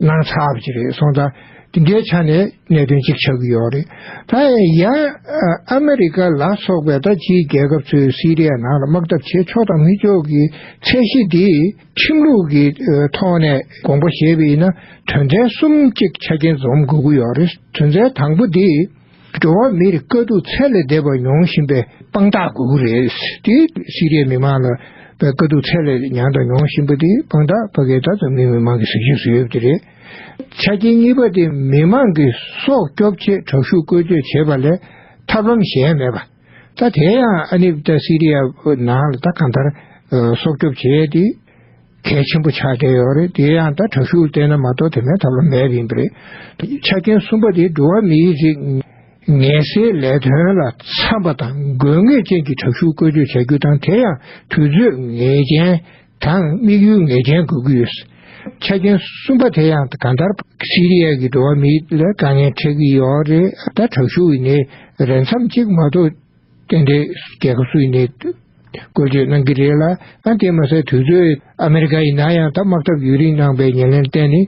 གནང་ཚར་བ་ཅིག་རེད་སོང་ཙང་དེ་འདྲའི་ཆ་ནས། གནད་དོན་གཅིག་ཆགས་ཀྱི་ཡོད་རེད། ད་ཡང་ཨ་མི་རི་ཀ་ལ་སོགས་པའི་ད་ཅིའི་རྒྱལ་ཁབ་ཚོས་སི་རི་ཡ་ནང་ལ་དམག་འཐབ་བྱེད་ཆོག་དང་མི་ཆོག་གི་ཚད་གཞི་འདི་ཁྲིམས་ལུགས་ཀྱི་ཐོག་ནས་དགོངས་པ་བཞེས་པ་ཡིན་ན་དོན་ཚན་གསུམ་གཅིག་ཆ་རྐྱེན་འཛོམས་དགོས་ཀྱི་ཡོད་རེད་དོན་ཚན་དང་པོ་འདི་འགྲོ་བ་མིར་དཀའ་སྡུག་ཚད་ལས་འདས་པ་མྱོང་བཞིན་པའི་དཔང་རྟགས་དགོས་ཀྱི་རེད་དེ་སི་རི་ཡའི་མི་མང་ལ་དཀའ་སྡུག་ཚད་ལས་ཉང་དང་མྱོང་བཞིན་པ་དེ་དཔང་རྟགས་ཕ་གི་ད་ཙམ་ནི་མི་མང་གི་གཟིགས་ཞིབ་སུ་ཡོད་པ་དེ་རེད། ཆ་རྐྱེན་གཉིས་པ་དེ་མི་མང་གི་སྲོག་སྐྱོབ་ཆེད་དྲག་ཤུགས་བཀོལ་སྤྱོད་བྱེད་པ་ལས་ཐབས་ལམ་གཞན་མེད་པ། ད་དེ་ཡང་ཨ་ནིབ་ད་སི་རི་ཡ་ནང་ལ་ད་གང་ལྟར་སྲོག་སྐྱོབ་བྱེད་དེ་གལ་ཆེན་པོ་ཆགས་བསྡད་ཡོད་རེད་དེ་ཡང་ད་དྲག་ཤུགས་བསྟེན་ན་མ་གཏོགས་དེ་མེད་ཐབས་ལམ་མེད་པ་ཡིན་པ་རེད། ཆ་རྐྱེན་གསུམ་པ་དེ་འགྲོ་བ་མིའི་རིགས་ངལ་སེལ་ལས་དོན་ལ་འཚམ་པ་དང་དགོས་ངེས་ཅན་གྱི་དྲག་ཤུགས་བཀོལ་སྤྱོད་བྱ་རྒྱུ་དང་དེ་ཡང་དུས་ཚོད་ངེས་ཅན་དང་དམིགས་ཡུལ་ངེས་ཅན་དགོས་ཀྱི་ཡོད། ཆ་རྐྱེན་གསུམ་པ་དེ་ཡང་གང་ལྟར་སི་རི་ཡཱ་གི་འགྲོ་བ་མིའི་ལ་དཀའ་ངལ་འཕྲད་ཀྱི་ཡོད་རེད་ད་དྲག་ཤུགས་ཡི་ནས་རེ་མཚམས་གཅིག་མ་གཏོགས་དེ་འདྲའི་རྒྱལ་ཁབ་སུ་ཡི་ནས་བཀོལ་སྤྱོད་གནང་གི་རེད་ལ་ཨང་དེ་མ་ཟད་དུས་ཚོད་ཨ་མི་རི་ཀ་ཡི་ན་ཡང་ད་དམག་འཐབ་ཡུན་རིང་གནང་པའི་ཉེར་ལེན་གཏན་ནས་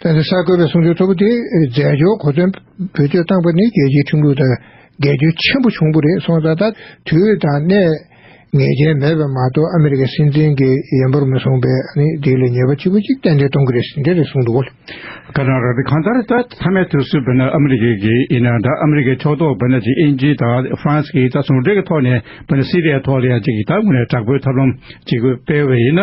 ཐེངས་འདིར་གསར་འགོད་པའི་གསུང་ཆོས་གཙོ་བོ་དེ་རྫས་སྦྱོར་གོ་དོན་བེད་སྤྱོད་བཏང་པ་ནི་རྒྱལ་སྤྱིའི་ཁྲིམས་ལུགས་དང་འགལ་རྒྱུ་ཆེན་པོ་བྱུང་པོ་རེད་སོང་ད་ལྟ་དུས་དང་གནས་ངེས་ཅན་མེད་པས་མ་གཏོགས་ཨ་མི་རི་ཀའི་སྲིད་འཛིན་གྱི་ཡན་པོར་མི་སོང་པས་ནི་འདི་ལས་ཉེས་པ་ལྕི་པོ་གཅིག་གཏན་འཁེལ་གཏོང་གི་རེད་ཟེར་འདྲ་རེད་གསུངས་འདུག། ཁ་སང་ར་བའི་གང་ལྟར་ད་མཐའ་མའི་དུས་སུ་བོད་ནི་ཨ་མི་རི་ཀའི་གི་ཡིན་ན་ད་ཨ་མི་རི་ཀའི་ཕྱོགས་གཏོགས་བོད་ནི་གཅིག་ཨིན་ཇི་དང་ཧྥ་རན་སི་གིས་ད་ཟུང་འབྲེལ་གྱི་ཐོག་ནས་བོད་ནི་སི་རི་ཡའི་ཐོག་ལ་ཡང་གཅིག་གི་ད་ངོས་ནས་དྲག་པོའི་ཐབས་ལམ་གཅིག་པོ་སྤེལ་བས་ཡིན་ན།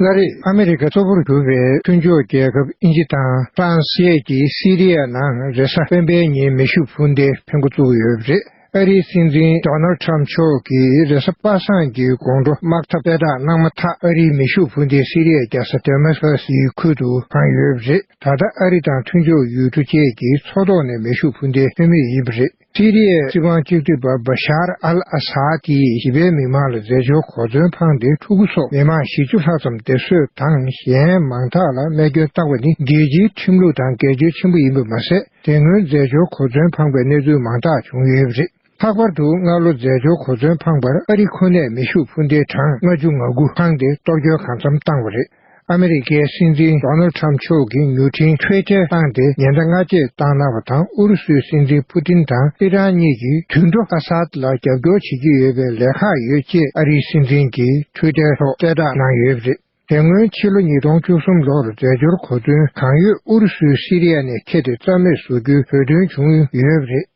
ལྔ་རེད། ཨ་མི་རི་ཀ་གཙོ་བོར་གྱུར་པའི་མཐུན་ཕྱོགས་རྒྱལ་ཁབ་དབྱིན་ཇི་དང་ཧྥ་རན་སི་བཅས་ཀྱིས་སི་རི་ཡ་ནང་རེ་ས་སྤེན་པའི་ཉིན་མེ་ཤུགས་འཕུར་མདའི་འཕེན་སྒོ་བཙུགས་ཡོད་པ་རེད། ཨ་རིའི་སྲིད་འཛིན་ཏོ་ནལ་ཁྲམ་མཆོག་གིས་རེ་ས་པ་སངས་ཀྱི་དགོང་དྲོ་དམག་འཐབ་གསལ་བསྒྲགས་གནང་མ་ཐག་ཨ་རིའི་མེ་ཤུགས་འཕུར་མདའི་སི་རི་ཡའི་རྒྱལ་ས་དེ་མ་སྐ་སི་ཁུལ་དུ་འཕངས་ཡོད་པ་རེད། ད་ལྟ་ཨ་རི་དང་མཐུན་ཕྱོགས་ཡུལ་གྲུ་བཅས་ཀྱི་མཚོ་ཐོག་ནས་མེ་ཤུགས་འཕུར་མདའི་འཕེན་མུས་ཡིན་པ་རེད། སི་རི་ཡའི་སྲིད་དབང་གཅིག་སྡུད་པ Bashar al-Assad ཀྱིས་བྱིས་པའི་མི་མང་ལ་རྫས་སྦྱོར་གོ་མཚོན་འཕངས་ཏེ་ཕྲུ་གུ་སོགས་མི་མང་བཞི་བཅུ་ལྷག་ཙམ་སྡེབ་གསོད་དང་གཞན་མང་དག་ལ་རྨས་སྐྱོན་བཏང་བ་ནི་རྒྱལ་སྤྱིའི་ཁྲིམས་ལུགས་དང་འགལ་འཁྱོལ་ཆེན་པོ་ཡིན་པ་མ་ཟད་དེ་སྔོན་རྫས་སྦྱོར་གོ་མཚོན་འཕངས་པའི་གནས་ཚུལ་མང་དག་བྱུང་ཡོད་པ་རེད། ལྷག་པར་དུ་སྔར་ལོ་རྫས་སྦྱོར་གོ་མཚོན་འཕངས་པར་ཨ་རི་ཁོ་ནས་མེ་ཤུགས་འཕུར་མདེལ་གྲངས་ལྔ་ཅུ་ང་དགུ་འཕངས་ཏེ་གཏོར་སྐྱོན་གང་འཚམ་བཏང་བ་རེད། ཨ་མི་རི་ཀའི་སྲིད་འཛིན་རོ་ནལ་ཁྲམ་མཆོག་གིས་མྱུར་འཕྲིན་ཕྱི་བསྐྱལ་བཏང་སྟེ་ཉེན་བརྡ་སྔ་རྗེས་བཏང་གནང་བ་དང་ཨུ་རུ་སུའི་སྲིད་འཛིན་ཕུ་ཏིན་དང་ཨི་རན་གཉིས་ཀྱིས་དུད་འགྲོ་ཨ་སཱད་ལ་རྒྱབ་སྐྱོར་བྱེད་ཀྱི་ཡོད་པའི་ལས་ཁག་ཡོད་ཅེས་ཨ་རིའི་སྲིད་འཛིན་གྱི Twitter ཐོག་གསལ་བསྒྲགས་གནང་ཡོད་པ་རེད། དེ་སྔོན་ཕྱི་ལོ་ཉིས་སྟོང་བཅུ་གསུམ་ལོར་རྫས་སྦྱོར་གོ་མཚོན་གང་ཡོད་ཨུ་རུ་སུའི་སི་རི་ཡ་ནས་ཁྱེར་ཏེ་རྩ་མེད་བཟོ་རྒྱུའི་བོད་དོན་བྱུང་ཡོད་པ་རེད།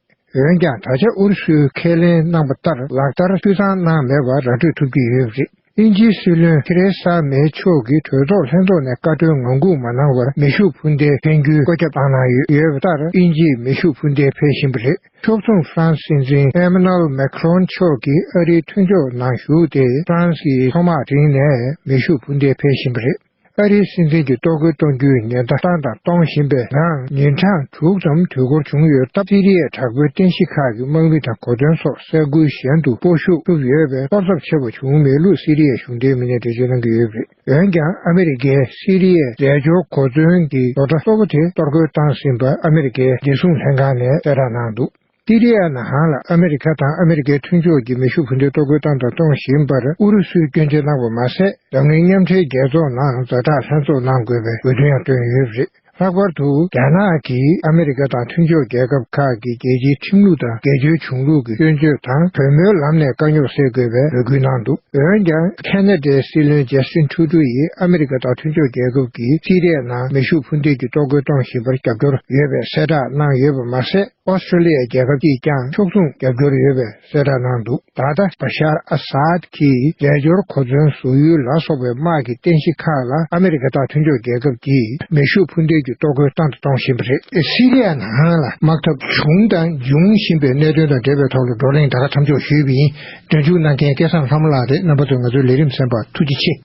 འོན་ཀྱང་ད་ཆ་ཨུ་རུ་སུས་ཁས་ལེན་གནང་པ་ལྟར་ལག་བསྟར་འཐུས་ཚང་གནང་མེད་པ་ར་སྤྲོད་ཐུབ་ཀྱི་ཡོད་པ་རེད། དབྱིན་ཇིའི་སྲིད་བློན་ཐེ་རེ་ས་མེ་མཆོག་གིས་གྲོས་ཚོགས་ལྷན་ཚོགས་ནས་བཀའ་ཁྲོལ་ངང་སྒུག་མ་གནང་བར་མེ་ཤུགས་འཕུར་མདེལ་འཕེན་རྒྱུའི་བཀོད་ཁྱབ་བཏང་གནང་ཡོད་ཡོད་པ་ལྟར་དབྱིན་ཇིས་མེ་ཤུགས་འཕུར་མདེལ་འཕེལ་བཞིན་པ་རེད་ཕྱོགས་མཚུངས་ཧྥ་རན་སིའི་འཛིན Emmanuel Macron མཆོག་གིས་ཨ་རིའི་མཐུན་ཕྱོགས་ནང་ཞུགས་ཏེ་ཧྥ་རན་སིའི་ཐོག་དམག་དྲངས་ནས་མེ་ཤུགས་འཕུར་མདེལ་འཕེལ་བཞིན་པ་རེད། ཨ་རིའི་སྲིད་འཛིན་གྱི་ལྟོ་གོས་གཏོང་རྒྱུའི་ཉེན་བརྡ་བཏང་དང་གཏོང་བཞིན་པའི་ནའང་ཉིན་གྲངས་དྲུག་ཙམ་དུས་འགོར་བྱུང་ཡོད་སྟབས་སི་རི་ཡའི་དྲག་པོའི་རྟེན་གཞི་ཁག་གི་དམག་མི་དང་གོ་དོན་སོགས་ས་ཁུལ་གཞན་དུ་སྤོ་ཤུགས་ཐུབ་ཡོད་པས་ཐོབ་ཚབས་ཆེ་བ་བྱུང་མེད་ལུགས་སི་རི་ཡའི་གཞུང་འབྲེལ་མི་སྣས་འགྲེལ་བརྗོད་གནང་གི་ཡོད་རེད། འོན་ཀྱང་ཨ་མི་རི་ཀས་སི་རི་ཡའི་རྫས་སྦྱོར་གོ་མཚོན་གྱི་རྡོག་སྒྲ་གཙོ་བོ་དེ་གཏོར་རྒོལ་བཏང་ཟིན་པ་ཨ་མི་རི་ཀའི་བདེ་སྲུང་ལྷན་ཁང་ནས་གསལ་བསྒྲགས་གནང་འདུག་སི་རི་ཡཱ་ནང་ཧང་ལ་ཨ་མི་རི་ཁ་དང་ཨ་མི་རི་ཀའི་མཐུན་ཕྱོགས་ཀྱི་མེ་ཤུགས་འཕུར་མདེལ་གཏོར་རྒོལ་བཏང་དང་གཏོང་བཞིན་པར་ཨུ་རུ་སུས་སྐྱོན་བརྗོད་གནང་བ་མ་ཟད་འཛམ་གླིང་མཉམ་འབྲེལ་རྒྱལ་ཚོགས་ནང་མཛའ་གྲགས་ལྷན་ཚོགས་གནང་དགོས་པའི་འབོད་སྐྲུན་ཡང་བཏོན་ཡོད་པ་རེད། ལྷག་པར་དུ་རྒྱ་ནག་གིས་ཨ་མི་རི་ཀ་དང་མཐུན་ཕྱོགས་རྒྱལ་ཁབ་ཁག་གི་རྒྱལ་སྤྱིའི་ཁྲིམས་ལུགས་དང་འགལ་བརྗོད་བྱུང་ལུགས་ཀྱི་སྐྱོན་བརྗོད་དང་གྲོས་མོལ་ལམ་ནས་དཀའ་རྙོག་སེལ་དགོས་པའི་འབོད་སྐུལ་གནང་འདུག་འོན་ཀྱང་ཁེ་ནེ་ཏའི་སྲིད་བློན་ཇེ་སི་ཁྲུ་ཁྲུ་ཡིས་ཨ་མི་རི་ཀ་དང་མཐུན་ཕྱོགས་རྒྱལ་ཁབ་ཀྱིས་སི་རི་ཡཱ་ནང་མེ་ཤུགས་འཕུར་མདེལ་གྱི་གཏོར་རྒོལ་གཏོང་བཞིན་པར་རྒྱབ་སྐྱོར་ཡོད་པའི་གསལ་བསྒྲགས་གནང་ཡོད་པ་མ་ཟད། ཨོ་སི་ཁྲུ་ལི་ཡ་རྒྱལ་ཁབ་ཀྱིས་ཀྱང་ཕྱོགས་མཚུངས་རྒྱབ་སྐྱོར་ཡོད་པའི་གསལ་བསྒྲགས་གནང་འདུག་ད་ལྟ་བ་ཤར་ཨ་སཱད་ཀྱིས་རྒྱལ་སྦྱོར་གོ་མཚོན་བཟོ་ཡུལ་ལ་སོགས་པའི་དམག་གི་རྟེན་གཞི་ཁག་ལ་ཨ་མི་རི་ཀ་དང་མཐུན་ཕྱོགས་རྒྱལ་ཁབ་ཀྱིས་མེ་ཤུགས་འཕུར་མདེལ་གྱི་གཏོར་རྒོལ་བཏང་དང་གཏོང་བཞིན་པ་རེད། སི་རི་ཡ་ནང་ལ་དམག་འཐབ་བྱུང་དང་འབྱུང་བཞིན་པའི་གནད་དོན་དང་འབྲེལ་བའི་ཐོག་ལ་བགྲོ་གླེང་ད་ག་མཚམས་འཇོག་ཞུས་པ་ཡིན། འབྲེལ་འཇུག་གནང་མཁན་སྐལ་བཟང་ལྷ་མོ་ལགས་རེད་རྣམ་པ་ཚོས་ང་ཚོའི་ལས་རིམ་གསན་པར་ཐུགས་རྗེ་ཆེ།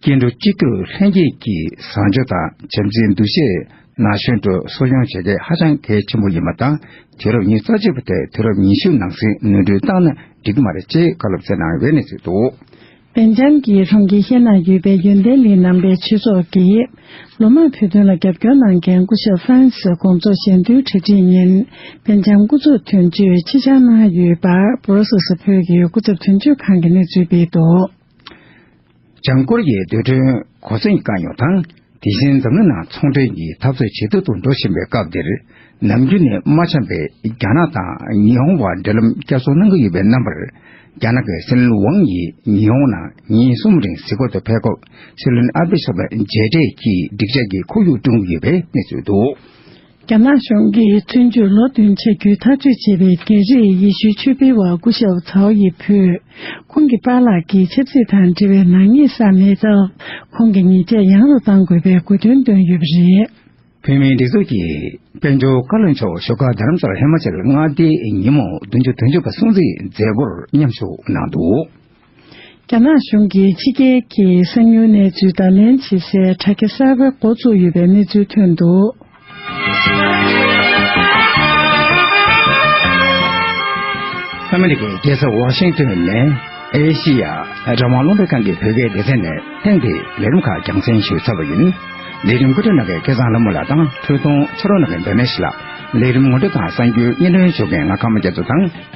སྐྱེ་འགྲོ་སྤྱི་ཐུས་ལྷན་རྒྱས་ཀྱིས་བཟང་སྤྱོད་དང་བྱམས་བརྩེའི་འདུ་ཤེས་ན་གཞོན་འགྲོ་གསོ་སྐྱོང་བྱེད་མཁན་ཧ་ཅང་གལ་ཆེན་པོ་ཡིན་པ་དང་དུས་རབས་ཉིས་རྩ་གཅིག་པ་དེར་དུས་རབས་ཉི་ཤུ་ནང་ཟིང་ནོན་སྐྲུན་བཏང་ན་འགྲིག་གི་མ་རེད་ཅེས་བཀའ་སློབ་སྩལ་གནང་བའི་གནས་ཚུལ་འདུག། བན་འཇམ་གྱིས་ལྷུན་གྱིས་ཤེས་ན་ཡུལ་དཔལ་ཡོན་ལྡན་མི་རྣམ་པའི་ཆོས་ཚོགས་ཀྱི་ལོ་མང་བོད་དོན་ལ་རྒྱབ་སྐྱོར་གནང་མཁན་སྐུ་ཞབས Francis དགོངས་རྫོགས་གཞན་བསྟུན་གྲ་སྒྲིག་ཉིན་བན་འཇམ་སྐུ་ཚབ་དོན་གཅོད་ཕྱི་འཆར་གནང་ཡོད་པར Brussels བོད་ཀྱི་སྐུ་ཚབ་དོན་གཅོད་ཁང་གི་གནས་ཚུལ་སྤེལ་འདུག། ལྗང་ཀོ་རི་ཡའི་རྡུལ་དྲོན་གོ་མཚོན་གྱི་དཀའ་རྙོག་དང་དེ་བཞིན་འཛམ་གླིང་ནང་ཚོང་འབྲེལ་གྱི་འཐབ་རྩོད་ཇེ་སྡུག་ཏུ་འགྲོ་བཞིན་པའི་སྐབས་འདིར་ནམ་རྒྱུན་ནས་མ་འཆམ་པའི་རྒྱ་ནག་དང་ཉི་ཧོང་བར་འབྲེལ་ལམ་བསྐྱར་གསོ་གནང་གི་ཡོད་པའི་རྣམ་པར་རྒྱ་ནག་གི་སྲིད་བློན་ཝང་ཡིས་ཉི་ཧོང་ནང་ཉིན་གསུམ་རིང་གཟིགས་སྐོར་དུ་ཕེབས་སྐབས་སྲིད་བློན་ཨ་བྷེ་སོགས་ལ་མཇལ་འཕྲད་ཀྱིས་འགྲིག་འཇགས་ཀྱི་ཁོར་ཡུག་བསྐྲུན་གྱི་ཡོད་པའི་གནས་ཚུལ་འདུག། རྒྱ་ནག་གཞུང་གིས་བཙོན་འཇུག་ལོ་བདུན་བྱ་རྒྱུའི་ཐག་གཅོད་བྱས་པའི་རྒྱལ་རིགས་ཡེ་ཤུའི་ཆོས་འཕེལ་བ་སྐུ་ཞབས་ཚའོ་ཡི་བུ། ཁོང་གི་པཱ་ལགས་ཀྱིས་ཆབ་སྲིད་དང་འབྲེལ་བའི་ནག་ཉེས་བསགས་མེད་སྟབས་ཁོང་གི་ཉེས་ཆད་ཡང་རུ་གཏང་དགོས་པའི་དགོས་འདུན་བཏོན་ཡོད་པ་རེད། བོད་མིའི་སྒྲིག་འཛུགས་ཀྱི་དཔལ་འབྱོར་བཀའ་བློན་མཆོག་ཞོགས་ཀ་རྡ་རམ་ས་ལ་ཧི་མ་ཅལ་མངའ་སྡེའི་ཉིན་མོ་བདུན་ཅུ་དོན་བཅུ་པ་སྲུང་བརྩིའི་མཛད་སྒོར་མཉམ་ཞུགས་གནང་འདུག། རྒྱ་ནག་གཞུང་གིས་ཕྱི་རྒྱལ་གྱི་གསང་མྱུལ་གནས་ཚུལ་བརྡ་ལེན་བྱེད་སའི་དྲ་རྒྱ་གསར་བའི་མགོ་བཙུགས་ཡོད་པའི་གནས་ཚུལ་ཐོན་འདུག། ཨ་མི་རི་ཀའི་རྒྱལ་ས་ཝ་ཤིང་ཏོན་ནས་ཨེ་ཤེ་ཡ་རང་དབང་སློབ་གླིང་ཁང་གི་བོད་སྐད་སྡེ་ཚན་ནས་ཐེངས་འདིའི་ལས་རིམ་ཁག་རྒྱང་སྲིང་ཞུས་ཚར་བ་ཡིན། ལས་རིམ་སྐུ་ཕྲེང་ནགས་ཀྱི་སྐལ་བཟང་ལྷ་མོ་ལགས་དང་ཁྲི་སྟོང་ཕྱི་རོལ་ནགས་ཀྱི་འདོད་མེད་ལགས། ལས་རིམ་ངོ་སྤྲོད་དང་གསང་རྒྱུའི་སྙན་སྒྲོན་ཞུ་མཁན་ང་ཁམས་རྒྱ་མཚོ་དང།